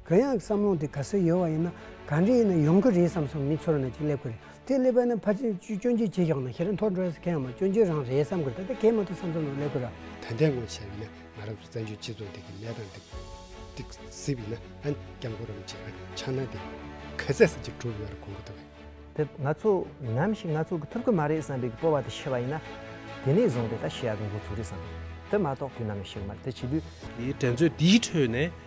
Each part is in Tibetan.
གང་ཡང་བསམ་བློ་འདི་ག་སེ་ཡོད་བ་ཡིན་ན་ག་འདྲས་ཡིན་ན་ཡོང་གི་རེད་བསམ་བསམ་མི་ཚོར་ན་ཅིག་སླེབས་གི་རེད་དེ་སླེབས་པ་ན་ཕ་ཅིན་སྐྱོན་བརྗོད་བྱེད་ཤོག་ན་ཤི་ར་མཐོ་འགྲོ་ས་གང་ཡང་མ་སྐྱོན་བརྗོད་རང་རེད་བསམ་གི་རེད་ད་ལྟ་གས་མ་ཐུབ་བསམ་བསམ་ན་སླེབས་གི་ར། ད་འདས་གོང་བྱས་ཡོད་ན་ང་རང་ཚོ་བཙན་བྱོལ་སྤྱི་ཚོགས་འདི་གི་གནས་སྟངས་འདི་ག་གཟིགས་ཡོད་ན་ཨ་སྐྱབས་མགོ་རམ་བྱས་ན་ཆགས་སྣང་འདི་ག་ཟས་ཟས་ཅིག་གྲུབ་ཡོད་རེད་གོ་གི་འདུག། དེ་ང་ཚོ་ནམ་ཞིག་ང་ཚོ་གི་ཐུབ་གི་མ་རེད་བསམ་པའི་གི་སྤོ་བ་དེ་ཤི་བ་ཡིན་ན་དེ་ནས་བཟུང་སྟེ་ད་ཤི་ཡག་གི་འགོ་ཚུགས་རེད་བསམ་གི་རེད་དེ་མ་གཏོགས་དུས་ནམ་ཡང་ཤི་གི་མ་རེད་དེ་བྱེད་དུས། དེའི་འགྲན་རྩོད་འདིའི་ཁྲོད་ནས།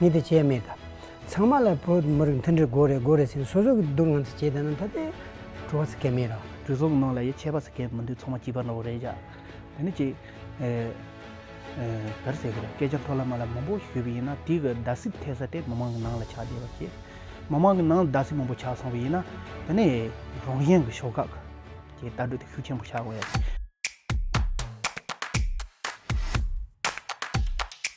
ཉིད་དེ་བྱས་མེད། ཚང་མ་ལ་བོད་མི་རིགས་མཐུན་སྒྲིལ་དགོས་རེད་དགོས་རེད་ཟེར་སོ་སོ་གི་སྡུག་བསྔལ་ཚོ་བྱས་དང་ད་ལྟའི་བྲོ་བ་ཟེར་གད་མེད་ར། བྲོ་བཟོ་བའི་ནང་ལ་ཡི་ཆད་པ་ཟེར་གད་མི་འདུག་ཚང་མ་སྐྱིད་པ་ནོར་བ་རེད་བཞག་དེ་ནི་ཅིག། ག་རེ་ཟེར་གི་རེད་སྐད་ཆ་མཐོ་ལ་དམའ་ལ་མང་པོ་ཞུས་པ་ཡིན་ན་དེ་གི་རྡ་སའི་ཐད་ས་དེ་མི་མང་གི་ནང་ལ་ཆགས་བསྡད་པ་ཀྱིས། མི་མང་གི་ནང་ལ་རྡ་སའི་མང་པོ་ཆགས་སོང་བ་ཡིན་ན་དེ་ནི་རང་གཞན་གི་ཕྱོགས་ཁག་གི་ལྟ་གྲུ་དེ་ཤུགས་ཆེན་པོ་ཆགས་དགོས་ཡ་རེད།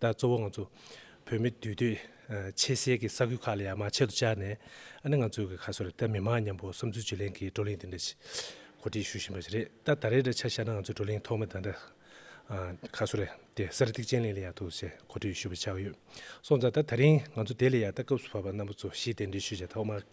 ད་གཙོ་བོ་ང་ཚོ་བོད་མི་འདུས་སྡོད་ཆེ་སའི་གི་ས་ཁུལ་ཁག་ལ་ཡང་མང་ཆེ་དུ་བཅར་ནས་ཨ་ནི་ང་ཚོའི་གི་ཁ་སོ་རེད་ད་མི་མང་མཉམ་པོ་བསམ་ཚུལ་བརྗོད་ལེན་གི་བགྲོ་གླེང་དེ་འདྲ་ཞིག་གོ་སྒྲིག་ཞུ་བཞིན་པ་ཞིག་རེད་ད་ད་རེས་འདྲ་ཆ་ཤར་ན་ང་ཚོའི་བགྲོ་གླེང་ཐོག་མ་ད་འདྲ་ཁ་སོ་རེད་དེ་གསར་སྒྲིག་དཔྱད་གླེང་ལ་ཡག་འདུག་ཞེས་གོ་སྒྲིག་ཞུ་བའི་ཆ་ཡོད་སོང་ཙང་ད་ད་རིང་ང་ཚོ་དེ་ལས་ཡག་ད་སྐབས་སུ་བབ་པ་རྣམ་པ་ཚོ་ཞིས་དེ་འདྲའི་ཤོད་བྱ་ཐོག་མ་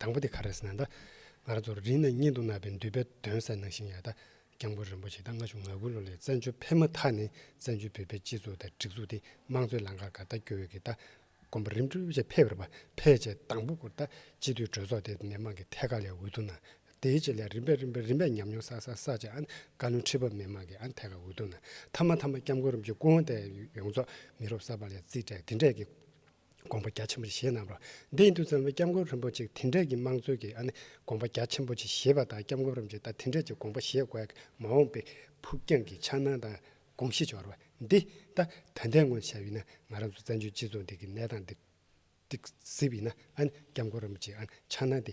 དང་པོ་དེ་ག་རེ་ཟེར་ན་ད། ང་རང་ཚོར་རིང་ནས་སྙན་དུ་གནག་པའི་འདུས་པའི་དོན་གསལ་གནང་བཞིན་ཡོད་ད། སྐྱབས་མགོན་རིན་པོ་ཆེ་ད་སྔ་བཅུ་ང་དགུ་ལོ་ལས་བཙན་བྱོལ་ཕེབས་མ་ཐག་ནས་བཙན་བྱོལ་བོད་པའི་སྤྱི་ཚོགས་དང་སྒྲིག་འཛུགས་དེ་དམངས་གཙོའི་ལམ་ཁར་ག་ད་སྐྱོད་འོས་ཀྱི་ད། དགོན་པ་རིམ་གྲོ་བཅས་ཕེབས་རེ་བ་ཕལ་ཆེར་དང་པོ་སྐོར་ད། སྤྱི་འཐུས་གྲོས་ཚོགས་དེ་མི་དམངས་ཀྱི་ཐད་ཀ་ལས་འོས་བསྡུ་གནང། དེའི་རྗེས་ལས་རིམ་པས་རིམ་པས་རིམ་པས་ཉམས་མྱོང་བསགས་བསགས་བསགས་རྗེས་བཀའ་བློན་ཁྲི་པ་མི་དམངས་ཀྱི་ཐད་ཀ་འོས་བསྡུ་གནང་མཐའ་མ་མཐའ་མ་སྐྱབས་མགོན་རིན་པོ་ཆེ་སྐུ་དབང་དེ་ཡོངས་རྫོགས་མི་རོབ་གསར་པ་ལས་རྩིས་སྤྲད་དེ་འབྲས་ཀྱི་དགོངས་པ་རྒྱ་ཆེན་པོ་ཆེ་བཞེས་གནང་བར་འདི་ཡིན་དུས་ཚང་མས་སྐྱབས་མགོན་རིན་པོ་ཆེ་དེ་འདྲ་ཀྱི་དམངས་གཙོའི་གི་ཨ་ནི་དགོངས་པ་རྒྱ་ཆེན་པོ་ཆེ་བཞེས་པ་དང་སྐྱབས་མགོན་རིན་པོ་ཆེ་ད་དེ་འདྲ་ཀྱི་དགོངས་པ་བཞེས་དགོས་ཀྱི་མ་འོངས་པའི་ཕུགས་རྒྱང་གི་འཆར་སྣང་དང་དགོངས་གཞི་འཆོར་བ་འདི་ད་ད་ལྟའི་ངོས་ཤར་ཡོད་ན་ང་རང་ཚོ་བཙན་བྱོལ་སྤྱི་ཚོགས་འདི་གི་གནས་སྟངས་འདི་གཟིགས་ཡིན་ན་ཨ་ནི་སྐྱབས་མགོན་རིན་པོ་ཆེའི་ཨ་ནི་འཆར་སྣང་འདི་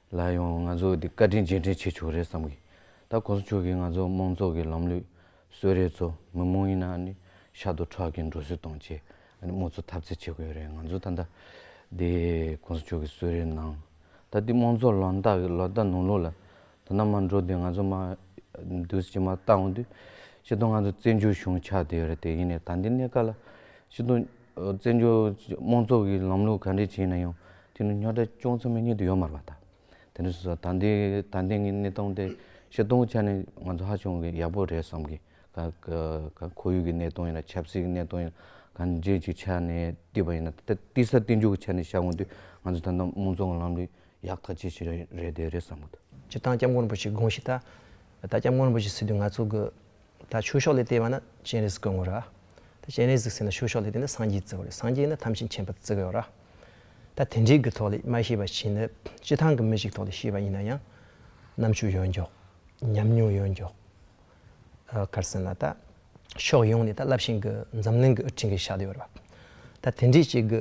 ལ་ཡང་ང་ཚོས་འདི་བཀའ་དྲིན་རྗེས་དྲན་བྱེད་ཆོག་རེད་བསམ་གི། ད་གོང་ས་མཆོག་གིས་ང་ཚོ་དམངས་ཚོགས་ཀྱི་ལམ་ལུགས་གསོལ་རས་ཚོ་མི་མང་ཡིན་ན་ནི་ཤ་དོ་ཁྲག་གིས་འགྲོ་སྲིད་དང་བཅས་དམངས་གཙོ་འཐབ་རྩེད་བྱེད་དགོས་ཡོད་རེད་ང་ཚོ་ད་ལྟ་འདི་གོང་ས་མཆོག་གི་གསོལ་རས་ནང་ད་འདི་དམངས་ཚོགས་ལམ་ལྟག་གི་ལོ་ཟླ་ནང་ལོགས་ལ་ད་ནམ་མ་འགྲོ་དུས་ང་ཚོ་མ་འདུས་ཕྱི་མ་ལྟ་འོང་དུས་ཕྱི་དོན་ང་ཚོ་བཙན་བྱོལ་གཞུང་ཆགས་བསྡད་ཡོད་རེད་དེ་ཡིན་ནས་ད་འདི་གནས་སྐབས་ལ་ཕྱི་དོན། བཙན་བྱོལ་དམངས་གཙོ་གི་ལམ་ལུགས་ག་འདྲས་བྱས་ན་ཡང་དེ་ནི་ཉག་ཕྲ་ཅུང་ཙམ་ཡང་རྙེད་དུ་ཡོད་མ་རེད་པ་དང། དེ་ནས་ད་ལྟའི་ད་ལྟའི་ངའི་གནས་སྟངས་དེ་ཤེས་རྟོགས་ཀྱི་ཆ་ནས་ང་ཚོ་ཧ་ཅང་གི་ཡག་པོ་རེད་བསམ་གི། ཁོར་ཡུག་གི་གནས་སྟངས་ཡིན་ན་ཆབ་སྲིད་ཀྱི་གནས་སྟངས་ཡིན་ན་ག་འདྲས་ཀྱི་ཆ་ནས་བལྟས་པ་ཡིན་ན་ད་ལྟ་བལྟས་ས་བལྟས་འཇུག་གི་ཆ་ནས་བཤད་དགོངས་དུས་ང་ཚོ་ད་ལྟ་དམངས་གཙོ་གི་ལམ་ལུགས་ཡག་ཐག་ཆད་ཞིག་རེད་རེད་བསམ་གི་འདུག། སྤྱིར་བཏང་སྐྱབས་མགོན་རིན་པོ་ཆེ་དགོངས་ཞིག་ལྟར། ད་ལྟ་སྐྱབས་མགོན་རིན་པོ་ཆེ་སྲིད་དུས་ང་ཚོ་གི། ད་ཆོས་ཕྱོགས་ལས་བལྟས་པ་ན་སྤྱན་རས་གཟིགས་སྐུ་ངོ་ར། ད་སྤྱན་རས་གཟིགས་ཟེར་ན་ཆོས་ཕྱོགས་ལས་བལྟས་ན་སངས་རྒྱས་གཙོ་བོ་རེད་སངས་རྒྱས་ནི་ཐམས་ཅད་མཁྱེན་པ་གཙོ་བོའོ་ར། ད་དེ་འདྲའི་གུ་ཐོག་ལས་མ་ཤེས་པ་ཞིག་ནི་སྤྱི་ཐང་གི་མི་ཞིག་ཐོག་ལས་ཤེས་པ་ཡིན་ན་ཡང། རྣམ་དཔྱོད་ཡོད་མགྱོགས། ཉམས་མྱོང་ཡོད་མགྱོགས། གར་སེམས་ལ་ད། ཕྱོགས་ཡོངས་ནས་ད་རླབས་ཆེན་གི་འཛམ་གླིང་གི་སྤྲིན་གྱི་ཤ་དེ་ཡོད་ར། ད་དེ་འདྲའི་ཅིག་གི་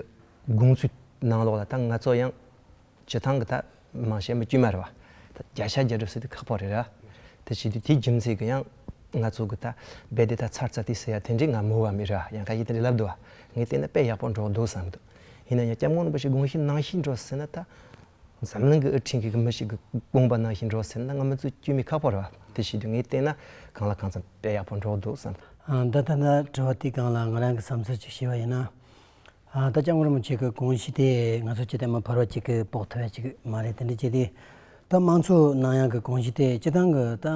དགོངས་ཚུལ་ནང་ལོགས་ལ་ད་ང་ཚོ་ཡང། བྱེ་ཐང་གི་ཐ་མ་གཞན་པ་དཀྱུས་མ་རེད་བ། བརྒྱ་ཆ་བརྒྱ་སྒྲུབ་ཟེར་དུས་ཁག་པོ་རེད་ར། དེ་བྱེད་དུས་དེའི་རྒྱུ་མཚན་གྱི་ཡང། ང་ཚོ་གི་ད་རྦད་དེ་ད་ཚར་ཚར་དུས་ཟེར་ཡ་དེ་འདྲའི་ང་མོ་བ་མི་ར་ཡང་ཁ་ཡི་དེ་འདྲའི་ལབ་འདུག་བ། ངས་བལྟས་ན་དཔེ་ཡག་པོ་འགྲོག་འདུག་བསམ་འདུག། ཡིན་ན་ཡང་སྐྱབས་མགོན་རིན་པོ་ཆེ་དགོངས་བཞིན་གནང་བཞིན་འགྲོ་ཟེར་ན་ད། འཛམ་གླིང་གི་ཨུ་ཕྲེང་གི་མི་ཞིག་གི་དགོངས་པ་གནང་བཞིན་འགྲོ་ཟེར་ན་ང་མི་ཚོའི་དཀྱུས་མའི་ཁག་པོ་རེད་བ། དེ་བྱེད་དུས་ངས་བལྟས་ན་གང་ལ་གང་འཚམ་དཔེ་ཡག་པོ་འགྲོག་འདུག་བསམ། འདི་ལྟར་ན་དྲི་བ་དེའི་སྒང་ལ་ང་རང་གི་བསམ་ཚུལ་ཅིག་བཤད་པ་ཡིན་ན། ད་ཅང་ངོ་མ་བྱེད་དགོས་དགོངས་གཞི་དེ་ང་ཚོ་སྤྱི་དང་མི་འཕར་བ་གཅིག་གིས་དཔོག་ཐུབ་པ་ཞིག་མ་རེད་དེ་འདྲ་བྱས་དུས་ད་དམངས་གཙོ་ནང་ཡང་གི་དགོངས་གཞི་དེ་སྤྱི་དང་གི་ད་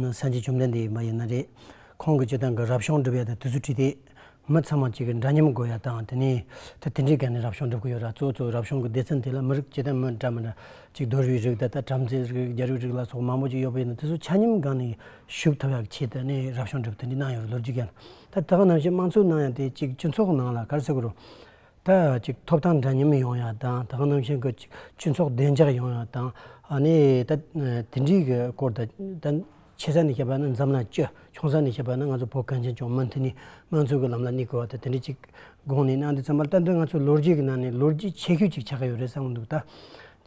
སངས་རྒྱས་བཅོམ་ལྡན་འདས་མ་ཡིན་ན་རེད། ཁོང་གི་སྤྱི་དང་གི་རབ་བྱུང་སྒྲུབ་ཡ་དང་དུས་ཚོད་ཁྲིད་དེ་མི་ཚང་མ་གཅིག་གི་འདྲ་མཉམ་དགོས་ཡ་དང་དེ་ནས་ད་དེ་འདྲའི་ག་ནས་རབ་བྱུང་སྒྲུབ་གི་ཡོད་ར་གཙོ་གཙོ་རབ་བྱུང་གི་སྡེ་ཚན་དེ་ལ་མི་རིགས་སྤྱི་དང་མི་འདྲ་མི་འདྲ་གཅིག་རྡོ་རུའི་རིགས་ད་ལྟ་བྲམ་ཟེའི་རིགས་རྒྱ་རུའི་རིགས་ལ་སོགས་མང་པོ་གཅིག་ཡོད་པ་ཡིན་ན་དེ་ཚོ་ཆ་སྙོམས་གང་ནས་ཞུགས་ཐུབ་ཡ་གི་ཆེད་དུ་ནས་རབ་བྱུང་སྒྲུབ་དེ་འདྲའི་གནང་ཡོད་རེད་ལོ་རྒྱུས་ཀྱང་ད་དག་ནམ་ཞིག་དམངས་གཙོའི་ནང་ཡང་དེ་ཅིག་སྤྱི་ཚོགས་ནང་ལ་གར་ཚུགས་རུང། ད་ཅིག་ཐོབ་ཐང་འདྲ་མཉམ་ཡོང་ཡ་དང་དག་ནམ་ཞིག་གི་ཅིག་སྤྱི་ཚོགས་བདེ་འཇགས་ཡོང་ཡ་དང་ནི་ད་དེ་འདྲིའི་གི་སྐོར་ད་ཆེ་ས་ནས་བཤད་པ་ནི་འཛམ་གླང་སྤྱི་ཆུང་ས་ནས་བཤད་པ་ནི་ང་ཚོ་བོད་གངས་ཅན་ལྗོངས་མི་འདི་ནི་དམངས་གཙོའི་གི་ལམ་ལ་གནས་དགོས་བ་ད་དེ་འདྲི་ཅིག་དགོངས་ནས་གནང་འདི་ཙམ་པར་ལྟ་འདི་ང་ཚོའི་ལོ་རྒྱུས་གི་ནང་ནས་ལོ་རྒྱུས་ཆེ་ཤོས་ཅིག་ཆགས་ཀྱི་ཡོད་རེད་བསམ་གི་འདུག་ད་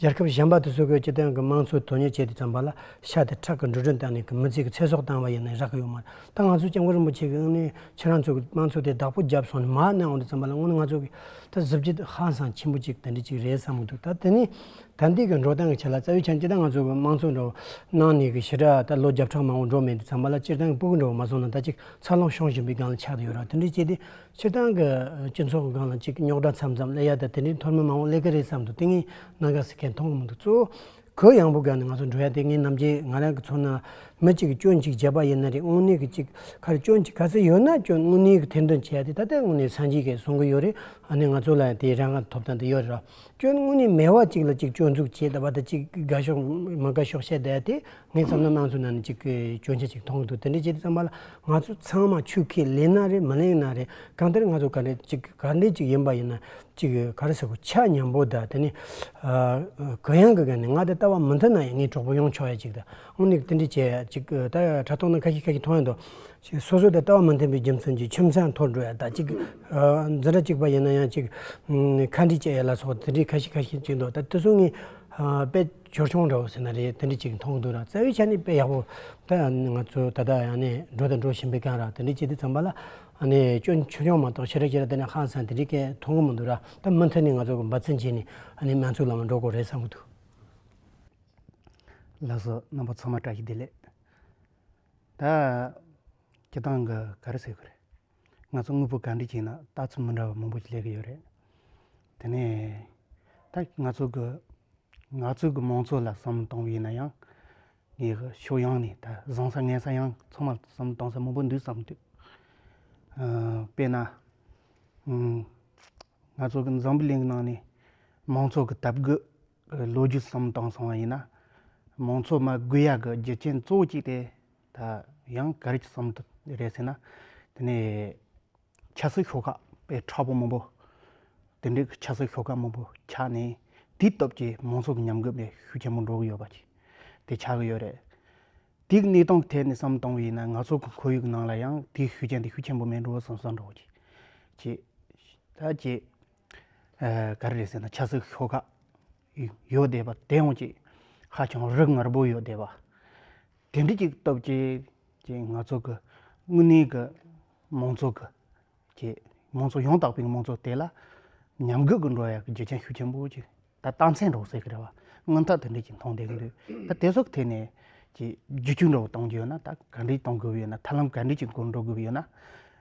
རྒྱལ་ཁབ་གཞན་པ་དུ་སུ་ཁོའི་སྤྱི་དོན་གྱི་དམངས་གཙོའི་དོན་གཉེར་བྱས་ཏེ་བརྩམས་པ་ལ་ཤ་དེ་ཁྲག་གི་འགྲོ་གྲོན་བཏང་ནས་གི་མི་ཚེ་གི་ཚེ་སྲོག་བཏང་བ་ཡིན་ན་རག་གི་ཡོད་མ་རེད་ད་ང་ཚོས་སྐྱབས་མགོན་རིན་པོ་ཆེ་གི་དབུ་མའི་ཕྱིར་རང་ཚོ་གི་དམངས་གཙོ་དེ་བདག་པོ་རྒྱབ་སོང་ནས་མར་གནང་འོང་དུ་བརྩམས་པ་ལ་དངོས་ནས་ང་ཚོ་གི་ད་གཟི་བརྗིད་ཧ་སང་ཆེན་པོ་ཅིག་དེ་འདྲ་ཅིག་རེད་བསམ་གི་འདུག་ད་དེ་ནི་ད་འདིས་གི་འགྲོ་སྟངས་གི་ཆེད་ལ་རྩ་བའི་ཆ་ནས་ཅི་ད་ང་ཚོ་གི་དམངས་གཙོ་འགྲོ་བ་གནང་ནས་གི་ཞི་དྲག་ད་ལོ་བརྒྱ་ཕྲག་མང་བོ་འགྲོ་མེད་དུ་བརྩམས་པ་ལ་སྤྱིར་བཏང་གི་སྤུ་གུ་འགྲོ་བ་མ་སོང་ན་ད་ཅིག་འཚར་ལོངས་ཤོང་བཞིན་པའི་སྒང་ལ་ཆགས་དུ་ཡོད་ར་དེ་འདྲ་བྱས་ཏེ་ཕྱིར་འདང་གི་སྤྱི་ཚོགས་སྒང་ལ་གཅིག་རྙོག་དྲ་མཚམས་མཚམས་ཀླད་ཡག་དང་དེ་འདྲའི་མཐོར་མི་མང་བོ་ཀླད་ཀ་རེད་བསམ་དུ་ཏིང་ངེ་གནང་ག་ཟེར་མཁན་མཐོང་མི་འདུག་གཙོ་བོ་གུ་ཡངས་པོ་སྒང་ནས་ང་ཚོ་འགྲོ་ཡ་དེ་ངེད་རྣམ་རྒྱལ་ང་རང་གི་ཚོ་ནང་མི་གཅིག་གི་སྐྱོན་གཅིག་བརྗེད་པ་ཡིན་ན་རེད་དངོས་གནས་ཀྱི་གཅིག་ཁ་རེ་སྐྱོན་གཅིག་ག་ཚོད་ཡོད་ན་སྐྱོན་དངོས་གནས་ཀྱི་ཐེར་འདོན་བྱེད་ཡ་དེ་ད་ལྟའི་དངོས་གནས་སངས་རྒྱས་ཀྱིས་བཟུང་གི་ཡོད་རེད་ཨ་ནི་ང་ཚོ་ལ་ཡང་དེའི་རང་ག་ཐོབ་ཐང་དེ་ཡོད་རེད་ར་སྐྱོན་དངོས་གནས་མེད་བ་གཅིག་ལ་གཅིག་སྐྱོན་འཛུགས་བྱེད་བདའ་བ་དང་གཅིག་དགའ་ཞོག་མ་དགའ་ཞོག་བཤད་བདའ་ཡ་དེ་ངས་བསམ་ན་སྣང་ཚུལ་ནང་ནས་གཅིག་སྐྱོན་ཆ་གཅིག་མཐོང་འདུག་དེ་འདྲའི་ཆེད་དུ་བསམ་པ་ལ་ང་ཚོ་ཚང་མ་ཆུ་ཁས་ལེན་ན་རེད་མི་ལེན་ན་རེད་གང་ལྟར་ང་ཚོ་ག་འདྲེ་གཅིག་ག་འདྲེ་གཅིག་ཡིན་པ་ཡིན་ན་གཅིག་ག་རེ་ཟེར་གོ་ཆ་མཉམ་པོ་དང་དེ་ནས་གུ་ཡངས་ཀྱི་ག་ནས་ང་དེ་ལྟ་བ་མི་འདོད་ན་ཡང་ངའི་གྲོགས་པོ་ཡོང་ཆོག་ཡ་གཅིག་དང་དངོས་གནས་དེ་འདྲའི་བྱས་ཡ་གཅིག་ད་ཡ་དྲ་ཐོག་ན་ཁ་ཤས་ཁ་ཤས་མཐོང་ཡ་འདུག་སོ་སོ་དང་ལྟ་བ་མི་མཐུན་པའི་རྒྱུ་མཚན་གྱིས་ཁྱིམ་ཚང་འཐོར་འགྲོ་ཡ་དང་གཅིག་འཛིན་གྲྭ་གཅིག་པ་ཡིན་ན་ཡང་གཅིག་ཁ་འདྲེ་བཅད་ཡ་ལ་སོགས་དེ་འདྲའི་ཁ་ཤས་ཁ་ཤས་གཅིག་འདུག་ད་དེ་ཚོ་ངས་དཔེ། ཆོལ་ཆུང་འདྲ་བོ་ཟེར་ན་རེད་དེ་འདྲི་ཅིག་མཐོང་འདུག་ར་རྩ་བའི་ཆ་ནས་དཔེ་ཡག་པོ་ད་ང་ཚོ་ད་ལྟ་ཡང་ནས་འགྲོ་དང་འགྲོ་བཞིན་པའི་སྐད་ར་དེ་འདྲི་བྱེད་དེ་ཚང་པ་ལ་ནས་ཅོ་ཆོལ་ཆུང་མ་གཏོགས་ཕྱི་ར་ཕྱི་ར་དེ་ནས་ཧང་སང་དེ་འདྲི་སྐད་མཐོང་གི་མི་འདུག་ར་ད་མུ་མཐུད་ནས་ང་ཚོ་གི་འབའ་ཚན་བྱས་ནས་ནས་མན་ཚུག་ལ་མ་འགྲོ་དགོས་རེད་བསམ་གི་འདུག། ལགས་སོ་རྣམ་པ་ཚང་མ་བཀྲ་ཤིས་བདེ་ལེགས། ད་ཁྱེད་རང་གི་ག་རེ་ཟེར་གི་རེད། ང་ཚོ་དངོས་པོ་གང་འདྲི་གྱིན་ན་ལྟ་ཚུལ་མི་འདྲ་བ་མང་པོ་ཞིག་ལས་ཀྱི་ཡོད་རེད། དེ་ནས་ད་ང་ཚོ་གི་ང་ཚོ་གི་མང་ཚོགས་ལ་བསམ་བློ་གཏོང་བ་ཡིན་ན་ཡང་ངས་ཧ་ཕྱོགས་ཡོངས་ནས་ད་བཟང་ས་ངན་ས་ཡང་ཚང་མར་བསམ་བློ་གཏོང་ས་མང་པོ་འདུག་བསམ་འདུག་དཔེར་ན་ང་ཚོ་གི་འཛམ་བུ་གླིང་གི་ནང་ནས་མང་ཚོགས་ཀྱི་དར་རྒུད་ལོ་རྒྱུས་སམ་བཏང་སོང་བ་ཡིན་ན་མང་ཚོགས་མ་དགོས་ཡ་གི་རྒྱུ་རྐྱེན་གཙོ་བོ་གཅིག་དེ་ད་ཡང་ག་རེ་ཀྱི་བསམ་འདུན་རེད་ཟེར་ན། དེ་ནས་ཆབ་སྲིད་ཤོག་ཁག་པའི་ཁྲ་བོ་མང་པོ། དེ་འདྲའི་གི་ཆབ་སྲིད་ཤོག་ཁག་མང་པོ་ཆགས་ནས། དེའི་སྟོབས་ཀྱིས་མང་ཚོགས་ཀྱི་ཉམས་རྒུད་པའི་ཤུགས་ཆེན་པོ་འགྲོ་གི་ཡོད་པ། དེ་ཆགས་ཀྱི་ཡོད་རེད། དེའི་གནས་སྟངས་ཐད་ནས་བསམ་བཏང་བས་ན་ང་ཚོ་གི་ཁོར་ཡུག་གི་ནང་ལ་ཡང་དེའི་ཤུགས་རྐྱེན་དེ་ཤུགས་ཆེན་པོ་མེད་འགྲོ་བསམ་བསམ་འགྲོ་གི། ཅེས། ད་ཅེས། ག་རེ་རེད་ཟེར་ན་ཆབ་སྲིད་ཤོག་ཁག་ཡོད་བསྡད་པ་དེ་ཡང་ཅིག་ཧ་ཅང་རིགས་ངར་པོ་ཡོད་བསྡད་པ། དེ་འདྲ་ཅིག་སྟོབས་ཆེའི་ང་ཚོ་གི་དངོས་གནས་ཀྱི་མང་ཚོགས་ཀྱི་ཀྱི་མང་ཚོགས་ཡང་དག་པའི་མང་ཚོགས་དེ་ལ་ཉམས་རྒུད་ཀྱི་འགྲོ་ཡག་གི་རྒྱུ་རྐྱེན་ཤུགས་ཆེན་པོ་ཅིག་ད་རྟ་མཚན་སྒྲོག་ཟེར་གྱི་རེད་བ་དངངས་ཐག་དེ་འདྲ་ཅིག་མཐོང་བསྡད་ཀྱི་འདུག་ད་དེ་ཚོ་ཐད་ནས་ཀྱི་རྒྱུ་ཆུང་འདྲ་བོ་གཏོང་རྒྱུ་ཡོད་ན་ད་ག་འདྲས་གཏོང་དགོས་པ་ཡོད་ན་ཐབས་ལམ་ག་འདྲས་ཀྱི་སྒོ་འགྲོ་དགོས་པ་ཡོད་ན།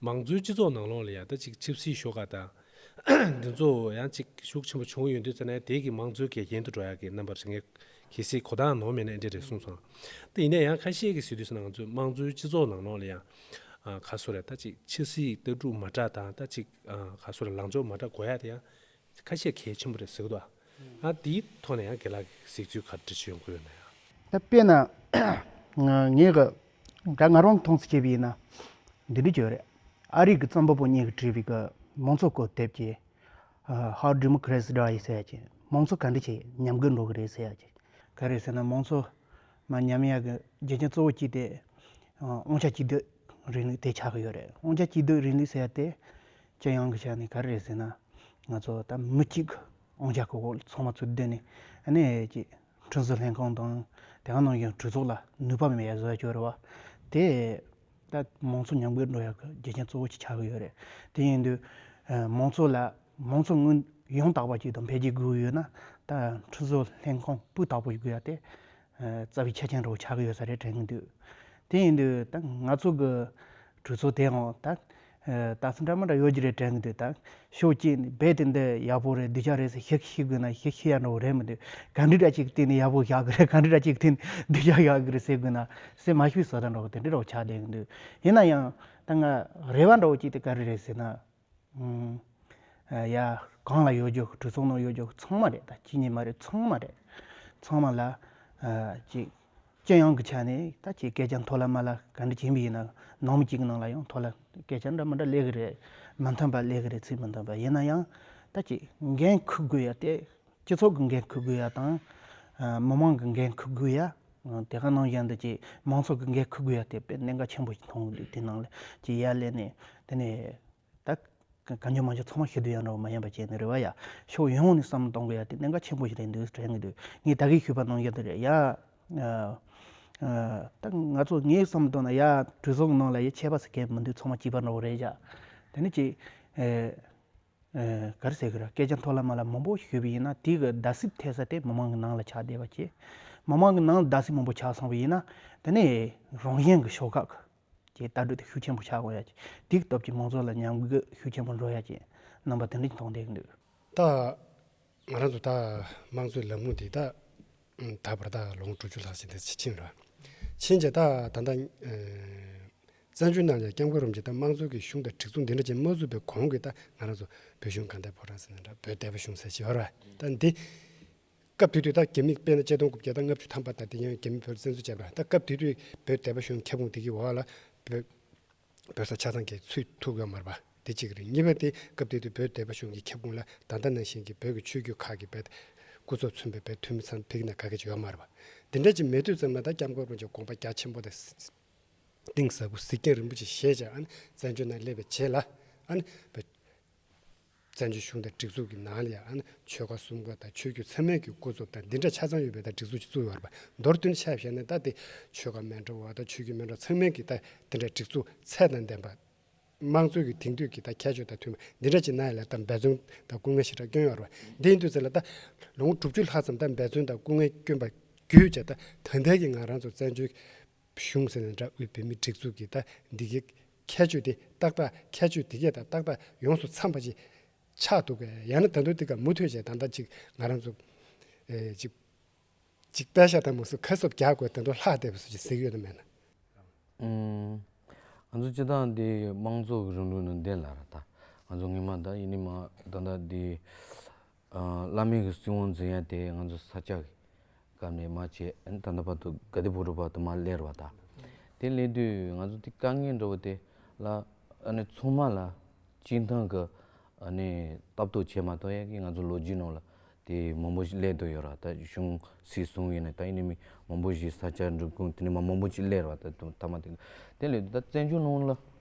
མང་གཙོའི་སྤྱི་ཚོགས་ནང་ལོགས་ལ་ཡང་ད་ཅིག་ཆིབས་སིའི་ཤོག་ཁག་དང། འདི་ཚོ་ཡང་ཅིག་ཤུགས་ཆེན་པོ་བྱུང་ཡོད་འདུག་ཙེ་ནའི་དེ་གི་མང་གཙོའི་གལ་རྐྱེན་དུ་འགྲོ་ཡག་གི་རྣམ་པར་རེ་ངས་གལ་སྲིད་གོ་དང་ནོར་མེད་ན་འདྲེ་རེད་གསུངས་སོང། ད་ཡིན་ན་ཡང་ཁ་ཤས་ཀི་ཟེར་དུས་སུ་ནང་གཙོའི་མང་གཙོའི་སྤྱི་ཚོགས་ནང་ལོགས་ལ་ཡང། ག་སོ་རེ་ད་ཅིག་ཆིབས་སིའི་ལྟ་གྲུབ་མ་འདྲ་དང་ད་ཅིག་ག་སོ་རེ་ལངས་ཕྱོགས་མ་འདྲ་གོ་ཡག་དེ་ཡང་ཁ་ཤས་གལ་ཆེན་པོ་རེད་ཟེར་གི་འདུག་ཨ། ཨ་འདིའི་ཐོག་ནས་ཡང་དགེ་ལགས་ཀྱིས་གཟིགས་ཚུལ་ག་འདྲ་བྱེད་དགོས་ན་ཡང། ད་དཔེ་ན། ངས་གི་ད་ང་རང་མཐོང་ཚུལ་བྱས་པ་ཡིན་ན། འདི་འདྲི་རྒྱུ་རེད། ཨ་རིག་གི་རྩོམ་པ་པོ་གཉིས་ཀྱིས་བྲིས་པའི་གི་མང་གཙོ་སྐོར་དེབ་ཀྱི། How Democrats Die ཟེར་ཡ་ཀྱི་མང་གཙོ་ག་འདྲི་བྱས་ཉམས་དགོས་འགྲོ་གི་རེད་ཟེར་ཡ་ཀྱི། ག་རེད་ཟེར་ན་མང་གཙོ་མ་ཉམས་ཡ་གི་རྒྱུ་རྐྱེན་གཙོ་བོ་གཅིག་དེ། དབང་ཆ་གཅིག་སྡུད་རིང་ལུགས་དེ་ཆགས་ཀྱི་ཡོད་རེད་དབང་ཆ་གཅིག་སྡུད་རིང་ལུགས་ཟེར་ཡ་དེ། སྤྱི་ཡོངས་ཀྱི་ཆ་ནས་ག་རེ་རེད་ཟེར་ན། ང་ཚོ་ད་མི་གཅིག་གི་དབང་ཆ་གོ་གོ་ཚང་མ་ཚུར་བསྡུས་ནས་གནས་ཀྱི་ཁྲིམས་བཟོ་ལྷན་ཁང་དང་དེ་ག་ནང་བཞིན་གྲོས་ཚོགས་ལ་ནུས་པ་མེད་པའི་བཟོ་བཅོས་རེད་བ། དེས་ད་མང་ཚོགས་ཉམས་རྒུད་འགྲོ་ཡག་གི་རྒྱུ་རྐྱེན་གཙོ་བོ་ཆགས་ཀྱི་ཡོད་རེད། དེ་ཡིན་དུས་མང་ཚོགས་ལ་མང་ཚོགས་དངོས་ཡང་དག་པ་ཅིག་དང་འཕེལ་རྒྱས་དགོས་ཡོད་ན་ད་ཁྲིམས་བཟོ་ལྷན་ཁང་སྤུས་དག་པོ་ཞིག་དགོས་ཡ་དེ་རྩ་བའི་ཆ་རྐྱེན་རེད་བ་ཆགས་ཀྱི་ཡོད་ས་རེད་དྲན་གྱི་འདུག་དེ་ཡིན་དུས་ད་ང་ཚོ་གི་གྲོས་ཚོགས་དེའང་ད། ད་ཚ་འདྲ་མ་འདྲ་ཡོད་ཀྱི་རེད་དྲན་གྱི་འདུག་ད། ཤོག་གཅིག་ནས་རྦད་དེ་འདི་ཡག་པོ་རེད་འདི་ཅག་རེད་ཟེར་ཤིག་ཤིག་དགོས་ན་ཤིག་ཤིག་ཡག་འདྲ་བོ་རེད་མི་འདུག་ག་འདི་འདྲ་ཅིག་གི་སྟེང་ནས་ཡག་པོ་བཞག་གི་རེད་ག་འདི་འདྲ་ཅིག་གི་སྟེང་ནས་འདི་ཅག་ཡག་གི་རེད་ཟེར་དགོས་ན་ཟེར་མ་ཤི་བའི་བཟའ་ཟླ་འདྲ་བོ་དེ་འདྲ་འདྲ་བོ་ཆགས་བསྡད་ཀྱི་འདུག་ཡིན་ན་ཡང་ད་ང་རེ་བ་འདྲ་བོ་ཅིག་དེ་ག་རེ་རེད་ཟེར་ན། ཡ། གང་ལ་གཡོ་སྒྱུ་གྲུ་ཚོགས་ནང་གཡོ་སྒྱུ་ཚང་མ་རེད་ད་ཁྱེད་གཉིས་མ་རེད་ཚང་མ་རེད། ཚང་མ་ལ། ཅིག། ཅི་ཡང་གི་ཆ་ནས་ད་ཁྱེད་སྐད་ཆ་མཐོ་ལ་དམའ་ལ་ག་འདྲི་བྱེད་མི་ཡིན་ན་ནང་མི་གཅིག་གི་ནང་ལ་ཡང་མཐོ་ལ་སྐད་ཆ་འདྲ་མི་འདྲ་གླེགས་གི་རེད་མི་མཐུན་པ་གླེགས་གི་རེད་ཚིག་མི་མཐུན་པ་ཡིན་ན་ཡང་ད་ཅིག་འགན་ཁུར་དགོས་ཡ་དེ་སྤྱི་ཚོགས་གི་འགན་ཁུར་དགོས་ཡ་དང། མི་མང་གི་འགན་ཁུར་དགོས་ཡ། དེ་ག་ནང་བཞིན་དུ་ཀྱི་མང་ཚོགས་ཀྱི་འགན་འཁུར་དགོས་ཡ་དེ་དཔེ་གནད་འགག་ཆེན་པོ་ཞིག་མཐོང་འདུག་དེ་ནང་ལ་ཀྱི་ཡ་ལས་ནས་དེ་ནས་ད་ག་ཉོ་མ་ཉོ་ཚང་མ་ཤི་དུས་ཡ་འདྲ་བ་མ་ཡིན་པ་བྱས་ནས་རེ་བ་ཡ་ཕྱོགས་ཡོངས་ནས་བསམ་བློ་གཏོང་དགོས་ཡ་དེ་གནད་འགག་ཆེན་པོ་ཞིག་རེད་འདུག་དྲན་གྱི་འདུག་ངས་ད་གིས་ཞུས་པ་ནང་བཞིན་དུ་རེད་ཡ་ད་ང་ཚོ་ངས་བསམ་བློ་གཏོང་ན་ཡ་གྲོས་ཚོགས་ནང་ལ་ཡ་ཆད་པ་ཟེར་མཁན་མི་འདུག་ཚང་མ་སྐྱིད་པ་འདྲ་བོ་རེད་བྱ་དེ་ནས་ཀྱི་གར་ཟེར་གི་ར་སྐད་ཆ་མཐོ་ལ་དམའ་ལ་མང་པོ་ཞུས་པ་ཡིན་ན་དེ་གི་རྡ་སིབ་ཐེབས་ས་དེ་མི་མང་གི་ནང་ལ་ཆགས་བསྡད་པ་གྱིས་མི་མང་གི་ནང་ལ་རྡ་སིབ་མང་པོ་ཆགས་སོང་བ་ཡིན་ན་དེ་ནས་རང་གཞན་གི་ཤོག་ཁག་གི་ལྟ་གྲུ་དེ་ཤུགས་ཆེན་པོ་ཆགས་དགོས་ཡ་གྱིས་དེ་གི་སྟོབས་ཀྱིས་མང་ཚོགས་ལ་ཉམས་རྒུད་ཤུགས་ཆེན་པོ་འགྲོ་ཡ་གྱིས་རྣམ་པ་དེ་འདྲ་གྱིས་མཐོང་བསྡད་གི་འདུག། ད། ང་རང་ཚོ་ད་དམངས་གཙོའི་ལམ་ལུགས་འདི་ད་ད་བར་ད་ལོངས་དྲུག་ཅུ་ལྷག་ཕྱིན་ད་ཕྱིན་ར་ཕྱིན་རྗེས་ད་ད་ལྟ་བཙན་བྱོལ་ནང་ཡང་སྐྱབས་མགོན་རུམ་གྱིས་ད་དམངས་གཙོའི་གི་གཞུང་ད་སྒྲིག་འཛུགས་འདི་འདྲ་ཅན་མ་བཙུགས་པའི་གོང་གི་ད་ང་རང་ཚོ་བོད་གཞུང་གང་ད་ཕོ་བྲང་སེང་ད་བོད་སྡེ་བ་གཞུང་ས་ཆི་ཧོར་བ་ད་འདི་སྐབས་དུས་དུས་ད་གེ་མི་དཔེ་ན་བཅད་སྟོང་དགུ་བརྒྱ་ད་ལྔ་བཅུ་ཐམ་པ་ད་འདི་ཡང་གེ་མི་བོད་བཙན་བཟུང་བྱས་པ་ར་ད་སྐབས་དུས་དུས་བོད་སྡེ་བ་གཞུང་ཁྱབ་ཁོངས་འདི་གི་འོག་ལ་བོད། བོད་ས་ཆ་ཚང་གི་ཚུད་ཐུབ་ཡོང་མར་པ་དེ་གཅིག་རེད་གཉིས་པ་དེ་སྐབས་དེ་དུས་བོད་བདེ་པ་གཞུང་གི་ཁྱབ་ཁུངས་ལ་ད་ལྟ་ནང་བཞིན་གྱི་བོད་ཀྱི་ཆོས་བརྒྱུད་ཁག་གི་བེད་སྐུ་ཚོགས་མཚོན་པའི་བེད་འཐུས་མི་ཚང་ཕིག་ན་ག་གེ་ཅིག་ཡོང་མར་པ་དེ་འདྲ་གཅིག་མེད་དུས་ཙམ་ན་ད་སྐྱབས་མགོན་དགོན་གྱི་དགོངས་པ་རྒྱ་ཆེན་པོ་དང། གཏིང་ཟབ་པོ་གཟིགས་རྒྱང་རིན་པོ་ཆེ་ཞེས་བྱ་བ་ནི་བཙན་བྱོལ་ན་སླེབས་པའི་རྗེས་ལ། བཙན་བྱོལ་གཞུང་དང་སྒྲིག་འཛུགས་ཀྱི་ནང་ལའང་ཆོལ་ཁ་གསུམ་ཀ་དང་ཆོས་བརྒྱུད་ཚང་མས་ཀྱི་ཀུན་རྫོབ་དང་འདི་འདྲ་ཆ་ཚང་ཡོད་པའི་ལྟར་སྒྲིག་འཛུགས་ཅིག་བཙུགས་ཡོང་བ་རེད་པ། མདོར་བསྡུས་ནས་ཕྱག་བཞེས་ནི་ད་ལྟའི་ཆོལ་ཁ་མན་གྲོ་བ་དང་ཆོས་བརྒྱུད་མན་གྲོ་ཚང་མས་ཀྱི་ལྟར་འདི་འདྲ་སྒྲིག་འཛུགས་ཚད་དང་ལྡན་པ། དམངས་གཙོའི་ཀྱི་དེང་དུས་ཀྱི་ལྟར་ཁྱད་ཆོས་དང་མཐུན་པ་འདི་འདྲ་ཅིག་གནང་ཡོད་ལ་ད་འབད་བརྩོན་དང་སྐུ་ངལ་ཞེ་དྲག་བསྐྱོན་ཡོང་བ་རེད་པ། འདི་ཡིན་དུས་ཚོད་ལ་ད་ལོ་ངོ་དྲུག་ཅུ་ལྷག་ཙམ་ད་འབད་བརྩོན་དང་སྐུ་ངལ་བསྐྱོན་པ་བརྒྱུད་ཅེས་ད་ལྟ་ད་ལྟའི་ཀྱི་ང་རང་ཚོ་བཙན་བྱོལ་གཞུང་ཟེར་ནས་འདྲ་དབུས་བོད་མིའི་སྒྲིག་འཛུགས་ཀྱི་ད་འདི་གའི་ཁྱད་ཆོས་དེ་ཏག་ཏག་ཁྱད་ཆོས་དེ་ཁྱེད་དང་ཏག་ཏག་ཡོངས་སུ་འཚམས་པ་ཅིག་ཆགས་འདུག་གས་ཡང་ན་ད་དུང་འདི་ག་མུ་མཐུད་བྱས་ད་ལྟ་ཅིག་ང་རང་ཚོ། ཅིག། ཅིག་དཔལ་ཤ་ཐང་མུ་སུ་ཁ་སོབ་རྒྱག་དགོས་ད་དུང་ལྷག་འདས་པའི་སུ་ཅིག་གཟིགས་ཡོད་དམ་མེད་ན། ང་ཚོ་སྤྱི་བཏང་འདི་དམངས་གཙོ་གི་རིང་ལུགས་ནང་བདེན་ལ་ར་ད། ང་ཚོ་ངེད་མ་ད་ཡིན་ནི་མ་ད་ད་འདི། བླ་མེད་ཀྱི་སྲིད་དབང་འཛིན་ཡ་དེ་ང་ཚོ་ས་སྐྱ་གི་སྐབས་ནས་མ་བྱས་ད་ལྟ་བར་དུ་ག་དུས་བོད་རུ་བར་དུ་མ་སླེར་བ་དང། དེ་སླེ་དུས་ང་ཚོ་དེ་དཀའ་ངལ་འགྲོ་བ་དེ་ལ་ཨ་ནེ་ཚང་མ་ལ་སྤྱིན་ཐང་གི་ཨ་ནེ་ལྟ་བསྟོད་བྱས་མ་གཏོགས་ཡ་གི་ང་ཚོ་ལོ་རྒྱུས་ནང་ལ་དེ་མང་པོ་ཞིག་སླེ་དུ་ཡོད་ར་ད་གཞུང་སྲིད་བཟུང་བས་ནས་ད་ཨིན་ནས་མི་མང་པོ་ཞིག་ས་སྐྱ་འགྲུབ་ཁུངས་དེ་ནས་མ་མང་པོ་ཞིག་སླེར་བ་ད་དུ་ཐ་མ་དེ་ལ་དེ་ལས་ད་བཙན་བྱོལ་ནང་ལ་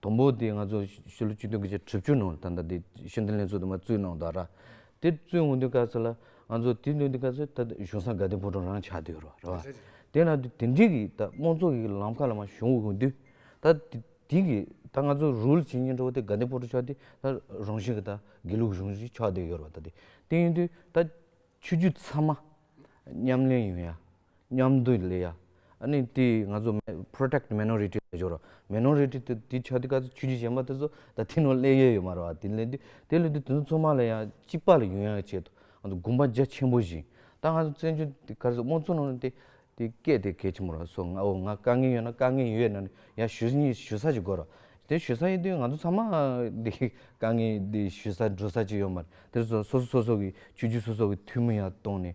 དང་པོ་དེ་ང་ཚོ་ཕྱི་ལོ་བཅུ་བདུན་གྱི་ཕྱི་དྲུག་ཅུ་ནང་ད་ལྟ་དེ་ཤེས་ལྡན་ལས་འཛོལ་དུ་མ་བཙུད་གནང་འདུག་ར། དེ་བཙུད་འོང་དུས་སྐབས་སུ་ལ་ང་ཚོ་དེ་འདོན་དུས་སྐབས་སུ་ད་ལྟ་གཞུང་ས་དགའ་ལྡན་ཕོ་བྲང་རང་ཆགས་དུས་རོ་ར་བ། དེ་ལ་དུས་དེ་འདྲི་གི་ད་དམངས་གཙོ་གི་ལམ་ཁ་ལ་མ་བྱུང་འོང་དུས་ད་དེ་དེ་གི་ད་ང་ཚོ་རུལ་བྱེད་ཉེན་འགྲོ་བ་དེ་དགའ་ལྡན་ཕོ་བྲང་ཆགས་དུས་ད་རང་བཞིན་གྱི་ད་དགེ་ལུགས་གཞུང་ཞིག་ཆགས་དུས་ཡོད་ར་བ་ད་དེ་དེ་ཡིན་དུས་ད་ཆོས་བརྒྱུད་ཚང་མ་ཉམས་ལེན་ཡོང་ཡ། མཉམ་དུ་ལས་ཡ་ནི་དེ་ང་ཚོ Protect Minority ལ་འཇོག་རོགས། Minority དེ་དེ་ཆ་དེ་ག་ཚོད་ཆུད་ཆུད་བྱེད་མ་དེ་ཚོ་ད་དེ་ནང་སླེ་ཡོད་ཡོད་མ་རོ་བ་དེ་ལས་དེ་དེ་ལས་དེ་དེ་ཚོ་ཚོ་མ་ལ་ཡ་གཅིག་པ་ལ་ཡོད་ཡ་ཡ་བྱེད་དོ། དགོངས་པ་རྒྱ་ཆེན་པོ་བཞིན་ད་ང་ཚོ་བཙན་བྱོལ་དེ་གར་སོ་མོ་ཚོ་ནང་དེ་དེ་སྐད་དེ་གལ་ཆེན་པོ་རོ་སོ་ང་འོ་ང་དཀའ་ངལ་ཡོད་ན་དཀའ་ངལ་ཡོད་ན་ཡ་ཞུ་ཡི་ཞུ་ས་ཅིག་དགོས་རོ། དེ་ཞུ་ས་ཡོད་དུས་ང་ཚོ་ཚང་མ་དེ་དཀའ་ངལ་དེ་ཞུ་ས་འགྲོ་ས་ཅིག་ཡོད་མ་རེད། དེ་སོ་སོ་སོ་སོ་གི་ཆུད་ཆུད་སོ་སོ་གི་འཐུས་མི་ཡ་བཏོན་ནས་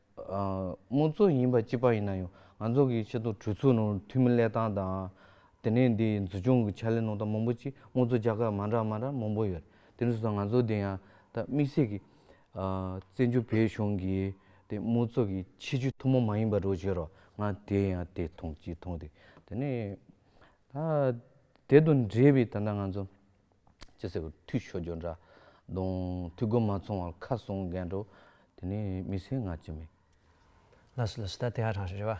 དམངས་གཙོ་ཡིན་པ་སྤྱི་པ་ཡིན་ན་ཡང་ང་ཚོ་གི་ཆེད་དུ་གྲོས་ཚོགས་ནང་འཐུས་མི་གླེགས་སྟངས་དང། དེ་ནས་འདི་འཛུགས་སྐྱོང་གི་ཕྱག་ལས་གནང་སྟངས་མང་པོ་ཅིག་དམངས་གཙོ་རྒྱ་གར་མང་དྲགས་མང་དྲགས་མང་པོ་ཡོད་རེད་དེ་ནས་བཟུང་སོང་ང་ཚོ་འདི་ཡང་ད་དམིགས་བསལ་གྱི། བཙན་བྱོལ་བོད་གཞུང་གི་དེ་དམངས་གཙོ་གི་ཆེད་སྤྱོད་ཐུན་མོང་མ་ཡིན་པ་རོགས་བྱོས་རོགས་ང་དེ་ཡང་དེ་མཐོང་གཅིག་མཐོང་དེ་དེ་ནས། ད་དེ་དང་འབྲེལ་བའི་ད་ལྟ་ང་ཚོ། ཅེས་ཟེར་བ་ཐུགས་ཤོ་སྦྱོར་འདྲ། གདོང་ཐུགས་སྒོ་མ་མཚུངས་བར་ཁ་སྲུང་རྒན་འགྲོ། དེ་ནི་མི་སེར་ངག་གཅིག་མིན། ལ་སོ་ལ་སོ་ད་དེ་ཧ་རང་རེད་བ།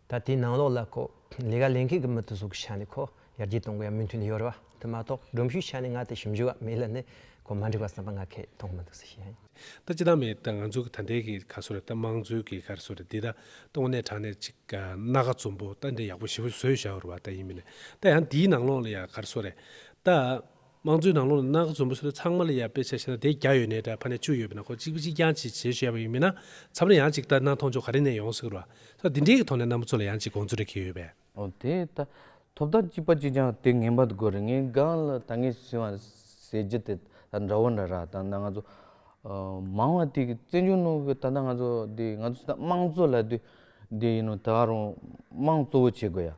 ད་དེའི་ནང་ལོགས་ལ་ཁོ། ལས་ཀ་ལས་མཁན་གི་མི་དེ་ཟུག་གི་ཆ་ནས་ཁོ་ཡར་རྒྱས་གཏོང་གི་ཡ་མི་མཐུན་ནི་ཡོད་རེད་བ། དེ་མ་གཏོགས་སྒྲོམ་གཞུའི་ཆ་ནས་ང་དེ་ཞིབ་འཇུག་བ་མེད་ལ་ནས་ཁོ་མ་འགྲིག་བ་བསམ་པ་ང་ཁས་མཐོང་གི་མི་འདུག་ཟེར་ཞེས་ཡ་ཡིན། ད་ཅི་དང་མེད་ད་ང་ཚོ་གི་ད་འདས་གི་ག་སོ་རེད་ད་མང་གཙོའི་གི་གར་སོ་རེད་འདི་ད་སྟོང་ནས་དྲང་ནས་ཅིག་ག་སྣ་ག་ཙུམ་པོ་ད་འདི་ཡག་པོ་ཞེ་པོ་བཟོས་བཞག་རུ་བ་ད་ཡིན་མི་ལེ་ད་ཡང་འདིའི་ནང་ལོག་ལ་ཡ་གར་སོ་རེད་ད། མང་གཙོའི་ནང་ལོག་ལ་སྣ་ག་ཙུམ་པོ་སོ་རེད་ཚང་མ་ལ་ཡ་དཔེ་ཆ་ཤེ་ན་དེ་བརྒྱ་ཡོད་ནས་ད་ཕ་ནས་བཅུ་ཡོད་པའི་ནང་ཁོ་གཅིག་པོ་གཅིག་རྐྱང་ཅིག་བྱེད་ཤེས་པ་ཡིན་མི་ན་ཚབ་ན་ཡང་ཅིག་ད་སྣ་མཐོང་ཆོག་ག་རེ་ནས་ཡོང་སྲིད་རུ་བ་ད་འདི་འདྲའི་གི་ཐོག་ནས་སྣ་མོ་ཚོ་ལ་ཡང་ཅིག་དགོངས་ཚུལ་རེ་གི་ཡོད་པས། དེ་ལྟར་ཐོབ་ཐང་གཅིག་པ་གཅིག་ཀྱང་དེ་ངན་པ་དགོས་རེད་ངའི་སྒང་ལ་ད་ངས་ཟེར་བ་ཟེར་རྒྱུ་དེ་ད་འདྲ་བོ་འདྲ་རག་ད་ང་ཚོ་མང་བ་དེ་བཙན་བྱོལ་ནང་གི་ད་ལྟ་ང་ཚོ་དེ་ང་ཚོ་དམངས་གཙོ་ལ་དེ་དེ་ཡིན་ནོ་ད་ཨ་རོང་དམངས་གཙོ་བོ་བྱེད་དགོས་ཡ་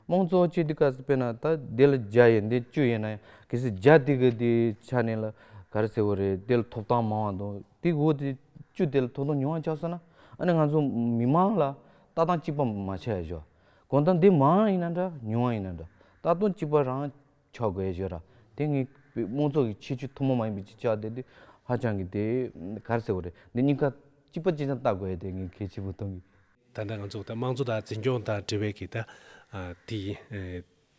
དམངས་གཙོ་བོ་བྱེད་དུས་ག་ཚོད་པས་ན་ད་དེ་ལ་བརྒྱ་ཡོད་འདི་བཅུ་ཡོད་ན་ཡང་གལ་སྲིད་བརྒྱ་དེ་གི་དེ་ཆ་ནས་ལ་ག་རེ་ཟེར་བོ་རེད་དེ་ལ་ཐོབ་ཐང་མང་བ་དང་དེ་འོ་དེ་བཅུ་དེ་ལ་ཐོབ་ཐང་ཉུང་བ་ཆགས་སོང་ན་ཨ་ནི་ང་ཚོ་མི་མང་ལ་ལྟ་སྟངས་གཅིག་པ་མ་ཆགས་ཡོད། གང་ལྟར་འདི་མང་ཡིན་ན་འདྲ་ཉུང་ཡིན་ན་འདྲ་ལྟ་སྟངས་གཅིག་པ་རང་ཆགས་དགོས་ཡོད་ར་དེ་ངའི་དམངས་ཚོགས་ཀྱི་ཁྱད་ཆོས་ཐོག་མ་མ་ཡིན་པའི་ཆ་དེ་དེ་ཧ་ཅང་གི་དེ་གར་ཟེར་བ་རེད་འདི་གཉིས་ཀ་གཅིག་པ་གཅིག་ཅན་ལྟ་དགོས་དེ་ངའི་གལ་ཆེ་བོ་མཐོང་གི། ད་ལྟ་ང་ཚོ་དམངས་གཙོ་དང་འཛིན་སྐྱོང་དང་འབྲེལ་བའི་གི་ད་དེ།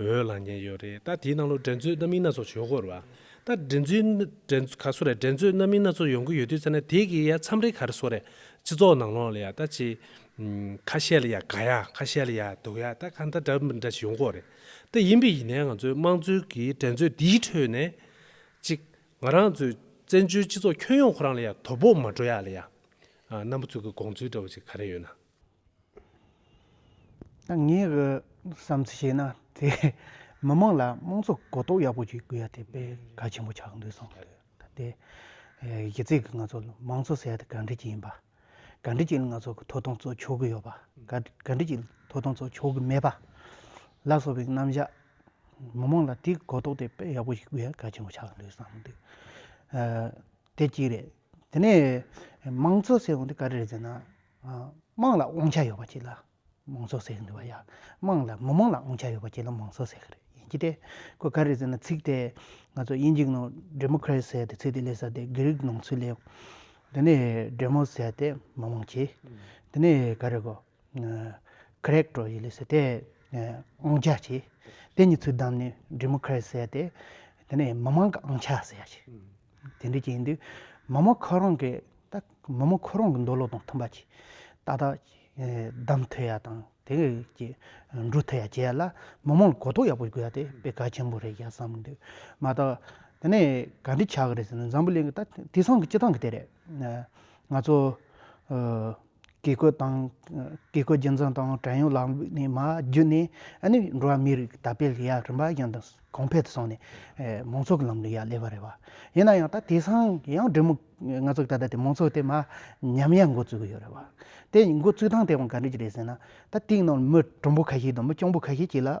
འོས་ལངས་ཉེན་ཡོད་རེད་ད་དེའི་ནང་ལོ་འགྲན་རྩོད་རྣམ་སྨིན་སྣ་ཚོགས་བྱུང་སྐོར་བ། ད་འགྲན་རྩོད་ག་སོ་རེད་འགྲན་རྩོད་རྣམ་སྨིན་སྣ་ཚོགས་ཡོང་གི་ཡོད་དུས་ཚེ་ན་དེ་གི་ཡ་མཚམས་རེ་ག་རེ་སོ་རེད་སྤྱི་ཚོགས་ནང་ལོག་ལ་ཡ་ད་ཅི། ཁ་ཤས་ལ་ཡ་དགའ་ཡ་ཁ་ཤས་ལ་ཡ་སྡུག་ཡ་ད་ག་ད་འདྲ་མི་འདྲ་ཞིག་ཡོང་སྐོར་རེད་ད་ཡིན་པས་ཡིན་ནའི་ང་ཚོའི་དམངས་གཙོའི་གི་འགྲན་རྩོད་འདིའི་ཁྲོད་ནས། གཅིག་ང་རང་ཚོའི་བཙན་བྱོལ་སྤྱི་ཚོགས་ཁྱོན་ཡོངས་ཁོ་རང་ལ་ཡ་དོ་ཕོག་མ་འགྲོ་ཡ་ལ་ཡ། ཨ་རྣམ་པ་ཚོའི་གི་དགོངས་ཚུལ་འདྲ་བ་ཞིག་ག་རེ་ཡོད་ན། ངས་བསམ་ཚུལ་བཤད་ན་དེ་མི་མང་ལ་དམངས་གཙོ་གོ་རྟོགས་ཡག་པོ་བྱེད་དགོས་ཡ་དེ་དཔེ་གལ་ཆེན་པོ་ཆགས་འདུག་བསམ་འདུག་དེ་གཞི་རྩའི་ང་ཚོ་དམངས་གཙོ་ཟེར་ཡ་དེ་ག་འདྲི་ཅིག་ཡིན་པ་ག་འདྲི་ཅིག་ང་ཚོ་གི་ཐོབ་ཐང་གཙོ་ཆོག་གི་ཡོད་པ་ག་འདྲི་ཅིག་ཐོབ་ཐང་གཙོ་ཆོག་གི་མེད་པ་ལ་སོགས་པའི་རྣམ་བཞག་མི་མང་ལ་དེ་གོ་རྟོགས་དེ་དཔེ་ཡག་པོ་བྱེད་དགོས་ཡ་གལ་ཆེན་པོ་ཆགས་འདུག་བསམ་འདུག་དེ་གཅིག་རེད་དེ་ནས་དམངས་གཙོ་ཟེར་བ་འདི་ག་རེ་རེད་ཟེར་ན་དམངས་ལ་དབང་ཆ་ཡོད་པ་གཅིག་ལ་མང་ཚོགས་ཟེར་གྱི་འདུག་བ་ཡ། དམངས་ལ་མི་དམངས་ལ་དབང་ཆ་ཡོད་པ་གཅིག་ལ་མང་ཚོགས་ཟེར་གྱི་རེད་ཡིན་གྱི་དེ། ཁོས་ག་རེ་ཟེར་ན་ཚིག་དེ་ང་ཚོ་དབྱིན་ཇིག་ནང Democrat ཟེར་དེ་ཚིག་དེ་ལས་ས་དེ་དགེ་རིག་ནང་ཚུལ་ལས། དེ་ནས Demos ཟེར་དེ་མི་དམངས་ཀྱི། དེ་ནས་ག་རེ་གོ། Crack འགྲོ་ཡི་ལས་ས་དེ་དབང་ཆ་གྱི། དེ་གཉིས་ཚུལ་བདམས་ནས Democrat ཟེར་དེ། དེ་ནས་མི་དམངས་ཀྱི་དབང་ཆ་ཟེར་ཡ་གྱི། དེ་འདྲའི་རྐྱེན་དུས་མ་མོ་ཁོ་རང་གི་མ་མོ་ཁོ་རང་གི་འདོད་བློ་དང་མཐུན་པ་གྱིས་ཏག་ཏག་བདམས་མཐུ་ཡ་དང་དེ་ཀྱི་འགྲུབ་མཐུ་ཡ་བྱས་ལ་མ་མོ་ལ་གོ་རྟོགས་ཡག་པོ་དགོས་ཏེ་དཔེ་གལ་ཆེན་པོ་རེད་ཡ་བསམ་འདུག་མ་གཏོགས་དེ་ནས་ག་འདྲི་བྱ་གི་རེད་ཟེར་ན་འཛམ་བུ་གླིང་གི་ད་དེང་སང་གི་སྤྱི་སྟངས་ཀྱི་དེ་རེད། ང་ཚོ། བཀས་བཀོད་དང། བཀས་བཀོད་རྒྱུད་འཛིན་དང་བྲན་གཡོག་ལག་ནས་མ་བརྒྱུད་ནས་ནི་འགྲོ་བ་མིའི་རིགས་དར་སྤེལ་ཡ་རིམ་པ་ཡང་དང་གོང་འཕེལ་དུ་སོང་ནས། མང་ཚོགས་ཀྱི་ལམ་ལུགས་ཡ་བསླེབས་པ་རེད་བ། ཡིན་ན་ཡང་ད་དེ་སང་ཡང་འབྲེལ་མོ་ང་ཚོ་ད་ལྟ་དེ་མང་ཚོགས་དེ་མ་ཉམས་ཡ་འགོ་བཙུགས་གི་ཡོད་རེད་བ། དེ་འགོ་བཙུགས་སྟངས་དེ་ཡང་ག་འདྲི་གི་རེད་ཟེར་ན། ད་དེའི་ནང་ལ་མི་གྲུང་པོ་ཁ་ཤས་དང་མི་སྐྱོང་པོ་ཁ་ཤས་ཀྱིས་ལ།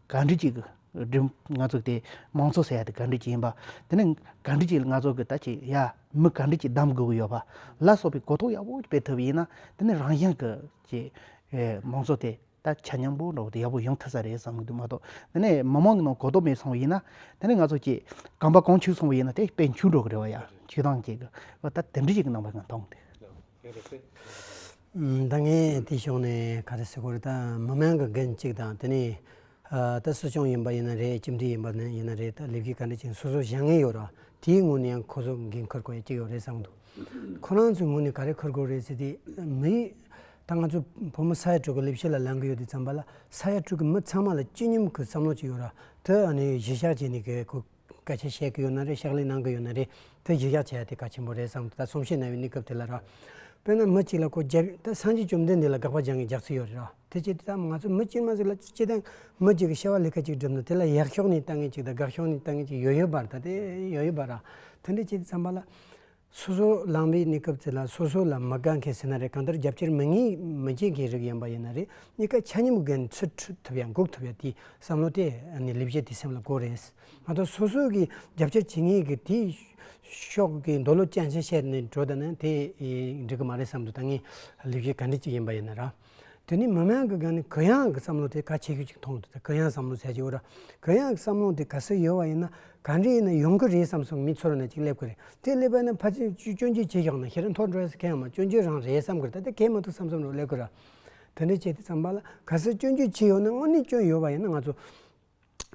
གང་འདྲི་གཅིག་གི་ང་ཚོ་དེ་མང་ཚོགས་ཟེར་ཡ་དེ་གང་འདྲི་གཅིག་ཡིན་པ་དེ་ནི་གང་འདྲི་གཅིག་ལ་ང་ཚོ་གི་ད་ཅི་ཡ་མི་གང་འདྲི་གཅིག་གདམ་དགོས་ཀྱི་ཡོད་པ་ལ་སོགས་པའི་གོ་རྟོགས་ཡག་པོ་སྤེལ་ཐུབ་པ་ཡིན་ན་དེ་ནི་རང་ཞིང་གི་ཀྱི་མང་ཚོགས་དེ་ད་ཆ་མཉམ་པོ་འགྲོ་བ་དེ་ཡག་པོ་ཡོང་ཐུབ་ས་རེད་བསམ་གྱི་འདུག་མ་གཏོགས་དེ་ནི་མི་མང་གི་ནང་གོ་རྟོགས་མེད་སོང་བ་ཡིན་ན་དེ་ནི་ང་ཚོ་ཀྱི་གང་པ་གང་འཁྱུག་སོང་བ་ཡིན་ན་དེ་དཔེ་འཁྱུག་འགྲོ་གི་རེད་བ་ཡ་འཁྱུག་སྟངས་ཀྱི་གི་བ་ད་དེ་འདྲི་གཅིག་གི་ནང་པ་ང་མཐོང་གི་འདུག། ད་ངས་དེ་ཤོང་ནས་ག་རེ་བྱེད་དགོས་རེད་ད་མི་མང་གི་འགན་གཅིག་དང་དེ་ནས་ད་སྲིད་སྐྱོང་ཡིན་པ་ཡིན་ན་རེད་ཁྱིམ་སྡེ་ཡིན་པ་ཡིན་ན་རེད་ད་ལས་ཀའི་ག་འདྲ་ཅིག་སོ་སོ་བཞག་ངེས་ཡོད་ར་དེའི་ངོས་ནས་ཡང་ཁོ་ཚོ་འགན་འཁུར་དགོས་ཡ་ཅིག་ཡོད་རེད་བསམ་འདུག་ཁོ་རང་ཚོའི་ངོས་ནས་ག་རེ་འཁུར་དགོས་རེད་ཟེར་དེ་མི་ད་ང་ཚོ་བུ་མོ་ས་ཡ་དྲུག་གི་ལས་བྱེད་ལ་ལངས་ཀྱི་ཡོད་དེ་བརྩམས་པ་ལ་ས་ཡ་དྲུག་གི་མི་ཚང་མ་ལ་སྤྱི་སྙོམས་ཀྱི་བསམ་བློ་ཅིག་ཡོད་ར་དེ་ཨ་ནི་གཞི་བཞག་བྱས་ནས་ག་རེ་སྐད་ཆ་བཤད་ཀྱི་ཡོད་ན་རེད་ཕྱག་ལས་གནང་གི་ཡོད་ན་རེད་དེ་གཞི་བཞག་བྱས་ཏེ་གལ་ཆེན་པོ་རེད་བསམ་ད་གསུང་བཤད་གནང་བའི་གནས་སྐབས་དེ་ལ་ར། དཔེར་ན་མི་གཅིག་ལ་སྐོར་བརྒྱ་ད་སངས་རྒྱས་བཅོམ་ལྡན་འདས་ལ་དགག་པ་སྦྱང་གི་རྒྱག་ཚུལ་ཡོད་རེད་ར་དེ་ཅི་ད་ང་ཚོ་མི་སྤྱིར་མ་ཟིག་ལ་ཅི་ད་མི་གཅིག་གི་བཤད་བ་ལས་ཁ་ཅིག་བསྒྲུབ་ན་དེ་ལ་ཡག་ཤོག་ནས་ལྟ་ངེས་ཅིག་ད་དགག་ཤོག་ནས་ལྟ་ངེས་ཅིག་ཡོད་ཡོད་པར་ད་དེ་ཡོད་ཡོད་པར་ར་དེ་འདྲ་ཅི་ད་བསམ་པ་ལ། སོ་སོ་ལངས་པའི་གནས་སྐབས་དེ་ལ་སོ་སོ་ལ་མི་དགའ་མཁན་ཟིན་ན་རེ་གང་ལྟར་རྒྱབ་སྐྱོར་མི་ངེས་མི་བྱེད་མཁན་རིགས་ཡིན་པ་ཡིན་ན་རེ་གཉིས་ཀ་ཆ་སྙོམས་དགོས་ཚུལ་འཁྲུལ་ཐུབ་ཡང་འགུག་ཐུབ་ཡ་དེའི་བསམ་བློ་དེ་ནི་ལས་བྱེད་དེའི་སེམས་ལ་གོ་རེད། མ་གཏོགས་སོ་སོ་གིས་རྒྱབ་སྐྱོར་བྱེད་ངེས་ཀྱི་དེའི་ཕྱོགས་ཀྱི་འདོད་བློ་ཅན་ཞིག་བཤད་ནས་འགྲོ་ད་ནི་དེ་འགྲིག་གི་མ་རེད་བསམ་དུ་ད་ངས་ལས་བྱེད་ག་འདྲི་ཅིག་ཡིན་པ་ཡིན་ན་ར། དེ་ནི་མི་དམངས་ཀྱི་གང་ནས་གུ་ཡངས་ཀྱི་བསམ་བློ་དེ་ག་ཆེ་ཤོས་ཅིག་མཐོང་ཐུབ་གུ་ཡངས་བསམ་བློ་ཟེར་གྱི་འོ་ར། གུ་ཡངས་ཀྱི་བསམ་བློ་དེ་ག་སེ་ཡོད་བ་ཡིན་ན་ག་འདྲ་ཡིན་ན་ཡོང་གི་རེད་བསམ་སོང་མི་ཚོར་ན་ཅིག་སླེབས་གི་རེད་དེ་སླེབས་པ་ན་ཕ་ཚོས་སྐྱོན་བརྗོད་བྱེད་ཤོག་ན་ཤི་ར་མཐོ་འགྲོ་ས་ག་ཡང་མ་སྐྱོན་བརྗོད་རང་རེད་བསམ་གི་རེད་ད་ལྟ་གས་མ་ཐུབ་བསམ་བསམ་རོགས་སླེབས་གི་ར། དེ་འདྲ་བྱས་ཏེ་བསམ་པ་ལ་ག་སེ་སྐྱོན་བརྗོད་བྱེད་ཡོད་ན་དངོས་གནས་སྐྱོན་ཡོད་བ་ཡིན་ན་ང་ཚོ་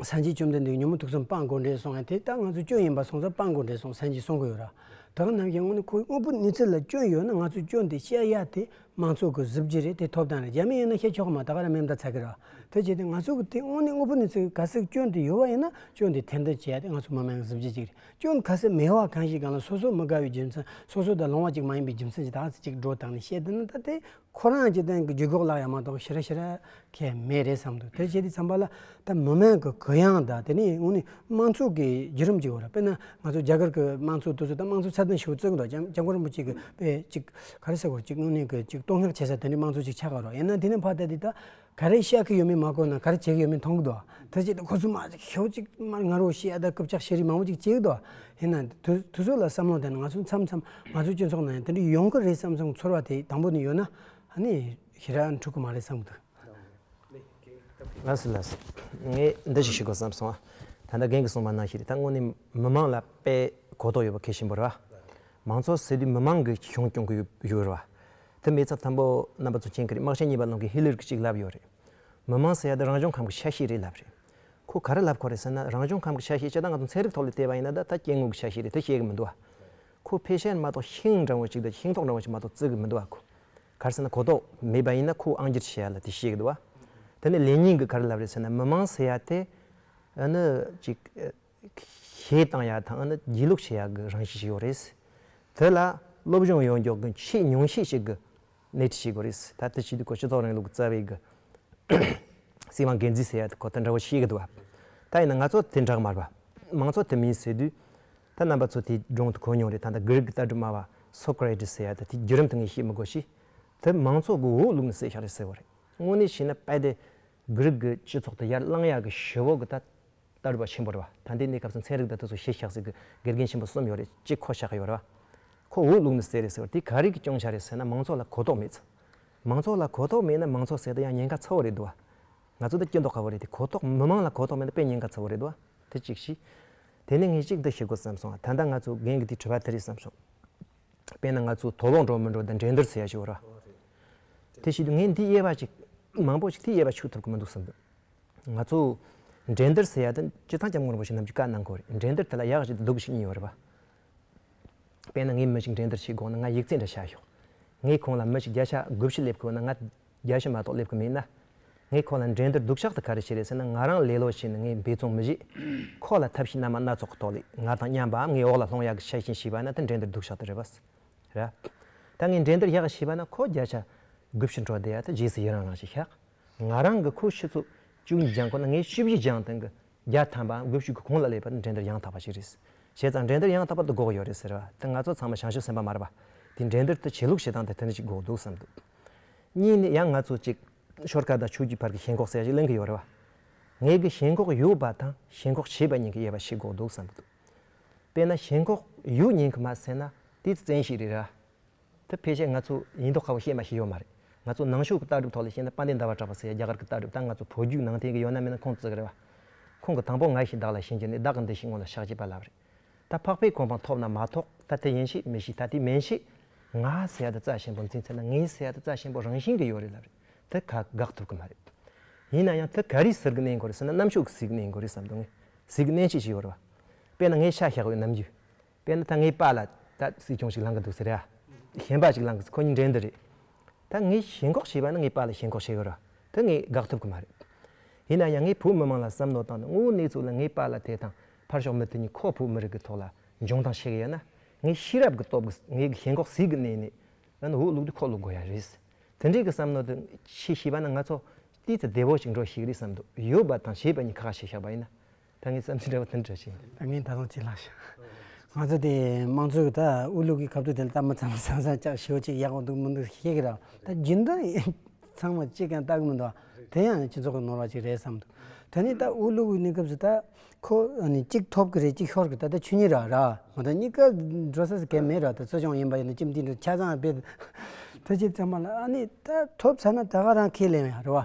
སངས་རྒྱས་བཅོམ་ལྡན་འདས་ཀྱི་ཉོན་མོངས་དུག་གསུམ་སྤངས་དགོས་འདྲེས་སོང་ཡང་དེ་ལྟར་ང་ཚོ་སྐྱོན་ཡིན་པ་སོང་ཙང་སྤངས་དགོས་འདྲེས་སོང་སངས་རྒྱས་གསུང་གི་ཡོད་ར། དེ་གང་རྣམས་ཀྱི་སྔོན་ཁོའི་དངོས་པོ་ནུས་ཚད་ལ་སྐྱོན་ཡོད་ན་ང་ཚོས་སྐྱོན་དེ་བཤད་ཡ་དེ་དམངས་ཚོགས་ཀྱི་གཟི་བརྗིད་རེད་དེ་ཐོབ་ཐང་རེད་རྒྱ་མི་ཡིན་ན་བཤད་ཆོག་གི་མ་ད་ག་ར་མེད་མདའ་ཚ་གི་ར། དེ་བྱས་ཏེ་ང་ཚོ་གི་དེ་དངོས་གནས་དངོས་པོ་ནུས་ཚད་ག་སེ་སྐྱོན་དེ་ཡོད་བ་ཡིན་ན་སྐྱོན་དེ་ཐེར་འདོན་བྱེད་ཡ་དེ་ང་ཚོ་མི་དམངས་ཀྱི་གཟི་བརྗིད་ཅིག་རེད་སྐྱོན་ག་སེ་མེད་བ་གང་ཞིག་གང་ལ་སོ་སོ་མི་དགའ་བའི་རྒྱུ་མཚན་སོ་སོ་དང་ལོང་བ་ཅིག་མ་ཡིན་པའི་རྒྱུ་མཚན་གྱི་ད་ག་སེ་ཅིག་འགྲོ་དང་ནི་བཤད་དེ་ན་ད་དེ་ཁོ་རང་སྤྱི་དོན་གྱི་ཇུས་འགོག་ལག་ཡ་མ་གཏོགས་ཞེ་རེ་ཞེ་རེ་ཁས་མེད་རེད་བསམ་འདུག་དེ་བྱས་ཏེ་བསམ་པ་ལ་ད་མི་མང་གི་གུ་ཡངས་དང་དེ་ནི་ངོ་ནི་དམངས་ཚོགས་ཀྱི་བརྒྱུད་རིམ་ཅིག་རེད་དཔེར་ན་ང་ཚོ་རྒྱ་གར་གྱི་དམངས་ཚོགས་དུས་ཚོད་དང་དམངས་ཚོགས་ཚད་ལྡན་ཞིག་བཙུགས་འདུག་ལྕམ་སྐུ་རིན་པོ་ཆེ་གིས་དཔེ་གཅིག་ག་རེ་ཟེར་བ་ཅིག་དངོས་གནས་ཀྱི་ཅིག་བསྟོད་བསྔགས་བྱེད་ས་དེ་ནི་དམངས་ཚོགས་ཅིག་ཆགས་ཀྱི་རོགས་ཡིན་ན་དེ་ནི་ཕ་ལྟ་དེ་ལྟ། ག་རེ་བཤད་གི་ཡོད་མེད་མ་གོ་ན་ག་རེ་བྱེད་གི་ཡོད་མེད་མཐོང་གི་འདུག་དེ་ཅི་སྟེ་ཁོ་ཚོས་མ་ཤེས་ཁྱོ་གཅིག་མར་ང་རོ་ཞེས་ཨ་ད་སྐབས་ཆགས་ཤེས་རིག་མང་བོ་ཅིག་བྱེད་གི་འདུག་ཡིན་ནའང་དུས་ཚོད་ལ་བསམ་བློ་བཏང་ན་ང་ཚོ་མཚམས་མཚམས་ང་ཚོའི་སྤྱི་ཚོགས་ནང་ཡང་དེ་འདྲ་ཡོང་གི་རེད་བསམ་བསམ་ཚོར་བ་དེ་དང་པོ་ནས་ཡོད་ན་ནི་ཞེ་དྲག་འཁྲུག་གི་མ་རེད་བསམ་གི་འདུག། ལགས་སོ་ལགས་སོ། ངས་འདི་ཞིག་ཞུ་དགོས་བསམ་སོང། ད་ལྟ་རྒན་གྱིས་གསུངས་པ་ནང་བཞིན་ད་དངོས་གནས་མི་མང་ལ་དཔེ་གོ་ལྡོག་ཡོད་པ་གལ་ཆེན་པོ་རེད་བ། མང་ཚོགས་ཟེར་དུས་མི་མང་གི་གཞུང་སྐྱོང་གི་ཡོད་རེད་བ། དེ་མི་ཚབ་དམ་པོ་རྣམ་པ་ཚོ་ཅན་གྱི་རིག་དམག་ཆེན་གཉིས་པ་ནང་གི་ཧི་ལིར་གྱི་ཅིག་ལབ་ཡོད་རེད། མི་མང་ཟེར་ཡ་དེ་རང་བྱུང་ཁམས་ཀྱི་ཆ་ཤས་རེད་ལབ་རེད། ཁོ་ག་རེ་ལབ་གོ་རེད་ཟེར་ན་རང་བྱུང་ཁམས་ཀྱི་ཆ་ཤས་ཅི་ད་ང་ཚོ་ཚན་རིག་ཐོག་ལས་བལྟས་པ་ཡིན་ན་ད་ད་སྐྱེ་དངོས་ཀྱི་ཆ་ཤས་རེད་དེ་བཤད་གི་མི་འདུག་ཨ། ཁོ་ཕལ་ཆེར་མ་གཏོགས་ཤིང་འབྲང་བ་ཅིག་དང་ཤིང་ཐོག་འབྲང་བ་ཅིག་མ་གཏོགས་བརྩི་གི་མི་འདུག་ཨ་ཁོ་ག་རེ་ཟེར་ན་གོ་རྟོགས་མེད་པ་ཡིན་ན་ཁོ་ཨང་སྒྱུར་བྱེད་ཡ་ལ་དེ་བཤད་གི་འདུག་ཨ། དེ་ནས་ལེ་ཉིང་གིས་ག་རེ་ལབ་རེད་ཟེར་ན་མི་མང་ཟེར་ཡ་དེ་ཨ་ནི་ཅིག། ཞེས་གཏང་ཡག་དང་སྒྱིད་ལུག་བྱེད་ཡག་གི་རང་བཞིན་ཞིག་ཡོད་རེད། དེ་ལ་སློབ་སྦྱོང་ཡོང་མགྱོགས་གི་ཆེས་ཉུང་ཤས་ཤིག་གི་སྣེ་ཁྲིད་བྱེད་དགོས་རེད། ད་ལྟའི་ཆེས་དུས་འཁོར་སྤྱི་ཚོགས་རིང་ལུགས་རྩ་བའི་གི་སྲིད་དབང་འགན་འཛིན་ཟེར་ཡག་དེ་ཁོ་ཐག་འདྲ་བོ་ཤེས་གི་འདུག་བ། ད་ཡིན་ན་ང་ཚོ་དེ་འདྲ་མ་རེད་བ། མང་ཚོགས་དེ་མིན་ཟེར་དུས་ད་རྣམ་པ་ཚོ་དེ་སྒྲུང་དུ་གོ་མྱོང་རེད་ད་ལྟ་གྷི་རིག་གི་ལྟ་གྲུབ་སྨྲ་བ་སོ་ཀ་ར་ཏིས་ཟེར་ཡག་དེ་དེ་བརྒྱུད་རིམ་དུ་ངས་ཤེས་མི་དགོས་ཤིས། དེ་མང་ཚོགས་གི་འོག་ལུག་ནི་བསད་ཤག་རེད་ཟེར་བ་རེད། དངོས་གནས་བྱས་ན་དཔལ་ལྡན་གྷི་རིག་གི་སྤྱི་ཚོགས་དེ་ཡར་བསླང་ཡག་གི་ཞེ་འོག་གི་ད་རྟ་རུ་བ་ཆེན་པོ་རུ་བ་ད་འདི་གནས་སྐབས་སུ་མཚན་རིགས་དང་དུས་སུ་ཞེས་བཞག་ཟེར་གི་དགེ་རྒན་ཆེན་པོ་གསུམ་ཡོད་རེད་གཅིག་ཁོ་བཞག་ཡོད་རེད་བ། ཁོ་འུག་བླུག་ནི་ཟེར་རེད་ཟེར་བ་དེ་ག་རིགས་ཀྱི་སྐྱོང་བྱ་རེད་ཟེར་ན་མང་ཚོགས་ལ་གོ་རྟོགས་མེད། མང་ཚོགས་ལ་གོ་རྟོགས་མེད་ན་མང་ཚོགས་ཟེར་ད་ཡང་ཉེན་ཁ་ཚ་བོ་རེད་འདུག་བ། ང་ཚོ་འདི་སྐྱོན་འདོགས་དཀའ་བོ་རེད་དེ་གོ་རྟོགས་མི་མང་ལ་གོ་རྟོགས་མེད་ན་དཔེ་ཉེན་ཁ་ཚ་བོ་རེད་འདུག་བ། དེ་གཅིག་བཞི། དེ་ནས་ངས་གཅིག་འདི་ཤེས་དགོས་བསམ་སོང་ད་ལྟ་ང་ཚོ་རྒན་གྱི་དེ་བྲོས་པ་དེ་རེད་བསམ་སོང། དཔེར་ན་ང་ཚོ་དོག་ལོག་འགྲོ་མི་འགྲོ་དང་འགྲན་བསྡུར་ཟེར་ཡག་ཞིག་ཡོད་རེད་བ། དེ་བཞིན་དུ་ངས་འདི་དབྱེ་བ་གཅིག་མང་པོ་ཞིག་དེ་དབྱེ་བ་ཆུག་ཐུབ་ཀྱི་མི་འདུག་བསམ་འདུག། ང་ཚོ་འགྲན་སྡུར་ཟེར་ཡ་དེ་སྤྱིར་བཏང་སྐྱབས་མགོན་རིན་པོ་ཆེ་རྣམས་ཀྱིས་བཀའ་གནང་དགོས་རེད་འགྲན་སྡུར་དེ་ལ་ཡག་བྱེད་དུ་སྡུག་བྱེད་གཉིས་ཡོད་རེད་པ། དཔེར་ན་ངའི་མི་ཞིག་འགྲན་སྡུར་བྱེད་དགོངས་ན་ང་ཡིག་རྩིས་འདྲ་བྱ་ཞོག་ངས་ཁོང་ལ་མི་ཞིག་བརྒྱ་ཆ་དགུ་བཞི་སླེབས་དགོས་ན་ང་བརྒྱ་བཞི་མ་གཏོགས་སླེབས་གི་མེད་ན། ངས་ཁོ་ལ་འགྲན་སྡུར་སྡུག་ཤག་ཏུ་ག་རེ་བྱེད་རེད་ཟེར་ན་ང་རང་ལེ་ལོ་བྱས་ནས་ངས་འབད་བརྩོན་མི་བྱེད། ཁོ་ལ་ཐབས་ཤེས་སྣ་མང་སྣ་ཚོགས་ཀྱི་ཐོག་ལས་ང་དང་མཉམ་པའམ་ངའི་འོག་ལ་ལྷོང་ཡག་གི་ཆ་བཞིན་བྱས་པ་ན་དེ་འགྲན་སྡུར་སྡུག་ཤག་ཏུ་རེད་པ། རེད་ད་ངས་འགྲན་སྡུར་ཡག་བྱས་པ་ན་ཁོ་བརྒྱ་ཆ་དགུ་བཞི་འཕྲོག་བསྡད་ཡ་དེ་རྗེས་སུ་ཡི་རང་རང་བྱས་ཤག་ང་རང་གི་ཁོའི་ཕྱི་ཚོ་བཅུ་གཉིས་སྦྱངས་ཁོ་ན་ངའི་བཅུ་བཞི་སྦྱངས་སྟངས་ཀྱི་བརྒྱ་ཐམ་པའང་དགུ་བཅུ་གི་གོང་ལ་སླེབས་པར་འགྲན་བསྡུར་ཡང་དག་པ་ཞིག་རེད། བྱས་ཙང་འགྲན་བསྡུར་ཡང་དག་པ་དུ་འགོག་ཡོད་རེད་ཟེར་བ་དེ་ང་ཚོ་ཚང་མ་ཞང་ཞུང་སེམས་པ་དམར་བ་དེས་འགྲན་བསྡུར་དུ་བྱེད་ལུགས་བྱེད་སྟངས་དེ་དེ་འདྲ་ཞིག་འགོག་འདུག་བསམ་འདུག་གཉིས་ནི་ཡང་ང་ཚོ་གཅིག་ཤོར་ཁ་དང་ཆོས་རྒྱུད་བར་གྱི་ཞེན་ཁོག་ཟེར་བ་ཞིག་གླེང་གི་ཡོད་རེད་བ། ངས་ཀྱི་ཞེན་ཁོག་ཡོད་པ་དང་ཞེན་ཁོག་བྱེད་པ་གཉིས་ཀྱི་དབྱེ་བ་ཞིག་འགོག་འདུག་བསམ་གྱི་འདུག་དཔེར་ན་ཞེན་ཁོག་ཡོད་ཉེན་གྱི་མ་ཟེར་ན་དེ་བཙན་ཤེད་རེད་ར། དེ་ཕལ་ཆེར་ང་ཚོ་ཡིན་མདོག་ཁ་བོ་ཤེས་མ་ཤེས་ཡོད་མ་རེད། ང་ཚོ་ནང་ཆོས་ཀྱི་ལྟ་གྲུབ་ཐོག་ལ་བཤད་ན་དཔལ་ལྡན་ཟླ་བ་གྲགས་པ་ཟེར་ཡ་རྒྱ་གར་གྱི་ལྟ་གྲུབ་དང་ང་ཚོ་བོད་བརྒྱུད་ནང་བསྟན་གྱི་ཡོད་ན་མེད་ན་ཁོང་ཚོ་ཟེར་གི་རེད་བ། ཁོང་གི་དང་པོ་ང་ཞིག་བདག་ལ་བྱིན་གྱིས་ནས་བདག་གི་འདི་ཞིག་སྔོན་ལ་ཕྱག་བྱས་པ་ལབ་རེད། ད་ཕག་པའི་གོ་འཕང་ཐོབ་ན་མ་ཐོགས་ད་དེ་ཡིན་ཞིག་མི་ཞིག་ད་དེ་མིན་ཞིག། ང་སེ་ཡ་ད་རྩ་ཆེན་པོ་འཛིན་ཚེ་ན་ངའི་སེ་ཡ་ད་རྩ་ཆེན་པོ་རང་བཞིན་གྱི་ཡོད་རེད་ལབ་རེད་དེ་ག་དགག་ཐུབ་གི་མ་རེད། ཡིན་ན་ཡང་དེ་ག་རིས་ཟེར་གི་གནས་འགོ་རེད་ཟེར་ན་གནམ་ཕྱོགས་ཀྱི་ཟིག་གནས་འགོ་རེད་བསམ་དུ་ངས་ཟིག་གི་གནས་ཆེ་ཞིག་ཡོད་རེད་བ། དཔེར་ན་ངའི་ཤ་ཤ་གི་ཡོད་ནམ་རྒྱུས། དཔེར་ན་ད་ངའི་པ་ལ་ད་སྲིད་སྐྱོང་ཞིག་ལངས་ཀྱི་འདུག་ཟེར་ཡ། གཞན་པ་ཞིག་ལངས་ཀྱི་ཁོ་གཉིས་འགྲན་འདི་རེད། ད་ངས་ཞེན་ཁོག་བྱས་པ་ནི་ངའི་པ་ལ་ཞེན་ཁོག་བྱས་ཡོད་ར་དེ་ངས་དགག་ཐུབ་ཀྱི་མ་རེད། ཡིན་ན་ཡང་ངས་བོད་མི་མང་ལ་བསམ་མནོ་བཏང་སྟེ་དངོས་བོའི་གནས་ཚུལ་ལ་ངའི་པ་ལ་དེ་དང་ཕར་ཞོག་མི་དེ་གཉིས་ཁོ་བོད་མི་རིགས་ཀྱི་ཐོག་ལ་འཇོན་ཐང་བྱེད་ཀྱི་ཡོད་ན་ངའི་ཤེས་རབ་ཀྱི་སྟོབས་ཀྱིས་ངའི་ཞེན་ཁོག་ཟིལ་གྱིས་མནན་ནས་ཡང་ན་འོས་བླུག་དུས་ཁོག་བླུག་དགོས་ཡ་རེད། དེ་འདྲའི་གི་བསམ་མནོ་དེ་ཁྱེད་བྱས་པ་ན་ང་ཚོ་དེའི་ཚེ་བདེ་བོ་ཞིག་འགྲོ་ཤེས་ཀྱི་རེད་བསམ་འདུག་ཡོད་པ་དང་བྱས་པ་གཉིས་ཁ་ཁ་ཤས་ཤག་པ་ཡིན་ན། ད་ངས་བསམ་ཚུལ་འདྲ་བ་དང་འདྲ་བྱས། ད་ངས་ད་དུང་བྱིན་རླགས་ཤིག། ང་ཚོ་དེ་དམངས་གཙོའི་ད་དབུ་ལུག་གི་ཁ་བཏུད་དེ་ལ་ད་མི་ཚང་མ་ཚང་ཚང་ཅག་ཞེའུ་ཅིག་ཡག་པོ་འདུག་མི་འདུག་ཤེས་ཀྱི་རེད། ད་རྒྱུན་ལྡན་ཚང་མ་ཅིག་ཀྱང་ལྟ་གི་མི་འདུག་ཨ། དེ་ཡང་སྤྱི་ཚོགས་ཀྱི་ནོར་བ་ཅིག་རེད་བསམ་འདུག་ད་ནི་ད་དབུ་ལུག་གི་གནས་སྐབས་སུ་ད་ཁོ་གཅིག་ཐོབ་ཀྱི་རེད་གཅིག་ཤོར་གྱི་ད་ད་ཆོས་ཉིད་ར་ར་མ་ད་གཉིས་ཀ་འགྲོ་ས་སུ་གས་མེད་ར་ད་གསོ་སྦྱོང་ཡིན་པ་ཡིན་ད་ཅིབ་འདི་འདྲ་ཆ་ཚང་སྤེལ། ད་ཅིག་ཚང་མ་ལ་ཨ་ནི་ད་ཐོབ་ཚར་ན་ད་ག་རང་ཁས་ལེན་ཡ་རེད་བ།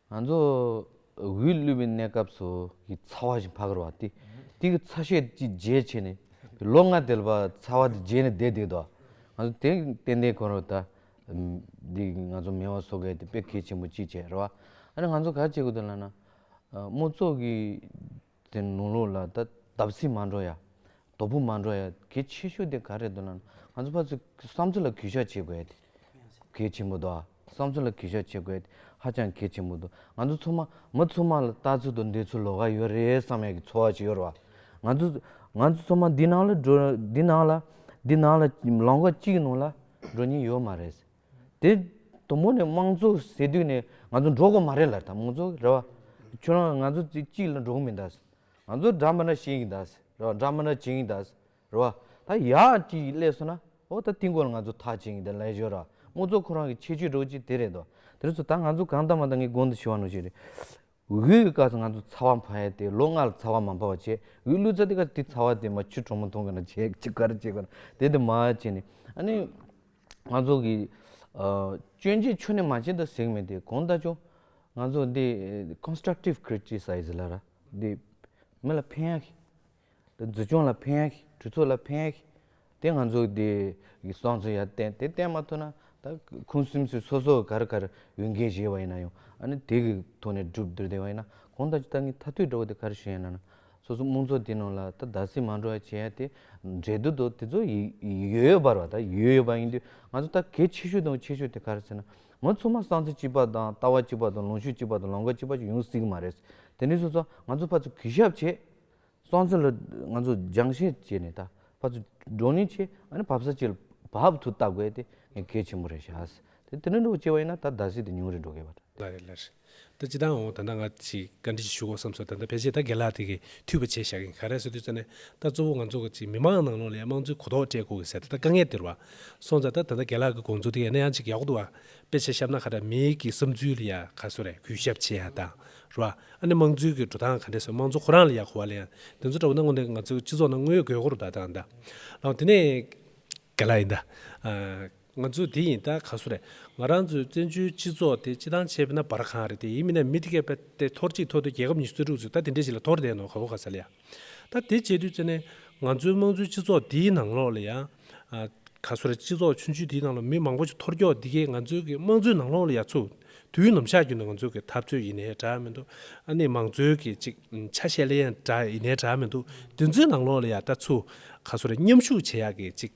ང་ཚོ་འུའི་གླུད་པའི་གནས་སྐབས་སུ་གི་ཚ་བ་ཞིག་འཕགས་རོ་བ་སྟེ། དེ་གི་ཚ་ཤས་ཀྱི་རྗེས་ཕྱེ་ནས། ལོ་ལྔ་དལ་བར་ཚ་བ་དེ་རྗེས་ནས་བསྡད་བསྡད་དོ། ང་ཚོ་དེ་ཏན་ཏན་གོ་རོ་ད། འདི་ང་ཚོ་མེ་བ་བཟོ་མཁན་དེ་དཔེ་གལ་ཆེན་པོ་གཅིག་བྱས་རོ་བ། ཨ་ནི་ང་ཚོ་ག་བྱེད་དགོས་དོན་ལ་ན། དམུ་ཚོགས་ཀྱི། དེ་ནོར་ལུག་ལ་ད་བརྡབ་གསིག་མ་འགྲོ་ཡ། རྡོ་སྦུབ་མ་འགྲོ་ཡ་གལ་ཆེ་ཤོས་དེ་ག་རེད་འདོད་ན། ང་ཚོ་ཕ་ཚོས་བསམ་ཚུལ་ལ་གུས་ཞག་བྱེད་དགོས་ཏེ། གལ་ཆེན་པོ་འདུག་བསམ་ཚུལ་ལ་གུས་ཞག་བྱེད་དགོས་ཏེ་ཧ་ཅང་གལ་ཆེན་པོ་འདུག་ང་ཚོ་ཚོ་མ་མི་ཚོ་མ་ལ་ལྟ་ཚུལ་དུ་འདི་ཚོ་ལོ་ག་ཡོད་རེད་བསམ་ཡས་ཀྱི་འཚོ་བ་ཞིག་ཡོད་རེད་བ། ང་ཚོ་ང་ཚོ་ཚོ་མ་འདི་ནང་ལ་འགྲོ་འདི་ནང་ལ་འདི་ནང་ལ་ལོང་ཀ་གཅིག་གི་ནང་ལ་འགྲོ་ཉེན་ཡོད་མ་རེད། དེ་དུ་མོ་ནི་དམངས་གཙོ་ཟེར་དུས་ནས་ང་ཚོ་འགྲོ་དགོས་མ་རེད་ལ་དང་དམངས་གཙོ་རེད་བ། ཁྱོད་རང་ང་ཚོ་ཚིག་གཅིག་ལ་འགྲོ་གི་མི་འདའ། ང་ཚོ་འདྲ་མི་འདྲ་བྱེད་ཀྱི་འདའ་རེད་བ་འདྲ་མི་འདྲ་བྱེད་ཀྱི་འདའ་རེད་བ། ད་ཡག་ཅིག་སླེབས་སོང་ན་ཨོ་ད་དེ་འགོ་ལ་ང་ཚོ་ཐག་བཅད་ཀྱི་འདའ་ལེན་ཞོར་དམངས་གཙོ་ཁོ་རང་གི་ཁྱད་ཆོས་སྒྲོག་ཅིག་དེ་རེད་དོ། དེ་རེས་སུ་ད་ང་ཚོ་གང་ལྟ་མ་ལྟ་ངའི་དགོངས་དོན་ཞུ་བ་ནོར་ཞིག་རེད། འུའི་ཀ་ཚ་ང་ཚོ་ཚ་བ་འཕར་ཡས་ཏེ་ལོ་ལྔ་ལ་ཚ་བ་མ་འཕར་བ་བྱས་འུའི་གླུ་ཚ་དེ་ཀ་དེ་ཚ་བ་དེ་མ་ཆུ་གྲོ་མོ་འཐུང་གི་ན་བྱས་ཆུ་ཀ་ར་བྱས་ཀ་ར་དེ་དེ་མ་བྱས་ནས་ཨ་ནི་ང་ཚོ་གི་སྐྱོན་ཅན་ཆོས་ནས་མ་བྱས་ད་ཟེགས་མེད་དེ་གོང་ད་ཆོ་ང་ཚོ་འདི constructive criticism ལ་ར་འདི་མི་ལ་ཕན་ཡ་ཤི། དེ་འཛུལ་སྐྱོང་ལ་ཕན་ཡ་ཤི་གྲོས་ཚོགས་ལ་ཕན་ཡ་ཤི་དེ་ང་ཚོ་དེ་བསང་ཚུལ་ཡར་བསྟན་དེ་བསྟན་མ་ཐུབ་ན་ད་ཁུངས་སིམ་སིམ་སོ་སོ་གར་གར་འོས་འགན་བཞེས་པ་ཡིན་ན་ཡང་ཨ་ནི་དེ་གི་ཐོག་ནས་སྒྲུབ་འདོད་བ་ཡིན་ན་གང་ལྟར་ད་ངས་ཐ་དུས་འགྲོ་བ་དེ་གར་བཞེས་ན་ན་སོ་སོ་དམངས་གཙོ་དེ་ནང་ལ་ད་བདག་སྲིད་མ་འགྲོ་བ་བྱེད་ཡ་དེ་འབྲེལ་དུ་དོ་དེ་ཚོ་ཡིག་ཡོད་ཡོད་པར་བ་ད་ཡོད་ཡོད་པ་ཡིན་དུས་ང་ཚོ་ད་གལ་ཆེ་ཤོས་དང་ཆེ་ཤོས་དེ་གར་ཟེར་ན་ང་ཚོ་ཚང་མ་བསང་ཚུལ་གཅིག་པ་དང་ལྟ་བ་གཅིག་པ་དང་ལངས་ཤུགས་གཅིག་པ་དང་ལམ་ཀ་གཅིག་པ་ཡོང་སྲིད་ཀྱི་མ་རེད། དེ་ནས་བཟུང་ཚོ་ང་ཚོ་ཕར་ཚུར་གུས་ཞབས་བྱེད་སང་ཚོད་ལ་ང་ཚོ་སྦྱང་བཤད་བྱས་ནས་ད་བར་ཚོད་འགྲོ་ནི་ཆེ་ཨ་ནི་བབས་ས་ཅི་ལ་བབས་དུ་ལྟ་དགོས་དེ་ངས་གལ་ཆེན་པོ་རེད་བྱ་ཟེར་དེ་དེ་འདྲ་འགྲོ་བྱས་པ་ཡིན་ན་ད་ཟླ་ཟིག་དེ་ཉུང་རེ་འགྲོ་གལ་བ་འདྲ། ལ་རེད་ལ་རེད་ད་ཅི་ལྟར་འོང་ད་ལྟ་ང་ཅིག་བཀའ་འདྲི་ཞིག་ཞུ་གོ་བསམ་སོང་ད་ལྟ་ཕལ་ཆེར་ད་དགེ་ལགས་དེ་གས་འཐུས་པ་བྱས་བཞག་གིན་ག་རེ་ཟེར་དུས་ཚོད་ནས་ད་གཙོ་བོ་ང་ཚོ་ག་ཅིག་མི་མང་ནང་ལོག་ལས་དམངས་གཙོའི་གོ་རྟོགས་སྤྲད་དགོས་གི་ཟེར་ད་ད་དཀའ་ངལ་དེ་རུ་བ་སོང་ཙང་ད་ད་ད་དགེ་ལགས་གི་དགོངས་ཚུལ་དེ་ཡང་ན་ཡང་ཅིག་ཡག་པོ་འདུག་ཨ་དཔེ་ཆ་ཤབ་ན་ཁ་ད་མིའི་གི་བསམ་ཚུལ་ལ་ཡང་ཁ་སོ་རེ་གུས་ཞབས་ཆེ་ཡ་ད། རོ། ཨ་ནི་དམངས་གཙོའི་གི་འགྲོ་སྟངས་ག་འདྲས་སོ་དམངས་གཙོ་ཁོ་རང་ལ་ཡག་གོ་བ་ལ་ཡང་དེ་ཚོ་འདྲ་བོ་ན་ངོ་ནས་ང་ཚོའི་སྤྱི་ཚོགས་ནང་དངོས་ཡོད་དགོས་མཁོ་རུ་གདའ་སྟངས་གདའ། ཨོ་དེ་ནས། ག་ལ་ཡིན་ད། ང་ཚོ་དེ་ཡིན་ད་ག་སུ་རེད། ང་རང་ཚོའི་བཙན་བྱོལ་སྤྱི་ཚོགས་དེ་སྤྱི་ཐང་ཆད་པ་ན་བར་གང་རེད་དེ་ཡིན་མིན་ན་མི་དེ་གས་པ་དེ་ཐོར་གཅིག་ཐོར་དུ་རྒྱལ་ཁབ་ཉི་ཤུ་རྩ་དྲུག་ཚོས་ད་དེ་འདྲས་ཞིག་ལ་ཐོར་བསྡད་ནོ་ག་གོ་ག་ས་ལ་ཡ། ད་དེ་བྱེད་དུས་ནས་ང་ཚོའི་དམངས་གཙོའི་སྤྱི་ཚོགས་འདིའི་ནང་ལོགས་ལ་ཡང། ག་ཚོད་རེད་སྤྱི་ཚོགས་ཆུང་ཆུང་དེའི་ནང་ལོགས་མི་མང་པོ་ཞིག་འཐོར་འཁྱོག་འདི་གའི་ང་ཚོའི་གི་དམངས་གཙོའི་ནང་ལོགས་ལ་ཡ་ཚུ། དུས་ནམ་ཞག་རྒྱུ་ན་ང་ཚོའི་གི་འཐབ་རྩོད་ཡིན་ནའི་གྲགས་མི་འདུག་ཨ་ནི་མང་གཙོའི་གི་ཅིག་ཆ་ཤས་ལའི་ཡང་གྲགས་ཡིན་ནའི་གྲགས་མི་འདུག་དེ་ཚོའི་ནང་ལོགས་ལ་ཡ་ད་ཚུ། ག་ཚོད་རེད་མཉམ་ཞུགས་བྱེད་ཡག་གི་ཅིག།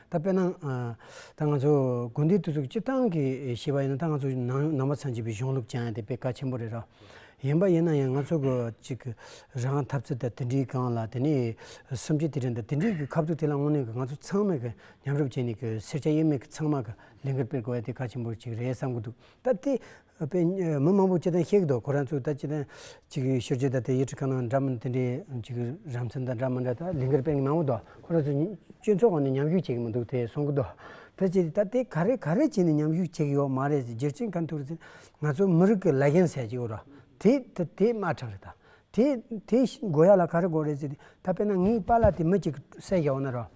ད་དཔེར་ན། ད་ང་ཚོ་དགོན་སྡེའི་དུས་སུ་སྤྱིར་བཏང་གི་ཤེས་པ་ཡིན་ན་ད་ང་ཚོ་ནང་ནང་པ་ཚང་བྱིས་པའི་གཞུང་ལུགས་སྦྱང་ཡ་དེ་དཔེ་ཀ་ཆེན་པོ་རེད་ར། ཡིན་པ་ཡིན་ན་ཡང་ང་ཚོ་གི་ཅིག་རང་གི་ཐབས་རྩལ་དང་དེ་འདྲའི་སྒང་ལ་དེ་ནས་སུམ་ཆའི་དེ་དྲན་དང་དེ་འདྲའི་གི་ཁ་ཐུག་དེ་ལ་དངོས་གནས་གི་ང་ཚོ་ཚང་མས་གི་ཉམས་རུབ་བྱས་ནས་གི་སེར་སྐྱ་དབྱེར་མེད་གི་ཚང་མ་གི་ལས་འགུལ་སྤེལ་དགོས་ཡ་དེ་ཀ་ཆེན་པོ་ཅིག་རེད་བསམ་གྱི་འདུག་ད་དེ་དཔེ་མི་མང་པོ་ཅི་དང་ཤེས་ཀྱི་འདུག་ཁོ་རང་ཚོས་ད་ཅི་དང་ཅིག་གི་ཤོད་རྗེས་ད་དེ་ཡི་ཁྲི་ཁ་ནང་འདྲ་མིན་དེ་འདྲའི་ཅིག་གི་རང་མཚན་དང་འདྲ་མི་འདྲ་ད་ལིང་གར་དཔེ་མང་པོ་འདུག་ཁོ་རང་ཚོས་སྤྱི་ཚོགས་ཁོ་ནས་མཉམ་ཞུགས་བྱེད་ཀྱི་མི་འདུག་དེ་གསུང་གི་འདུག་ད་ཅི་ད་དེ་ག་རེ་ག་རེ་བྱས་ནས་མཉམ་ཞུགས་བྱེད་ཀྱི་ཡོད་མ་རེད་ཟེར་རྗེས་ཅི་གང་ཐུག་རེད་ཟེར་ན་ང་ཚོ་མི་རིགས་ཀྱི་ལ་རྒྱན་ཟེར་གྱི་ཡོད་རོ་དེ་དེ་དེ་དམར་ཁྲག་རེད་ད་དེ་དེ་བཞིན་མགོ་ཡག་ལ་ག་རེ་དགོས་རེད་ཟེར་དུས་ད་དཔེར་ན་ངའི་པཱ་ལགས་དེ་མི་གཅིག་གི་སྲས་བཞག་འོང་ན་རོགས།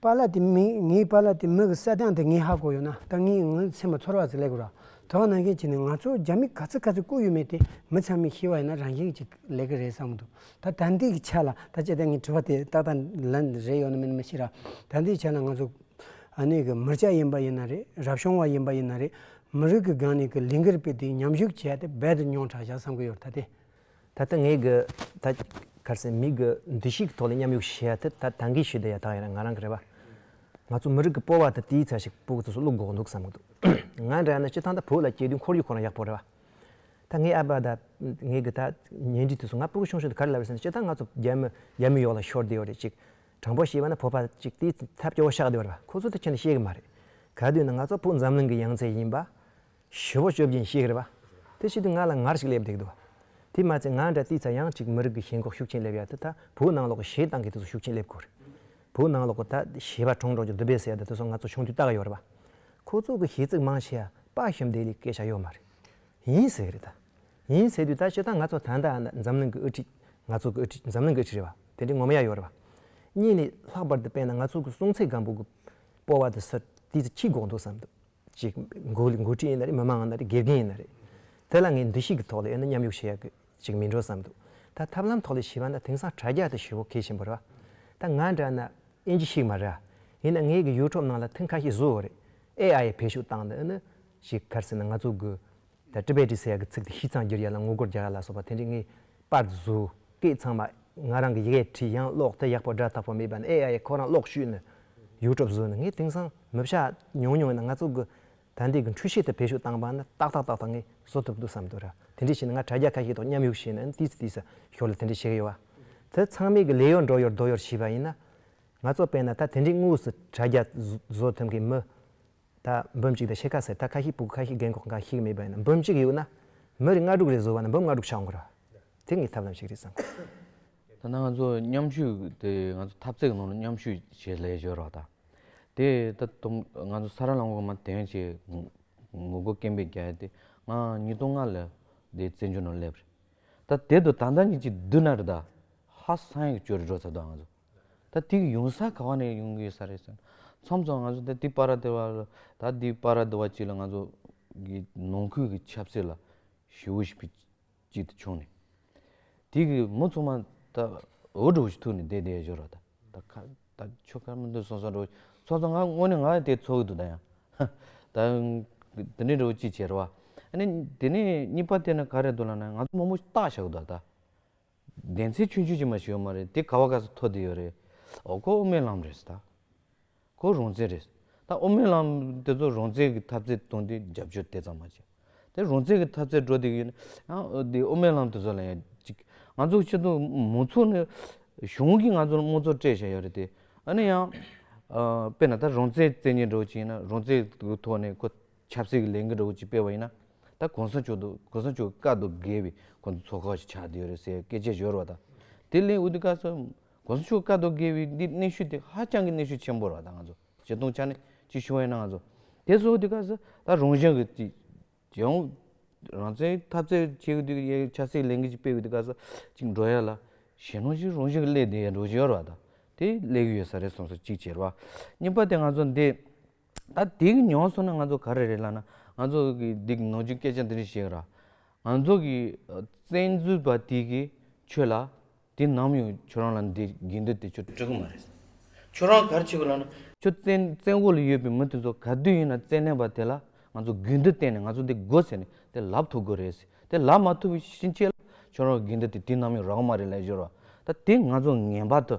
པཱ་ལགས་དེ་མི་ངའི་པཱ་ལགས་དེ་མི་གི་སྲས་དང་དེ་ངའི་ཧ་གོ་ཡོད་ན་ད་ངའི་ངའི་མཚན་མ་ཚོར་བ་ཟིག་ལེགས་དགོས་རོགས་དོགས་གནང་མཁན་གཅིག་ནི་ང་ཚོ་རྒྱ་མི་ག་ཚོད་ག་ཚོད་བཀུག་ཡོད་མེད་དེ་མི་ཚང་མས་ཤེས་བ་ཡོད་ན་རང་བཞིན་གཅིག་ལེགས་གི་རེད་བསམ་གི་འདུག་ད་ད་འདི་གི་ཆ་ལ་ད་བཅད་དེ་ངས་དྲི་བ་དེ་ཏག་ཏག་ལན་རེ་ཡོད་ན་མེད་ན་མི་ཤེས་ར་ད་འདི་ཆ་ལ་ང་ཚོ་ཨ་ནེ་གི་མི་སྐྱ་ཡིན་པ་ཡིན་ན་རེད་རབ་བྱུང་བ་ཡིན་པ་ཡིན་ན་རེད་མི་རིགས་གི་སྒང་ནས་གི་ལིང་གེར་བུད་དེ་ཉམས་ཞུགས་བྱས་ཏེ་རྦད་དུ་མྱོང་དྲགས་བཞག་བསམ་གི་ཡོད་ར་ད་དེ། ད་ལྟ་ངས་གི་ད་གར་སའི་མི་གི་འདུ་ཤེས་ཀྱི་ཐོག་ལ་མཉམ་ཡོག་བྱེད་ཡ་ཐི་ད་ད་འགའི་ཞུ་དེ་ཡ་ཐག་ཡིན་ན་ང་རང་གི་རེད་པ། ང་ཚོ་མི་རིགས་ཀྱི་སྤོ་བ་ད་དེའི་ཚད་ཞིག་སྤོ་གི་ཚོ་སུ་བླུག་འགོག་འདུག་བསམ་གི་འདུག། ང་འདྲ་ཡིན་ན་སྤྱི་ཐང་ད་བོད་ལ་སྐྱེས་དུས་འཁོར་ཡུག་ཁོ་རང་ཡག་པོ་རེད་པ། ད་ངའི་ཨ་ཕ་ད་ངས་གི་ད་ཉེ་འབྲིང་དུས་སུ་ང་སྤོ་གི་ཤོང་ཤོང་དུ་ག་རེ་ལབ་རེད་ཟེར་ན་སྤྱི་ཐང་ང་ཚོ་རྒྱ་མི་རྒྱ་མི་ཡོག་ལ་ཤོར་དེ་ཡོག་རེད་ཅིག་དྲང་པོ་བྱེད་པ་ན་བོད་པ་ཅིག་དེའི་ཐད་སྐྱོ་བོ་ཤག་དེ་བ་རེད་པ་ཁོ་ཚོ་ད་ཁྱེད་ནས་ཤེས་གི་མ་རེད་ག་དུས་ན་ང་ཚོ་བོད་འཛམ་གླིང་གི་ཡང་རྩེ་ཡིན་པ། བཞི་བོ་བཅོ་བརྒྱད་ཤེས་རབ། དེ་བཞིན་དུ་ང་ལ་ངར་ཞིག་སླེབས་འདུག་དོ། དེས་མ་ཚད་ང་འདྲ་དེའི་ཚ་ཡང་ཅིག་མི་རིགས་ཀྱི་ཞེན་ཁོག་ཤུགས་ཆེན་སླེབས་ཡ་དེ་ད་བོད་ནང་ལོག་གི་ཞེ་སྡང་གི་དུས་སུ་ཤུགས་ཆེན་སླེབས་དགོས་རེད། བོད་ནང་ལོག་གི་ད་ཞེས་པ་གྲོང་འབྲོག་གི་འདུ་འབད་ཟེར་ཡ་དེ་ཚོ་ང་ཚོ་ཆུང་དུས་བལྟ་གི་ཡོད་རེད་པ། ཁོ་ཚོ་གི་ཞེ་ཚིག་མང་ཆེ་ཡ་དཔའ་ཞུམ་དེ་ལས་སྐད་ཆ་ཡོད་མ་རེད། ཡིན་ཟེར་རེད་ད། ཡིན་ཟེར་དུས་ད་ཞེ་སྡང་ང་ཚོ་ད་ད་འཛམ་གླིང་གི་དབུ་ཁྲིད་ང་ཚོ་གི་དབུ་ཁྲིད་འཛམ་གླིང་གི་དབུ་ཁྲིད་རེད་པ་དེ་འདྲའི་ངོ་མ་ཡ་ཡོད་རེད་པ། གཉིས་ནས་ལྷག་པར་དུ་དཔེར་ན་ང་ཚོ་གི་སྲོང་ཚེ་སྒམ་པོ་གི་སྤོ་བ་དེ་སུ་དེས་ཁྱི་འགོག་འདུག་བསམ་འདུག་ཅིག་འགོ་འགོ་ཁྲིད་ཡིན་ན་རེད་མི་མང་ཡིན་ན་རེད་དགེ་རྒན་ཡིན་ན་རེད། དེ་ལ་ངས་འདུ་ཤེས་ཀྱི་ཐོག་ལ་ཡོད་ན་མཉམ་ཞུགས་བྱེད་ཡག་གི་ཅིག་མིན་འགྲོ་བསམ་འདུག་ད་ཐབས་ལམ་ཐོག་ལ་བྱིས་པ་ན་དེང་སང་དྲ་རྒྱ་དང་ཞི་བོ་གལ་ཆེན་པོ་རེད་ད་ང་འདྲ་ན་ཨེ་འཇི་ཞིག་མ་རེད་ཡིན་ན་ངའི་གི YouTube ནང་ལ་ཐེངས་ཁ་ཤས་བཟོ་ཡོད་རེད AI ཡི་བེད་ཤུགས་བཏང་ན་ཨེ་ནི་ཞིག་གར་སེ་ན་ང་ཚོ་གི་ད་ཀྲི་པའི་ཀྲི་ཟེར་ཡག་གི་ཚིག་དེ་ཤི་ཚང་བསྒྱུར་ཡག་ལ་ངོ་རྒོལ་རྒྱག་ཡག་ལ་སོགས་པ་དེ་འདྲི་ངེས་པར་དུ་བཟོ་སྐད་ཚང་མ་ང་རང་གི་ཡི་གེ་བྲིས་ཡང་ཀློག་དེ་ཡག་པོ་སྒྲ་དག་པོ་མེད་པ་ནི་ཨེ་ཡ་ཡ་ཁོ་རང་ཀློག་ཤུལ་ནས་ཡུལ་གྲོགས་བཟོས་ནས་ངས་དེང་སང་མི་བྱ་མྱོང་མྱོང་ཡིན་ན་ང་ཚོ་གི་དད་ལྡན་གི་འཁྲུལ་ཤེས་དེ་བེད་ཤུགས་བཏང་པ་ནི་ཏག་ཏག་ཏག་ཏག་ངས་བཟོ་ཐུབ་འདུག་བསམ་འདུག་ར་དེ་འདྲི་བྱས་ན་ང་དྲ་རྒྱ་ཁ་ཤས་དང་མཉམ་ཡོད་བྱས་ན་ནི་དུས་སུ་ཞོར་ལ་དེ་འདྲི་བྱེད་ཀྱི་ཡོད་བ་དེ་ཚང་མས་གི་ལས་ཡོར་འགྲོ་ཡོར་སྡོད་ཡོར་བྱས་པ་ཡིན་ན་ང་ཚོ་དཔེར་ན་ད་དེ་འདྲི་དངོས་སུ་དྲ་རྒྱ་བཟོ་ཐུབ་མཁན་མི་ད་འབུམ་གཅིག་དང་ཕྱེད་ཀ་ཟེར་ད་ཁ་ཤི་སྤུ་གུ་ཁ་ཤི་རྒན་འཁོགས་འགའ་ཤི་གི་མིད་པ་ཡིན་ན་འབུམ་གཅིག་ཡོད་ན་མི་རེ་ལྔ་དྲུག་རེ་བཟོ་བ་ན་འབུམ་ལྔ་དྲུག་ཆགས་འགོ་ར་དེ་ངའི་ཐབས་ལམ་ཞིག་རེད་བསམ། ད་ནང་ཚོ་མཉམ་ཞུགས་དེ་ང་ཚོ་ཐབས་རྩེག་ནང་ལ་མཉམ་ཞུགས་བྱེད་ལས་སྦྱོར་བ་དང། དེ་ད་དུང་ང་ཚོ་ས་ར་ལམ་གོང་མ་དེང་ཆེ་ངོ་རྒོལ་སྐེམ་པའི་རྒྱ་ཡིས་དེ་ང་ཉིས་སྟོང་ལྔ་ལ་དེ་བཙན་བྱོལ་ནང་སླེབས་རེད་ད་དེ་དུ་ད་ད་ཉིད་ཀྱི་བསྡུ་ན་རེད་ད་ཧ་སང་ཡག་བྱོས་རེད་འགྲོ་ཚར་འདུག་ང་ཚོ། ད་དེ་ཡོང་ས་ག་བ་ནས་ཡོང་གི་ཡོད་ས་རེད་ཟེར། མཚམས་མཚམས་ང་ཚོ་ད་དེ་པ་ར་དེ་བ་ལ་ད་དེ་པ་ར་དེ་བ་ཅིག་ལ་ང་ཚོ་གི་ནང་ཁུལ་གྱི་ཆབ་སྲིད་ལ་ཞི་བོ་ཞིག་བུ་གཅིག་ཏུ་ཆུང་ནས། དེ་གི་མོ་ཚོང་མ་ད་འོ་འགྲོ་ཞིག་ཐུག་ནས་བསྡད་བསྡད་བཞོ་ར་ད་ད་ཁ་ད་ཆོ་ག་མི་འདུག་སོང་སོང་འགྲོ། ཚོང་ཚོང་ང་དངོས་ནས་ང་ཡང་དེ་ཚོགས་ཀྱི་འདུག་ད་ཡང། ད་དེ་ནས་འགྲོ་ཅིག་བྱེད་ར་བ། ཨ་ནི་དེ་ནས་གཉིས་པ་དེ་ནི་ག་རེད་འདུག་ལ་ན་ང་ཚོ་མོ་མོ་བརྟག་བྱ་གི་འདུག་ད། བདེན་ཚིག་ཆུང་ཆུང་ཅིག་མ་ཞིག་ཡོད་མ་རེད་དེ་ག་བ་ག་ས་ཐོ་དེ་ཡོད་རེད། ཨོ་ཁོ་ཨོ་སྨོན་ལམ་རེད་ད། ཁོ་རོང་བཙན་རེད། ད་ཨོ་སྨོན་ལམ་དེ་ཚོ་རོང་བཙན་གི་ཐབས་རྩལ་སྟོང་དུས་རྒྱབ་སྐྱོར་དེ་ཙམ་མ་བྱེད། དེ་རོང་བཙན་གི་ཐབས་རྩལ་འགྲོ་དེ་གི་ཡོད་ན་ཡང་དེ་ཨོ་སྨོན་ལམ་དེ་ཚོ་ལ་ཡང་ཅིག་ང་ཚོ་ཆེད་དུ་མང་ཚོགས་ནས་གཞུང་གིས་ང་ཚོ་ལ་དམངས་གཙོ་སྤྲད་བཞག་ཡོད་རེད་དེ། ཨ་ནི་ཡང་དཔེར་ན་ད་རོང་བཙན་བཙན་གྱིས་འགྲོ་བ་ཅིག་ཡིན་ན་རོང་བཙན་གི་ཐོག་ནས་ཁོ། ཆབ་སྲིད་ཀྱི་ལས་འགུལ་འདྲ་བོ་ཅིག་སྤེལ་བ་ཡིན་ན། ད་གོང་ས་མཆོག་དུ་གོང་ས་མཆོག་གི་བཀའ་དུ་བསྒེར་བའི་ཁོང་ཚོ་ཚོགས་ཁག་ཞིག་ཆགས་བསྡད་ཡོད་རེད་ཟེར་སྐད་ཆའི་བཞོར་བ་དང། དེ་ལས་འོས་ཏེ་བཀའ་ཟུར་གོང་ས་མཆོག་གི་བཀའ་དུ་བསྒེར་བའི་འདི་གནས་ཤུལ་དེ་ཧ་ཅང་གི་གནས་ཤུལ་ཆེན་པོ་ར་ད་ང་ཚོ་བྱེ་སྟོང་ཆ་ནས་ཅིག་བྱུང་བ་ཡིན་ན་ང་ཚོ་དེ་སོགས་འོས་ཏེ་བཀའ་ཟུར་ད་རང་གཞན་གྱི་ཅིག་རྒྱལ་ཡོངས་རང་བཙན་འཐབ་རྩོད་བྱེད་དགོས་དུས་ཡ་ཆབ་སྲིད་ཀྱི་ལས་འགུལ་ཅིག་སྤེལ་དགོས་དུས་བཀའ་ཟུར་ཅིག་འགྲོ་ཡ་ལ་གཞན་ནོར་ཞིག་རང་བཞིན་གྱི་སླེབས་བསྡད་ཡ་འགྲོ་བཞོར་བ་དང་དེ་སླེབས་ཀྱི་ཡོད་ས་རེད་གསུངས་སོ་གཅིག་བྱས་ར་བ། གཉིས་པ་དེ་ང་ཚོ་འདི། ད་དེ་གི་མྱོང་སོང་ན་ང་ཚོ་ག་རེ་རེད་ལབ་ན་ང་ཚོ་གི་འདི་གི་ནང་ཆོས་སྐད་ཆ་འདི་རིགས་བཤད་ར། ང་ཚོ་གི་བཙན་འཛུལ་པ་དེ་གི་ཆོས་ལ་དེ་ནམ་ཡང་ཁྱོད་རང་ལ་འདི་དགེ་འདུན་དེ་ཆོས་སྤྲོད་གི་མ་རེད། ཁྱོད་རང་ག་རེ་བྱེད་དགོས་ལབ་ན། ཁྱོད་བཙན་བཙན་འོག་ལ་ཡོད་པའི་མི་དེ་ཚོ་ག་དུས་ཡིན་ན་བཙན་གནས་པ་དེ་ལ་ང་ཚོ་གུས་འདུད་བསྟན་ནས་ང་ཚོ་འདི་དགོ་ཟེར་ནས་དེ་ལབ་ཐུབ་དགོས་རེད་ཟེར། དེ་ལགས་མ་ཐུབ་བུ་ཤིང་བཅད་ལ་ཆོག་རོགས་གིན་དུ་དེ་དུས་ནང་མི་རག་མ་རེད་ལས་བཞོར་བ་ད་དེ་ང་ཚོ་ངན་པ་དུ་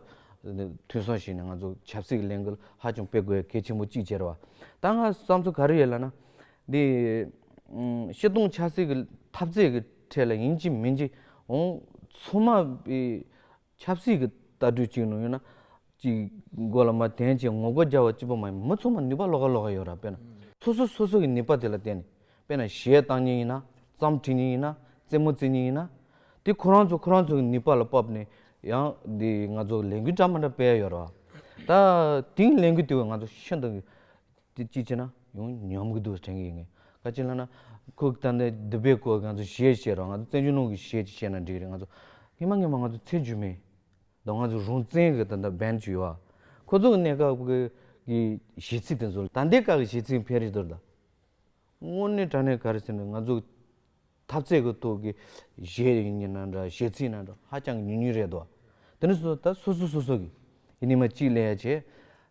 ཐུན་སོང་ཞིག་ནས་ང་ཚོ་ཆབ་སྲིད་ལས་འགུལ་ཧ་ཅང་སྤེལ་དགོས་གལ་ཆེན་པོ་གཅིག་གྱེར་བ་ད་ང་བསམ་ཚུལ་ག་རེ་ཡོད་ལ་ན། དེ་ཤི་སྟོང་ཆགས་སྲིད་ཀྱི་འཐབ་རྩད་ཀྱི་ཁྲད་ལ་ཡིན་གཅིག་མིན་གཅིག་འོང་ཚོང་མ་པའི་ཆབ་སྲིད་ཀྱི་ལྟ་གྲུས་གཅིག་ནོར་ཡོད་ན། གཅིག་མགོ་ལ་མ་དེངས་ཅིག་ངོ་རྒོལ་རྒྱག་བ་གཅིག་པོ་མ་ཡིན་མི་ཚང་མ་ནུས་པ་ལོག་ག་ལོག་ག་ཡོད་ར་དཔེར་ན། སོ་སོ་སོ་སོ་གྱི་ནུས་པ་དེ་ལ་བརྟེན་ནས་དཔེར་ན་གཞས་བཏང་ཉིན་ཡིན་ན་རྩམ་འཁྲིད་ཉིན་ཡིན་ན་རྩེད་མོ་རྩེད་ཉིན་ཡིན་ན། དེ་ཁོ་རང་ཚོ་ཁོ་རང་ཚོ་གྱི་ནུས་པ་ལ་དཔབ་ནས་ཡང་འདི་ང་ཚོ་ལས་འགུལ་འདྲ་མ་འདྲ་སྤེལ་ཡོད་ར་བ། ད་དེང་ལས་འགུལ་དེ་བས་ང་ཚོ་ཤིན་ཏུ་དེ་ཅི་བྱེད་ན་ཡང་ཉམས་ཀྱི་འདུག་དྲན་གྱི་ཡོད་ངེས། ཁ་ཅིག་ལབ་ན་ཁོས་བལྟ་ན་འདི་པའི་སྐོར་ང་ཚོས་ཞེས་བཤད་རོགས་ང་ཚོས་བཙན་བྱོལ་ནང་གི་ཞེས་ཅིག་བཤད་ན་འགྲིག་རེད་ང་ཚོ་སྔན་མ་སྔན་མ་ང་ཚོ་ཚད་འཇུ་མེད་དོ་ང་ཚོ་རང་བཙན་གྱི་ད་ལྟ་འབེན་ཅིག་ཡོད་ཨ། ཁོ་ཚོ་གི་གནས་སྐབས་ཀྱི་གཞི་ཚིག་དེ་ཚོ་ལ་ད་ལྟའི་སྐབས་ཀྱི་གཞི་ཚིག་འཕེལ་རིགས་དོར་ད། དངོས་གནས་དྲ་གནས་ག་རེ་ཟེར་ནས་ང་ཚོ། ཐབས་རྩལ་གྱི་ཐོག་གི་གཞས་རིགས་ནི་ན་འདྲ་གཞས་ཚིག་ན་འདྲ་ཧ་ཅང་ཉུང་ཉུང་རེད་འདུག་དེ་ནི་སོ་ད་སོ་སོ་སོ་སོ་གི་ཡི་ནི་མ་གཅིག་ལས་ཡ་ཆེ་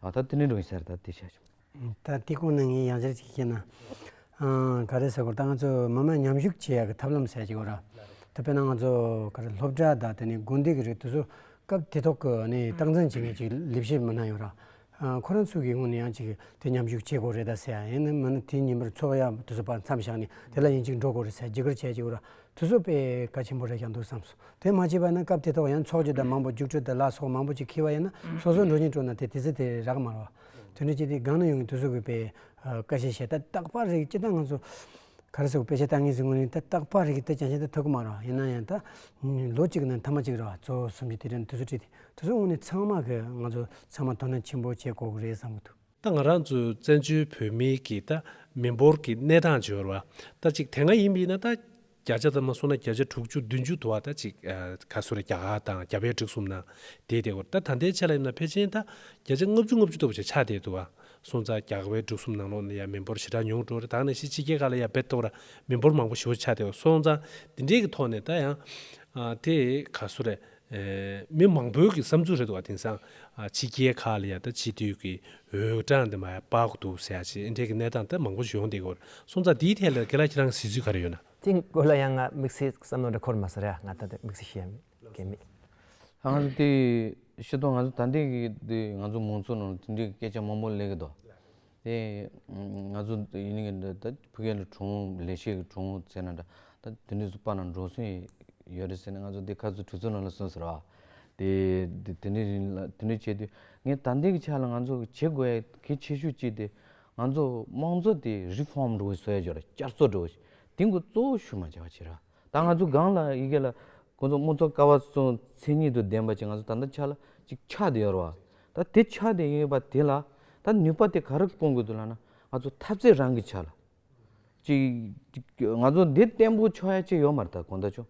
ད་ད་ཏི་ནི་འགྲོ་ཡི་སེར་ད་ཏི་ཤ་ཆུང། ད་ལྟའི་སྐོར་ནི་ངས་ཡང་བསྐྱར་ཅིག་བཤད་ན། ག་རེ་ཟེར་སྐོར་ད་ང་ཚོ་མི་དམངས་མཉམ་ཞུགས་བྱེད་ཡག་གི་ཐབས་ལམ་གསལ་བྱེད་དགོས་ར། ད་དཔེར་ན་ང་ཚོ་ག་རེ་སློབ་གྲྭ་དང་དེ་ནི་དགོན་སྡེ་གི་རིགས་དེ་ཚོ་སྐབས་དེ་ཐོག་གི་ནི་སྟངས་འཛིན་བྱེད་མཁན་ཅིག་ལས་བྱེད་མི་སྣ་ཡོད་ར། ཁོ་རང་ཚོས་ཀྱིས་དངོས་ནས་ཡང་ཅིག་དེ་མཉམ་ཞུགས་བྱེད་དགོས་རེད་དཱ་ཟེར་ཡང་ཡིན་ན་མིན་ན་དེའི་ཉིན་མོར་འཚོ་བ་ཡང་དུས་ཚོད་པར་མཚམས་བཞག་ནས་དེ་ལ་ཡིན་ཅིག་འགྲོ་དགོས་རེད་ཟེར་ཇི་དགར་བྱས་ཀྱི་འོ་ར་དུས་ཚོད་དཔེ་ག་ཆེན་པོ་རེད་ཀྱང་འདུག་བསམ་སོང་དེ་མ་བྱས་པ་ན་སྐབས་དེ་ཐོག་ཡང་འཚོགས་ཀྱི་དང་མང་པོ་རྒྱུགས་སྤྲོད་དང་ལག་སོགས་མང་པོ་ཅིག་འཁེལ་བ་ཡིན་ན་སོ་སོར་འགྲོ་ཉིན་སྤྲོ་ན་དེ་དེ་ཚོད་དེ་རག་མ་རོག་དོན་དུ་སྤྱི་དེ་སྒང་ན་ཡོང་གི་དུས་ཚོད་དགོས་པས་སྐ་བཤད་བྱས་ད་རྟག་པར་རིག་སྤྱི་དང་ང་ཚོ་གར་སོགས་དཔེ་ཆ་བཏགས་ངེས་སུ་དངོས་གླིང་ཐ་བཏགས་པར་རིགས་ཀྱི་སྟོད་ཅང་ཤེས་ཐ་ཐོད་ཀ་མང་རུང་ཡིན་ན་ཡང་དག་ལོ་གཅིག་གི་ནང་ཐ་མ་གཅིག་རེ་བ་ཚོ་གསུམ་གྱི་དུས་དྲན་དུས་སུ་བྲིས་ཏེ་དུས་སུ་བསྔོགས་ནས་ཚང་མ་གི་ང་ཚོ་ཚང་མ་དོ་སྣང་ཆེན་པོ་བྱེད་དགོས་ཀྱི་རེད་བསམ་གྱི་འདུག། ད་ང་རང་ཚོའི་བཙན་བྱོལ་བོད་མིའི་གི་ད་མི་འབོར་གྱི་གནས་སྟངས་འབྱོར་བ་ད་གཅིག་དེ་སྔ་ཡིན་པའི་ན་ད་བརྒྱ་ཆ་ཙམ་ན་སོང་ན་བརྒྱ་ཆ་དྲུག་ཅུ་བདུན་ཅུ་དུ་བ་ད་གཅིག་ག་སུ་ར་བརྒྱ་ག་དང་བརྒྱ་པའི་གྲིགས་གསུམ་ན་བསྡད་བསྡད་གོ་ད་ད་ལྟའི་ཆ་ལ་ཡིན་ན་ཕལ་ཆེན་ད་བརྒྱ་ཆ་ལྔ་བཅུ་ལྔ་བཅུ་ལྟ་བུ་ཆ་ཆགས་བསྡད་དུ་བ། སོང་ཙང་རྒྱ་གར་བའི་འབྲུག་གསུམ་ནང་ལོགས་ནས་ཡང་མི་འབོར་ཞེ་དྲག་ཉུང་འགྲོ་རེ་ད་ནས་ཕྱི་ཕྱི་རྒྱལ་ཁག་ལ་ཡང་བེད་གཏོང་ར་མི་འབོར་མང་པོ་ཞོ་ཆགས་ཏེ་སོང་ཙང་འདི་འདྲའི་གི་ཐོག་ནས་ད་ཡང་དེ་ག་སུ་རེད་མི་མང་པོའི་གི་བསམ་ཚུལ་རེད་འདུག་བ་དེང་སང་ཕྱི་རྒྱལ་ཁག་ལ་ཡང་ད་སྤྱི་འཐུས་གི་འོས་གྲངས་དེ་མ་ཡང་དཔག་གི་འདུག་ཟེར་ཡ་ཆེ་འདྲའི་གི་གནས་སྟངས་ད་མང་པོ་ཞིག་ཡོང་འདི་གོ་སོང་ཙང་དེའི་ཐད་ལ་གི་ལ་ཁྱེད་རང་གི་ཟེར་ཚུལ་ག་རེ་ཡོད་ན། དེ་གི་སྐོར་ལ་ཡང་ང་དམིགས་བསལ་བསམ་བློ་འདྲ་འཁོར་མ་སོང་རེད་ང་ད་དམིགས་བསལ་ཤེས་ཡ་མེད། གལ་མེད། ད་ང་ཚོ་དེ་ཤེས་དོགས་ང་ཚོ་ད་འདི་གི་དེ་ང་ཚོ་མང་ཚོགས་ནང་དེ་འདྲའི་སྐད་ཆ་མང་པོ་ལས་གི་དོགས། དེ་ང་ཚོ་ཡིན་ནི་གི་འདི་ད་ཕི་གའི་གྲོང་བོ་ལས་བྱེད་ཀྱི་གྲོང་བོ་ཟེར་ན་འདྲ་ད་དེ་འདྲའི་སུ་པ་ན་འགྲོ་སོན་ཡོད་རེད་ཟེར་ན་ང་ཚོ་དེ་ཁ་ཚུ་གྲུ་ཚུར་ནང་ལ་སོན་ཟེར་བ། དེ་དེ་འདྲའི་རིང་ལ་དེ་འདྲའི་བྱས་དུས་ངས་ད་འདི་གི་ཆ་ལ་ང་ཚོ་བྱེད་དགོས་ཡ་གལ་ཆེ་ཤོས་ཅིག་དེ་ང་ཚོ་དམངས་གཙོ་དེ་རི་ཧྥོམ་འགྲོ་བའི་སྲོལ་ཡ་འཇོག་ར་བསྐྱར་གསོ་འགྲོ་བའི་དེ་འགོ་གཙོ་བོ་ཞུ་མ་བྱ་བ་བྱེད་ར། ད་ང་ཚོ་སྒང་ལ་ཡི་གེ་ལ་ཁོ་ཚོ་དམུ་ཚོ་ཀ་བ་ཚོ་མཚན་ཉིད་དུ་ལྡན་པ་ཅིག་ང་ཚོ་ད་ལྟ་ཆགས་ལ་ཅིག་ཆགས་དེ་ཡོད་རེད་བ། ད་དེ་ཆགས་དེ་ཡོད་པ་དེ་ལ་ད་ནུས་པ་དེ་ག་རེ་སྐོང་དགོས་འདུག་ལ་ན་ང་ཚོ་ཐབས་རྩལ་རང་གི་ཆགས་ལ་ཅིག་ང་ཚོ་འདི་བརྟན་པོ་ཆགས་ཡ་ཅིག་ཡོད་མ་རེད་ད་གོང་ད་ཆོ་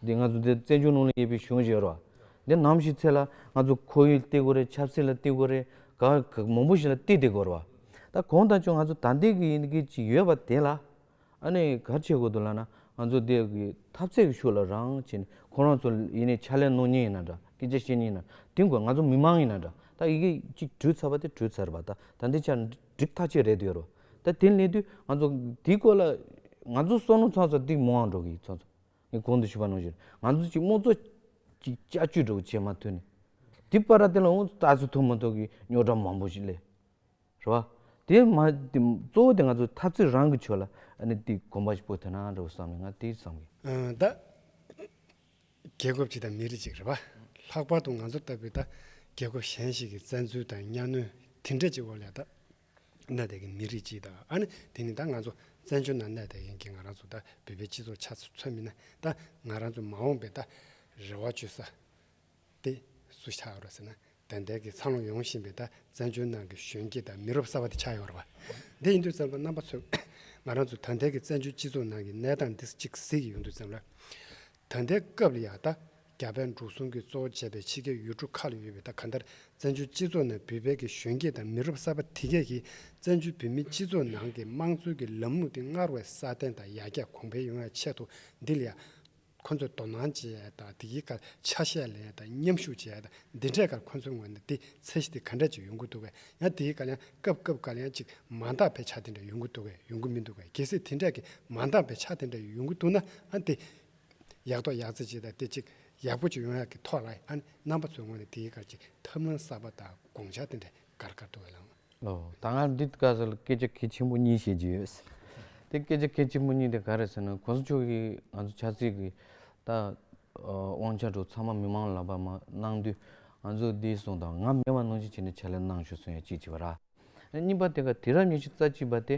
འདི་ང་ཚོ་འདི་བཙན་བྱོལ་ནང་ལ་ཡོད་པའི་གཞུང་ཞིག་ཡོད་རེད་བ། འདི་ནམ་ཞིག་ཚེ་ལ་ང་ཚོ་ཁོར་ཡུག་བརྟེགས་དགོས་རེད་ཆབ་སྲིད་ལ་བརྟེགས་དགོས་རེད་ག་ག་མང་པོ་ཞིག་ལ་བརྟེགས་དེ་དགོས་རེད་བ། ད་གོང་ད་ཆོ་ང་ཚོ་ད་འདི་གི་ཡི་གེ་ཅིག་ཡོད་པ་དེ་ལ། ཨ་ནི་གར་བྱེད་དགོས་འདུག་ལགས་ན་ང་ཚོ་འདི་གི་ཐབས་རྩེ་གི་ཤུགས་ལ་རང་བྱེད་ནས་ཁོང་རང་ཚོ་ཡིན་ནས་ཕྱག་ལས་གནང་ཉེན་ཡིན་ན་འདྲ་སྐད་ཆ་བཤད་ཉེན་ཡིན་ན་དེ་དགོས་ང་ཚོ་མི་མང་ཡིན་ན་འདྲ་ད་ཡི་གེ་གཅིག་དྲུད་ཚར་བ་དེ་དྲུད་ཚར་བ་ད་ད་འདི་ཆ་འགྲིག་ཐག་ཆོད་རེད་དུ་ཡོད་རོ་ད་དེ་སླེབས་དུས་ང་ཚོ་དེའི་སྐོར་ལ་ང་ཚོ་བསོད་ནོ་ཚང་ཚོ་སྟེགས་མོའང་འགྲོ་གི་ཚང་ཚོ་ངས་གོང་དུ་ཞུས་པ་ནང་བཞིན་ང་ཚོ་གཅིག་དམོ་ཚོ་གཅིག་དཔྱ་བཅུ་འགྲོ་གི་བྱེད་མ་ཐུབ་ནས་དེ་པར་ར་དེ་ལ་ཨོ་ད་ཚོ་ཐུབ་མ་ཐུབ་ཀྱི་རྙོག་དྲ་མང་པོ་ཞིག་སླེབས། རེད་བ། དེ་མ་གཙོ་བོ་དེ་ང་ཚོ་འཐབ་རྩོད་རང་གི་ཆོས་ལ་ནི་དེ་གོམ་པ་སྤོ་ཐུབ་ན་རེད་བསམ་ནས་ང་དེ་བསམ་གི། ད་རྒྱལ་ཁབ་ཅིག་དང་མི་རིགས་ཅིག་རེད་བ། ལྷག་པར་དུ་ང་ཚོ་ལྟ་བུའི་ད་རྒྱལ་ཁབ་གཞན་ཞིག་གི་བཙན་འཛུལ་དང་གཉའ་གནོན་དེ་འདྲ་ཅིག་འོག་ལས་ད་གནས་བསྡད་ཀྱི་མི་རིགས་ཅིག་དང་ཨ་ནི་དེ་ནི་ད་ང་ཚོ་བཙན་བྱོལ་ནང་གནས་བསྡད་མཁན་གྱི་ང་རང་ཚོ་ད་བོད་པའི་སྤྱི་ཚོགས་ཆ་ཚ་ཚོད་མིན་ན་ད་ང་རང་ཚོ་མ་འོངས་པའི་ད་རེ་བ་བཅོལ་ས་ཏེ། སུ་ཆགས་ཡོང་རོ་ཟེར་ན་དན་ཏན་གྱིས་འཚར་ལོངས་ཡོང་བཞིན་པའི་ད་བཙན་བྱོལ་ནང་གི་གཞོན་སྐྱེས་དང་མི་རབས་གསར་བ་དེ་ཆགས་ཡོང་རོ། འདི་ཡིན་དུས་བཙན་པོ་རྣམ་པ་ཚོས་ང་རང་ཚོ་ད་ལྟའི་གི་བཙན་བྱོལ་སྤྱི་ཚོགས་ནང་གི་གནས་སྟངས་འདི་གཅིག་གཟིགས་ཀྱི་ཡོང་དུས་བཙན་པོ་ལ། ད་ལྟའི་སྐབས་ལ་ཡང་ད་རྒྱ་བལ་འབྲུག་གསུམ་གྱི་གཙོ་བོ་བྱས་པའི་ཕྱི་རྒྱལ་ཡུལ་གྲུ་ཁག་ལ་ཡོད་པའི་ད་ག་འདིར་བཙན་བྱོལ་སྤྱི་ཚོགས་ནང་བུད་བལ་གྱི་གཞོན་སྐྱེས་དང་མི་རབས་གསར་བ་དེ་གས་ཀྱིས་བཙན་བྱོལ་བོད་མིའི་སྤྱི་ཚོགས་ནང་གི་དམངས་གཙོའི་གི་ལམ་ལུགས་དེ་སྔར་བས་སྲ་བརྟན་དང་ཡར་རྒྱས་གོང་འཕེལ་ཡོང་ཡ་ཆེད་དུ་འདི་ལ་ཡང་ཁོ་ཚོས་དོ་སྣང་བྱས་དང་དེ་གའི་ཁར་ཆ་ཤས་ལེན་དང་མཉམ་ཞུགས་བྱས་དང་འདི་འདྲའི་ཁར་ཁོ་ཚོའི་ངོས་ནས་དེ་ཚད་གཞི་དེ་ག་འདྲ་ཅིག་ཡོང་གི་འདུག་གས་ཡང་དེའི་ཁར་ཡང་སྐབས་སྐབས་ཁར་ཡང་ཅིག་མ་འདང་བའི་ཆ་དེ་འདྲ་ཡོང་གི་འདུག་གས་ཡོང་གི་མི་འདུག་གས་གལ་སྲིད་དེ་འདྲ་གས་མ་འདང་བའི་ཆ་དེ་འདྲ་ཡོང་གི་འདུག་ན་ཨང་དེ་ཡག་ཐོག་ཡག་བརྩེགས་ཅིག་དང་དེ་ཅིག་ཡག་པོ་ཅིག་ཡོང་ཡག་གི་ཐོག་ལ་ཨང་རྣམ་པ་ཚོའི་ངོས་ནས་དེའི་ཁར་ཅིག་ཐབས་ལམ་གསར་པ་དང་དགོངས་འཆར་དེ་འདྲ། དགར་དགར་དུ་བླངས། ད་སྔ་འདི་དག་ས་ལ་སྐད་ཆ་གལ་ཆེན་པོ་གཉིས་བཤད་རྒྱུ་ཡོད། དེ་སྐད་ཆ་གལ་ཆེན་པོ་གཉིས་དེ་ག་རེད་ཟེར་ན་གོང་ས་མཆོག་གིས་ང་ཚོ་ཆབ་སྲིད་ཀྱི་ད་དབང་ཆ་འགྲོ་ཚང་མ་མི་མང་ལ་བར་མ་གནང་དུས་ང་ཚོ་འདི་གསུངས་དང་ང་མེད་པ་གནང་ཆེད་བྱས་ནས་ཕྱག་ལས་གནང་ཞུ་གསུངས་ཡ་གཅིག་བྱས་པ་ར། གཉིས་པ་དེ་ག་དེ་རབས་ཉི་ཤུ་རྩ་གཅིག་པ་དེ།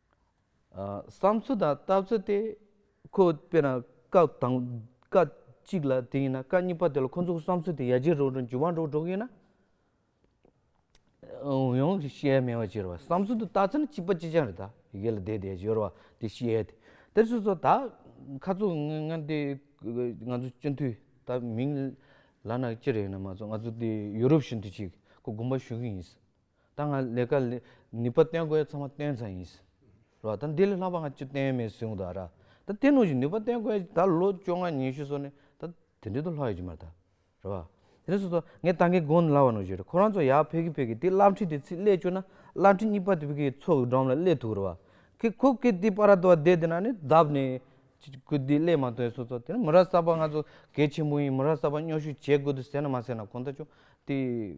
བསམ་ཚུལ་དང་ལྟ་ཚུལ་དེ་ཁོས་དཔེར་ན་སྐབས་དང་སྐབས་གཅིག་ལ་དེ་ཡིན་ན་སྐབས་གཉིས་པ་དེ་ལ་ཁོ་ཚོ་གི་བསམ་ཚུལ་དེ་ཡར་རྒྱས་རུ་འགྲོ་འགྱུར་བ་འགྲོ་འགྲོ་གི་ཡིན་ན། ཡང་བཤད་མི་ཤེས་པ་བསམ་ཚུལ་དུ་ལྟ་ཚུལ་ནི་གཅིག་པ་གཅིག་ཅན་རེད་ད་ཡིག་ལ་བསྡད་བསྡད་བཞོར་བ་དེ་བཤད་དེ་དེར་སོ་སོ་ད་ཁ་རྩོད་ངན་ངན་དེ་ང་ཚོ་སྤྱི་འཐུས་ད་མིང་ལ་ན་ཅི་རེད་ན་མ་གསུངས་ང་ཚོ་དེ་ཡུ་རོབ་ཞུན་དུ་ཅིག་ཁོ་དགོངས་པ་ཞུ་གི་ཡིན། ད་ང་ལས་ཀ་ནུས་པ་བསྟན་དགོས་ཚང་མ་བསྟན་ཚར་ཡིན། རོ་ད་འདི་ལས་ལྷག་པ་ང་ཅུ་བསྟན་མེད་སུན་ད་ར། ད་བསྟན་ནུས་ཀྱི་ནུས་པ་བསྟན་དགོས་ད་ལོ་བཅོ་ལྔ་ཉི་ཤུ་སོང་ནས་ད་དེ་འདྲས་དུ་ལྷག་ཡོད་ཀྱི་མ་ད་ར། བ་དེ་ནས་སོ་སོ་ངས་ད་གིན་དགོངས་སླ་བ་ནོ་བཞེད་ར་ཁོ་རང་ཚོ་ཡག་ཕེ་གི་ཕེ་གི་དེ་བླ་འཁྲིད་དེ་ཚིག་སླད་བཅོས་ན་བླ་འཁྲིད་གཉིས་པ་དེ་བི་གི་ཚོགས་ཀྱི་འགྲོམ་ལ་སླད་ཐུག་ར་བ། ཁི་ཁོ་ཁི་དེ་པ་ར་དོ་བ་དེ་དེ་ན་ནི་གདབ་ནས་ཁུ་དེ་སླད་མ་ཐོན་སོ་སོ་དེ་ན་མི་ར་གསར་པ་ང་ཚོ་གལ་ཆེན་པོ་ཡིན་མི་ར་གསར་པ་སྨྱོ་ཤུ་བྱེད་དགོས་དུ་ཟེར་ན་མ་ཟེར་ན་གོང་ད་ཅུང་དེ།